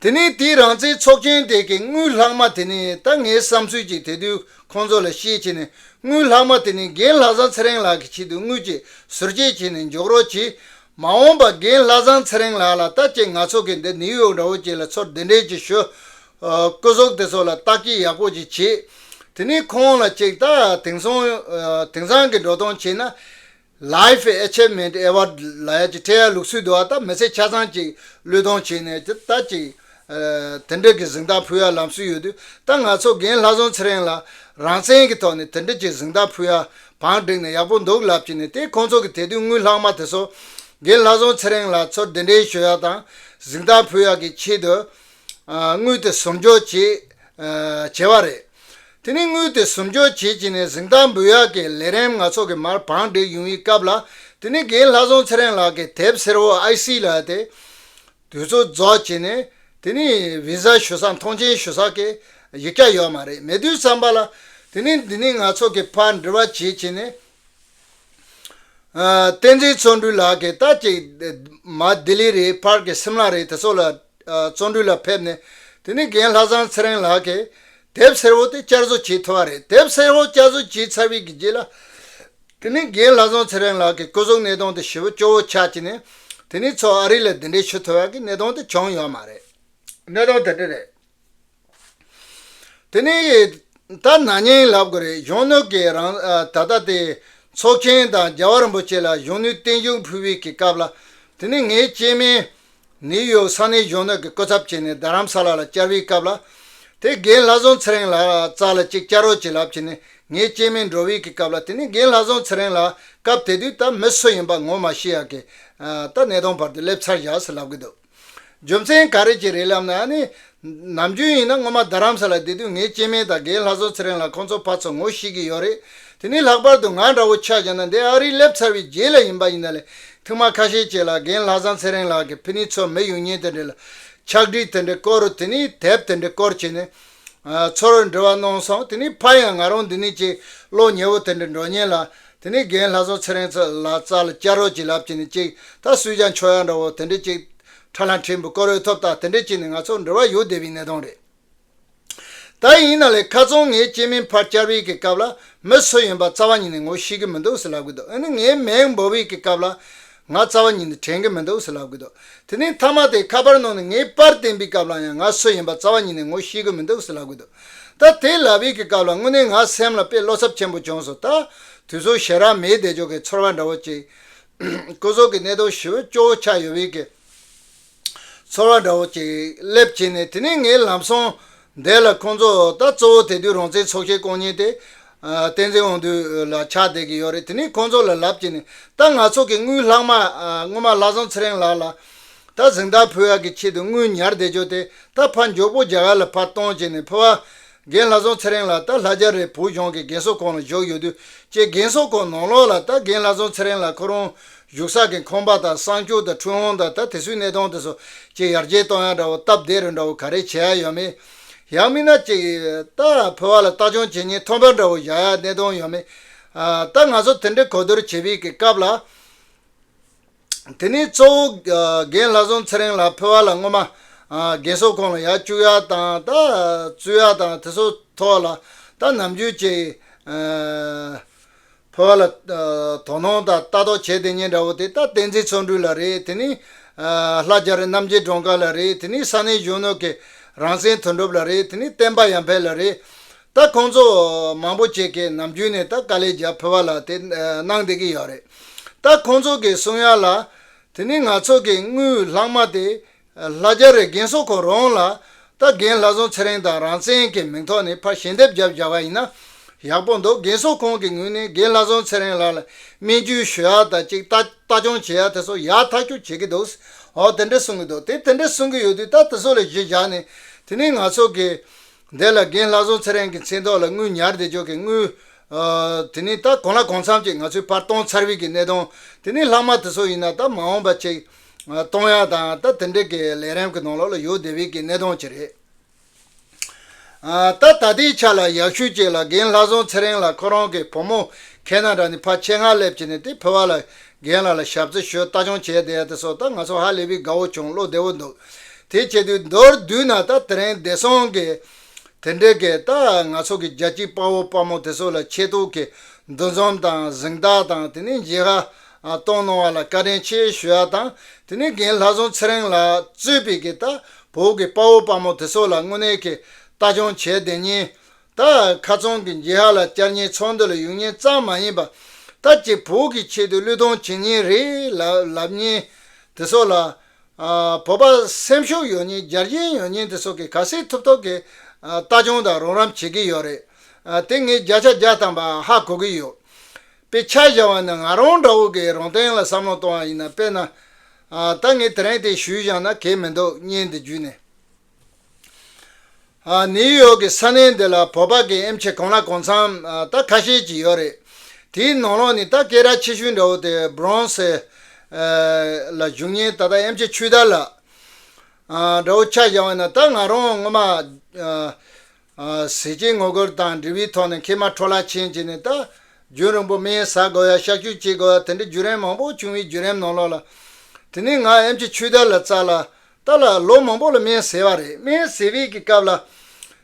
དེ་ནས་དེའི་རང་བཙན་ཚོགས་ཆེན་དེ་གའི་དངུལ་ལྷག་མ་དེ་ནི་ད་ངའི་བསམ་ཚུལ་གྱིས་དེ་དུས་ཁོང་ཚོ་ལ་ཤེས་བྱས་ནས་དངུལ་ལྷག་མ་དེ་ནི་རྒན་ལྷ་བཟང་ཚེ་རིང་ལགས་ཀྱི་ཆེད་དུ་དངུལ་གྱི་ཟུར་བཅད་བྱས་ནས་འཇོག་རོགས་གྱིས། མ་འོངས་པ་རྒན་ལྷ་བཟང་ཚེ་རིང་ལགས་ལ་ལྟ་ཅེས་ང་ཚོ་གིས་འདི་ནིའུ་ཡོག་འདྲ་བོ་བཅས་ལ་ཚོར་འདི་འདྲས་ཀྱི་ཞོ། སྐུ་སྲོག་དེ་ཚོ་ལ་བརྟག་དཔྱད་ཡག་པོ་ཅིག་བྱེད། དེ་ནས་ཁོང་ལ་ཅིག་ལྟ། དེང་སང་གི་འགྲོ་སྟངས་བྱས་ན། Life Achievement Award ལ་ཡ་གཅིག་འཕྲལ་ཡར་ལུགས་སུ་བསྡུ་བ་དང་མི་ཚེ་ཆ་ཚང་གཅིག་བློས་གཏོང་བྱས་ནས་ཀྱི་ལྟ་ཅིག། དེ་འབྲེལ་གྱི་གཟིགས་མདངས་ཕུལ་ཡ་ལམ་སྲོལ་ཡོད་དུས་ད་ང་ཚོ་རྒན་ལྷ་བཟང་ཚེ་རིང་ལ་རང་བཙན་གྱི་ཐོག་ནས་དེ་འབྲེལ་གྱི་གཟིགས་མདངས་ཕུལ་ཡ་བང་བསྒྲིགས་ནས་ཡག་པོ་འདུག་ལབ་ཀྱི་ནས་དེ་ཁོང་ཚོ་གི་དེ་དུས་དངུལ་ལྷག་མ་དེ་ཚོ་རྒན་ལྷ་བཟང་ཚེ་རིང་ལ་ཚོར་དེ་འབྲེལ་ཞུ་ཡ་དང་གཟིགས་མདངས་ཕུལ་ཡ་གྱི་ཆེད་དུ་དངུལ་དེ་ཟུར་འཇོག་བྱེད་བྱས་བ་རེད། དེ་ནི་དངུལ་དེ་ཟུར་འཇོག་བྱེད་ཅིང་ནས་གཟེངས་རྟགས་འབུལ་ཡག་གི་ལས་རིམ་སྣ་ཚོགས་ཀྱི་མར་བང་བསྒྲིགས་ཡུང་ཡི་སྐབས་ལ་དེ་ནི་རྒན་ལྷ་བཟང་ཚེ་རིང་ལགས་ཀྱིས་དེབ་སེར་བོ་ཨའི་སི་ལ་དེ་དུས་ཚོད་རྫོགས་བྱས་ནས་དེ་ནི་བི་ཟ་ཞུ་ས་མཐོང་ཆེན་ཞུ་ས་ཀྱི་ཡིག་སྐྱ་ཡོད་མ་རེད་མེད་དུས་བསམ་པ་ལ་དེ་ནི་འདི་ནི་ང་ཚོ་གི་ཕར་འབྲི་བ་བྱེད་ཅིང་ནས་བསྟན་འཛིན་བརྩོན་འགྲུས་ལགས་ཀྱིས་ལྟ་ཅིག་མ་ལྡི་ལི་རེད་ཕར་གྱི་སིམ་ལ་རེད་དེ་ཚོ་ལ། བརྩོན་འགྲུས་ལ་ཕེབས་ནས་དེ་ནས་རྒན་ལྷ་བཟང་ཚེ་རིང་ལགས་ཀྱིས་དེབ་སེར་བོ་དེ་བསྐྱར་བཟོ་བྱས་ཐུབ་པ་རེད་དེབ་སེར་བོ་བསྐྱར་བཟོ་བྱས་ཚར་བའི་རྗེས་ལ་དེ་ནས་རྒན་ལྷ་བཟང་ཚེ་རིང་ལགས་ཀྱིས་སྐུ་གཟུགས་གནས་སྟངས་དེ་ཞི་བོ་སྐྱོ་བོ་ཆགས་ཀྱི་ནས་དེ་ནས་ཚོགས་ཨ་རི་ལ་འདི་འདྲའི་ཆུ་འཐུལ་བ་གི་གནས་སྟངས་དེ་བྱུང་ཡོད་མ་རེད། གནས་སྟངས་དེ་འདྲ་རེད། དེ་ནས་ད་ནངས་ཉིན་ལབ་དགོས་རེད་གཞོན་ནུ་གིས་རང་ད་ལྟ་དེ་ཚོགས་ཆེན་དང་རྒྱལ་བ་རིན་པོ་ཆེ་ལ་གཞོན་ནུའི་བསྟན་བཞུགས་ཕུལ་བའི་གི་སྐབས་ལ་དེ་ནས་ངའི་སྐྱེས་དམན་ནིའུ་ཡོག་ས་གནས་གཞོན་ནུ་གི་སྐུ་ཚབ་བྱས་ནས་རྡ་རམ་ས་ལ་ལ་བཅར་བའི་སྐབས་ལ་དེ་རྒན་ལྷ་བཟང་ཚེ་རིང་ལགས་རྩ་ལ་གཅིག་བཅར་རོགས་བྱེད་ལབ་བྱས་ནས་ངའི་སྐྱེས་དམན་འགྲོ་བའི་གི་སྐབས་ལ་དེ་ནས་རྒན་ལྷ་བཟང་ཚེ་རིང་ལགས་སྐབས་དེ་དུས་ད་མི་སུ་ཡིན་པ་ངོ་མ་ཤེས་ཡ་གི་ད་གནས་སྟངས་བར་དུ་སླེབས་ཚར་བཞག་སུ་ལབ་གི་འདུག། རྒྱུ་མཚན་ག་རེ་གྱིས་རེད་ལབ་ན་ནི། ནམ་རྒྱུན་ཡིན་ན་སྔོན་མ་རྡ་རམ་ས་ལ་བསྡད་དུས་ངའི་སྐྱེས་དམན་དང་རྒན་ལྷ་བཟོ་ཚེ་རིང་ལ་ཁོང་ཚོ་ཕར་ཚུར་ངོ་ཤེས་ཀྱི་ཡོད་རེད་དེ་ནི་ལྷག་པར་དུ་ང་འདྲ་བོ་ཆགས་ཀྱང་ན་འདས་ཨ་རིར་སླེབས་ཚར་བའི་རྗེས་ལ་ཡིན་པ་ཡིན་ན་ལས་ཐིག་མ་ཁ་ཤས་བྱས་ལ་རྒན་ལྷ་བཟང་ཚེ་རིང་ལགས་ཀྱི་ཕི་ནི་ཚོ་མི་ཡུལ་གཉེན་དེ་འདྲ་ལ། ཕྱག་བྲིས་དེ་འདྲའི་སྐོར་དེ་ནི་དེབ་དེ་འདྲའི་སྐོར་བྱས་ནས། ཚོར་འདྲི་བ་གནང་སོང་དེ་ནས་ཕར་ཡང་ང་རང་འདི་ནས་ཀྱི་གློག་ཉེ་བོ་དེ་འདྲ་འགྲོ་ཉེན་ལ། དེ་ནས་རྒན་ལྷ་བཟང་ཚེ་རིང་ཚོ་ལ་ཙར་ལ་སྐྱར་རོགས་ཀྱི་ལབ་ཀྱི་ནི་ཅིག་ད་སུས་ཀྱང་ཆོག་ཡག་འདྲ་བོ་དེ་འདྲ་ཅིག། ཁྲ་ལྷ་འཕྲིན་བུ་སྐོར་འོས་ཐོབ་དང་དེ་འདྲ་ཅིག་ནི་ང་ཚོར་འབྲེལ་བ་ཡོད་བསྡད་པའི་གནས་སྟངས་རེད། ད་ཡིན་ན་ལས་ཁ་ཚང་ངས་སྐྱེས་མིན་ཕར་སྐྱར་བྷིག་གི་སྐབས་ལ་མི་སུ་ཡིན་པ་རྩ་བ་ཉིད་ནས་ངོ་ཤེས་ཀྱི་མི་འདུག་ཟེར་ལབ་གི་འདུག་འོན་ནི་ངས་མེང་འབོ་བྷིག་གི་སྐབས་ལ། ང་རྩ་བ་ཉིད་ནས་དྲན་གྱི་མི་འདུག་ཟེར་ལབ་ཀྱི་འདུག་དེ་ནས་མཐའ་མ་དེ་ཁ་པར་ནང་ནས་ངའི་པར་བསྟན་པའི་སྐབས་ལ་ཡང་ང་སུ་ཡིན་པ་རྩ་བ་ཉིད་ནས་ངོ་ཤེས་ཀྱི་མི་འདུག་ཟེར་ལབ་ཀྱི་འདུག་ད་དེ་ལབ་ཡས་ཀྱི་སྐབས་ལ་དངོས་གནས་ང་སེམས་ལ་དཔེ་བློ་འཚབ་ཆེན་པོ་བྱུང་སོང་ད་དུས་ཚོད་ཞེ་རག་མེད་བསྡད་ཆོག་གི་ཚོར་བ་འདྲ་བོ་ཅིག། སྐུ་སྲོག་གི་གནད་དོན་ཞི་བོ་སྐྱོ་བོ་ཆགས་ཡོད་ཡས་ཀྱི། ཚོར་བ་འདྲ་བོ་ཅིག་སླེབས་བྱས་ནས་དེ་ནས་ངས་ལམ་སང་བསྡད་ལ་ཁོང་ཚོ་ད་གཙོ་བོ་དེ་དུས་རང་བཙན་ཚོགས་ཆེན་བསྐོང་ཉིན་དེ། བསྟན་འཛིན་དབང་འདུས་ལ་ཆགས་བསྡད་ཀྱི་ཡོད་རེད་དེ་ནས་ཁོང་ཚོ་ལ་ལབ་བྱས་ནས་ད་ང་ཚོ་གི་དངུལ་ལྷག་མ་སྔོན་མ་ལྷ་བཟང་ཚེ་རིང་ལགས་ལ་ད་གཟེངས་རྟགས་ཕུལ་ཡག་གི་ཆེད་དུ་དངུལ་ཉར་བསྡད་ཆོག་དེ་ད་ཕར་མགྱོགས་པོ་རྒྱ་གར་ལ་ཕར་གཏོང་བྱས་ནས་ཕུལ་བ། རྒན་ལྷ་བཟང་ཚེ་རིང་ལགས་ད་ལྷ་རྒྱ་རི་བོད་ལྗོངས་ཀྱི་རྒན་གསོ་ཁང་ལ་བཞུགས་ཡོད་དུས་ཀྱི་རྒན་གསོ་ཁང་ནང་ལོགས་ལ་ད་རྒན་ལྷ་བཟང་ཚེ་རིང་ལགས་ཁོ་རང་བཞུགས་ས་ཀྱི་ཁང་པ་དང་གསང་སྤྱོད་དང་འཕྲུལ་དབང་དང་ད་དེ་སུའི་གནས་སྟངས་དེ་ཚོ་ཀྱི་ཡར་རྒྱས་གཏོང་ཡག་འདྲ་བོ་སྟབས་བདེ་རུ་འདྲ་བོ་ག་རེ་བྱེད་ཡག་ཡོད་མེད་ཡག་མིན་ན་ཅིག་ད་ཕོ་བ་ལ་བལྟ་སྐྱོང་བྱེད་ཉིན་ཐོམ་པ་འདྲ་བོ་བཞག་ཡག་གནས་སྟངས་ཡོད་མེད་ད་ང་ཚོ་དེ་འདྲའི་གོ་བསྡུར་བྱེད་པའི་སྐབས་ལ། དེ་ནས་གཙོ་བོ་རྒན་ལྷ་བཟང་ཚེ་རིང་ལགས་ཕུལ་བ་ལ་སྔོན་མ་རྒན་གསོ་ཁང་ལ་ཡར་བཅུག་ཡར་བཏང་ད་བཙུད་ཡར་བཏང་དེ་སོགས་ཐོག་ལ་ད་ནམ་རྒྱུན་བཅས་ཕུལ་བ་ལ་དོ་སྣང་དང་ལྟ་རྟོག་བྱས་དེ་ཉིན་འདྲ་བོ་དེ་ད་བསྟན་འཛིན་ཚོགས་འདུ་ལ་རེད་དེ་ནས་ལྷ་རྒྱ་རི་རྣམ་རྒྱལ་སྒྲོན་དཀར་ལ་རེད་དེ་ནས་ས་གནས་གཞོན་ནུ་གི་རང་བཙན་དོན་གྲུབ་ལ་རེད་དེ་ནས་བསྟན་པ་ཡར་འཕེལ་ལ་རེད། ད་ཁོང་ཚོ་མང་པོ་ཅིག་གིས་ནམ་རྒྱུན་ནས་ད་དཀའ་ལས་རྒྱབ་ཕོད་པ་ལ་དེ་གནང་བསྡད་ཀྱི་ཡོད་རེད། ད་ཁོང་ཚོ་གིས་གསུང་ཡ་ལ། དེ་ནི་ང་ཚོ་གི་དངུལ་ལྷག་མ་སྟེ། ལྷ་རྒྱ་རི་རྒན་གསོ་ཁོ་རང་ལ། ད་རྒན་ལྷ་བཟང་ཚེ་རིང་དང་རང་བཙན་གྱི་མིང་ཐོག་ནས་ཕར་ཞལ་འདེབས་རྒྱབ་བཞག་པ་ཡིན་ན། ཡག་པོ་འདུག་རྒན་གསོ་ཁོང་གི་ངོས་ནས་རྒན་ལྷ་བཟང་ཚེ་རིང་ལགས་ལ་སྨན་བཅོས་ཞུ་ཡ་དང་ཅིག་ལྟ་སྐྱོང་བྱེད་ཡ་དེ་ཚོ་ཡག་ཐག་གཅོད་བྱེད་ཀྱི་འདུག་ཧོ་དེ་འདྲས་གསུང་གི་འདུག་དེ་དེ་འདྲས་གསུང་གི་ཡོད་དུས་ད་དེ་ཚོ་ལ་གཞི་བཞག་ནས་དེ་ནི་ང་ཚོ་གི་འདས་ལ་རྒན་ལྷ་བཟོ་ཚེ་རིང་གི་མཚན་ཐོག་ལ་དངུལ་ཉར་བདེ་འཇོག་གི་དངུལ། དེ་ནི་ད་གོང་ལ་གོང་མཚམས་ཀྱི་ང་ཚོའི་བར་སྟོང་ཚར་བིད་ཀྱི་གནས་སྟངས་དེ་ནི་ལྷག་མ་དེ་ཚོ་ཡིན་ན་ད་མ་འོངས་པ་ཅིག། སྟོང་ཡག་དང་ད་དེ་འདྲེ་གི་ལས་རེམ་གི་ནང་ལོག་ལ་ཡོད་བདེ་བིད་ཀྱི་གནས་སྟངས་ཅིག་རེད། ད་ད་ལྟའི་ཆ་ལ་ཡག་ཤོས་ཅིག་ལ་རྒན་ལྷ་བཟོ་ཚེ་རིང་ལ་ཁོ་རང་གི་བུ་མོ་ཁེ་ན་ར་ནི་ཕ་ཆེ་ངར་སླེབས་བྱས་ནས་དེ་ཕུ་བ་ལ་རྒན་ལགས་ལ་ཞབས་རྩི་ཞུ་ལྟ་སྐྱོང་བྱས་བསྡད་དེ་སོ་ད་ང་ཚོ་ཧ་ལས་པའི་དགའ་བོ་བྱུང་བློ་བདེ་བོ་འདུག་དེ་བྱས་དུས་མདོར་བསྡུས་ན་ད་དེ་རིང་བདེ་སྲུང་གི་དེ་འདྲས་ཀྱི་ད་ང་ཚོ་གི་རྒྱ་སྐྱིད་དཔའ་བོ་དཔའ་མོ་དེ་ཚོ་ལ་ཆེད་དུ་གི་འདུ་འཛོམས་དང་གཟིང་རྟགས་དང་དེ་ནས་མཇལ་ཧ་གཏོང་གནང་བ་ལ་བཀའ་དྲིན་ཆེ་ཞུ་ཡ་དང་དེ་ནས་རྒན་ལྷ་བཟང་ཚེ་རིང་ལགས་གཙོས་པའི་གི་ད་བོད་གི་དཔའ་བོ་དཔའ་མོ་དེ་ཚོ་ལ་དངོས་གནས་གི་ལྟ་སྐྱོང་བྱས་བསྡད་ཉིན་ད་ཁ་ཚོང་གི་འགྱིག་ཧ་ལ་བསྐྱར་ཉེན་ཚོང་འདི་ལ་ཡུན་ཉེན་གཙང་མ་ཡིན་པ། ད་ཀྱི་བོད་ཀྱི་ཆེད་དུ་གླུད་གཏོང་བྱེད་ཉེན་རེད་ལབ་ཉེན་དེ་སོགས་ལ། བོད་པ་སེམས་ཤུགས་ཡོད་ཉེན་རྒྱལ་གྱེན་ཡོད་ཉེན་དེ་སོགས་ཀྱི་ག་སེ་ཐུབ་ཐོབ་ཀྱི་ལྟ་སྐྱོང་དང་རོགས་རམ་བྱེད་ཀྱི་ཡོད་རེད་དེ་ངས་བརྒྱ་ཆ་བརྒྱ་བཏང་པ་ཧ་གོ་གི་ཡོད། དཔེ་ཆ་བཞག་བ་ནི་ང་རང་འདྲ་བོ་གིས་རང་སྟེང་ལ་བསམ་བློ་གཏོང་བ་ཡིན་ན་དཔེར་ན། ད་ངས་དེ་རིང་དེ་ཞུས་བཞག་ན་གལ་མི་འདུག་བརྙན་འདི་བརྒྱུད་ནས། ནིའུ་ཡོག་གི་ས་གནས་འདི་ལ་བོད་པ་གའི་ཨེམ་ཆི་གང་ལ་གང་འཚམ་རྟ་ཁ་ཤས་ཀྱིས་ཡོད་རེད། དེའི་ནང་ལོགས་ནས་རྟ་སྐད་ར་ཆེ་ཤོས་འདྲ་བོ་དེ Bronx ལ་བཞུགས་ཉིན་ད་ལྟ་ཨེམ་ཆི་ཆུ་དར་ལ་འདྲ་བོ་ཆགས་བཞག་བས་ན་ད་ང་རང་ངོ་མ་གཟི་བྱིན་ངོ་རྒོལ་དང་འབྲེལ་བའི་ཐོག་ནས་མཁལ་མ་འཕྲོ་བརླག་ཕྱིན་བྱས་ནས་རྟ་རྒྱུན་རིང་པོ་མེའི་ཟ་དགོས་ཡ་གཤག་བཅོས་བྱེད་དགོས་ཡ་དེ་འདྲའི་བརྒྱུད་རིམ་མང་པོ་བྱུང་བའི་བརྒྱུད་རིམ་ནང་ལོགས་ལ། དེ་ནས་ང་ཨེམ་ཆི་ཆུས་རྟ་ལ་བཙའ་ལ། རྟ་ལ་ལོ་མང་པོ་ལ་སྨན་བཟས་པ་རེད་སྨན་བཟས་བས་ཀྱི་སྐབས་ལ།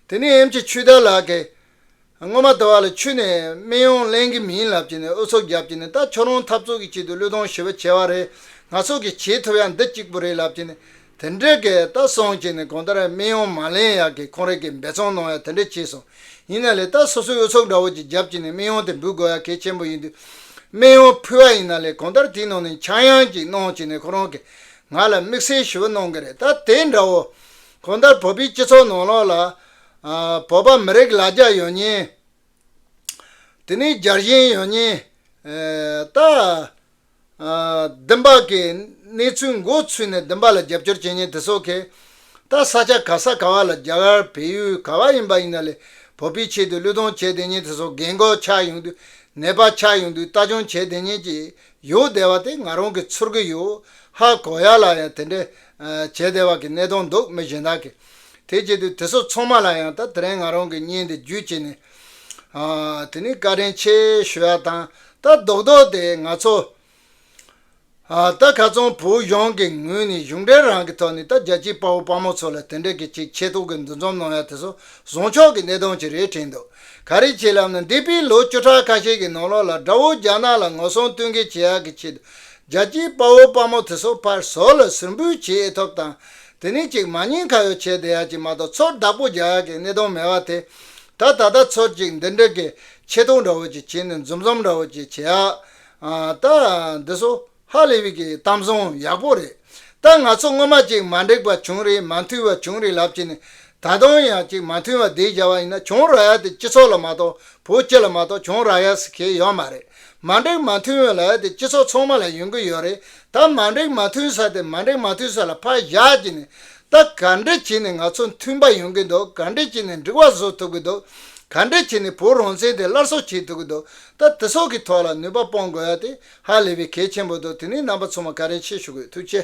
དེ་ནས་ཨེམ་ཆི་ཆུས་རྟ་ལགས་ཀྱིས། སྔོན་མ་དུ་བ་ལ་ཆུས་ནས་སྨན་ཡང་ལེན་གྱི་མིན་ལབ་ཀྱི་ནས་ཨུ་ཚུགས་བརྒྱབ་ཀྱི་ནས་རྟ་ཁྱོད་རང་འཐབ་རྩོད་ཀྱི་ཆེད་དུ་བློས་གཏོང་ཞི་བ་བྱས་པ་རེད་ང་སོགས་ཀྱིས་བྱེད་ཐུབ་ཡ་འདི་གཅིག་པུ་རེད་ལབ་ཀྱི་ནས་དེ་འདྲའི་གི་ལྟ་སོང་བྱས་ནས་གོང་ལྟར་སྨན་ཡོང་མ་ལེན་ཡག་གི་ཁོང་རེ་གི་འབད་བརྩོན་གནང་ཡག་དེ་འདྲ་བྱས་སོང་ཡིན་ན་ལས་ལྟ་སོ་སོའི་འོས་ཚོགས་འདྲ་བོ་ཅིག་རྒྱབ་བྱས་ནས་སྨན་ཡོང་དེ་འབུལ་དགོས་ཡག་གལ་ཆེན་པོ་ཡིན་དུས་སྨན་ཡོང་ཕུལ་བ་ཡིན་ན་ལས་གོང་ལྟར་དེའི་ནང་ནས་འཆར་ཡང་ཅིག་གནང་བྱས་ནས་ཁོ་རང་གི་ང་ལ་དམིགས་བསལ་ཞུ་བ་གནང་གི་རེད་ད་དེ་འདྲ་བོ་གོང་ལྟར་བོད་པའི་སྤྱི་ཚོགས་ནང་ལོག་ལ་བོད་པ་མི་རིགས་ལ་རྒྱ་ཡོད་ཉེན་དེ་ནས་རྒྱ་གཞན་ཡོད་ཉེན་ད། བདུན་པ། གནས་ཚུལ་འགོ་ཚུགས་ནས་བདུན་པ་ལ་རྒྱབ་སྐྱོར་བྱེད་མཁན་དེ་ཚོ་གས། ད་ས་ཆ་ག་ས་ག་བ་ལ་རྒྱ་གར་བལ་ཡུལ་ག་བ་ཡིན་པ་ཡིན་ན་ལས་བོད་པའི་ཆེད་དུ་བློས་གཏོང་བྱས་བསྡད་མཁན་དེ་ཚོ་རྒན་འགོག་ཆགས་ཡོང་དུས་ནད་པ་ཆགས་ཡོང་དུས་ལྟ་སྐྱོང་བྱས་བསྡད་མཁན་གྱི་ཡོད་བསྡད་བ་དེ་ང་རང་གིས་ཚོར་གི་ཡོད། ཧ་གོ་ཡག་ལ་ཡང་དེ་འདྲས་བྱས་བསྡད་བ་གི་གནས་སྟངས་འདུག་མི་གཞན་དག་གིས་དེ་བྱས་དུས་དེ་ཚོ་ཚང་མ་ལ་ཡང་ད་དེ་རིང་ང་རང་གིས་བརྙན་འདི་བརྒྱུད་བྱས་ནས་དེ་ནི་བཀའ་དྲིན་ཆེ་ཞུ་ཡག་དང་ལྟ་རྡོག་རྡོག་དེ་ང་ཚོ་ལྟ་ག་ཙོང་བོད་གཞུང་གི་ངོས་ནས་གཞུང་འབྲེལ་རང་གི་ཐོག་ནས་ལྟ་རྒྱ་ཆེའི་དཔའ་བོ་དཔའ་མོ་ཚོ་ལ་དེ་འདྲ་གི་ཅིག་ཆེ་ཐོག་གི་འདུ་འཛོམས་གནང་ཡག་དེ་སོགས་བཟང་ཕྱོགས་གི་གནད་དོན་ཅིག་རེད་དྲན་འདུག་ག་རེ་བྱེད་ལབ་ན་འདས་པའི་ལོ་བཅུ་ཕྲག་ཁ་ཤས་གི་ནང་ལོག་ལ་དགྲ་བོ་རྒྱ་ནག་ལ་ངོ་སྲུང་བསྟུན་མཁས་བྱེད་ཡག་གི་ཆེད་དུ་རྒྱ་ཆེའི་དཔའ་བོ་དཔའ་མོ་དེ་སོགས་ཕར་ཟོར་ལ་ཟུར་འབུད་བྱེད་ཨེ་ཐོབ་དང་དེ་ནི་ཅིག་མ་གཉིས་ཁ་ཡོ་བྱད་དེ་ཡག་ཅིག་མ་དང་ཚོར་བདག་པོ་བརྒྱ་ཡག་གི་གནས་སྟོང་མེད་པ་དེ། ད་ད་ལྟ་ཚོར་ཅིག་འདི་འདྲ་གི་ཆེ་མཐོང་འདྲ་བོ་ཅིག་བྱེད་ནས་འཛུམ་ཟོམ་འདྲ་བོ་ཅིག་བྱེད་ཨ། ད། འདི་སོ། ཧ་ལས་བིག་གི་གཏམ་བཟང་ཡག་པོ་རེད། ད་ང་ཚོ་སྔོན་མ་ཅིག་མ་འགྲིག་པ་བྱུང་རིགས་མ་མཐུན་བ་བྱུང་རིགས་ལབ་བྱེད་ནས་ད་དུང་ཡང་ཅིག་མ་མཐུན་བ་འདི་བྱ་བ་ཡིན་ན་བྱུང་ར་ཡ་དེ་སྤྱི་ཚོགས་ལ་མ་གཏོགས་བོད་སྤྱི་ལ་མ་གཏོགས་བྱུང་ར་ཡ་སི་ཁེལ་ཡོད་མ་རེད། མ་འགྲིག་མ་མཐུན་བའི་ལ་ཡ་དེ་སྤྱི་ཚོགས་ཚང་མ་ལ་ཡོང་གི་ཡོད་རེད་ད་མ་འགྲིག་མ་མཐུན་ས་དེ་མ་འགྲིག་མ་མཐུན་ས་ལ་ཕར་བཞག་གྱི་ནས་ད་ག་འདྲི་བྱས་ནས་ང་ཚོ་མཐུན་པ་ཡོང་གི་འདུག་ག་འདྲི་བྱས་ནས་འགྲིག་བ་བཟོ་ཐུབ་ཀྱི་འདུག་ག་འདྲི་བྱས་ནས་བོད་རང་བཙན་དེ་སླར་གསོ་བྱེད་ཐུབ་ཀྱི་འདུག་ད་དེ་སོགས་ཀྱི་ཐོག་ལ་ནུས་པ་སྤོང་དགོས་ཡ་དེ་ཧ་ལས་པའི་གལ་ཆེན་པོ་འདུག་དེ་ནས་རྣམ་པ་ཚང་མ་ག་རེ་བྱེད་ཞུ་དགོས་ཐུགས་ཆེ།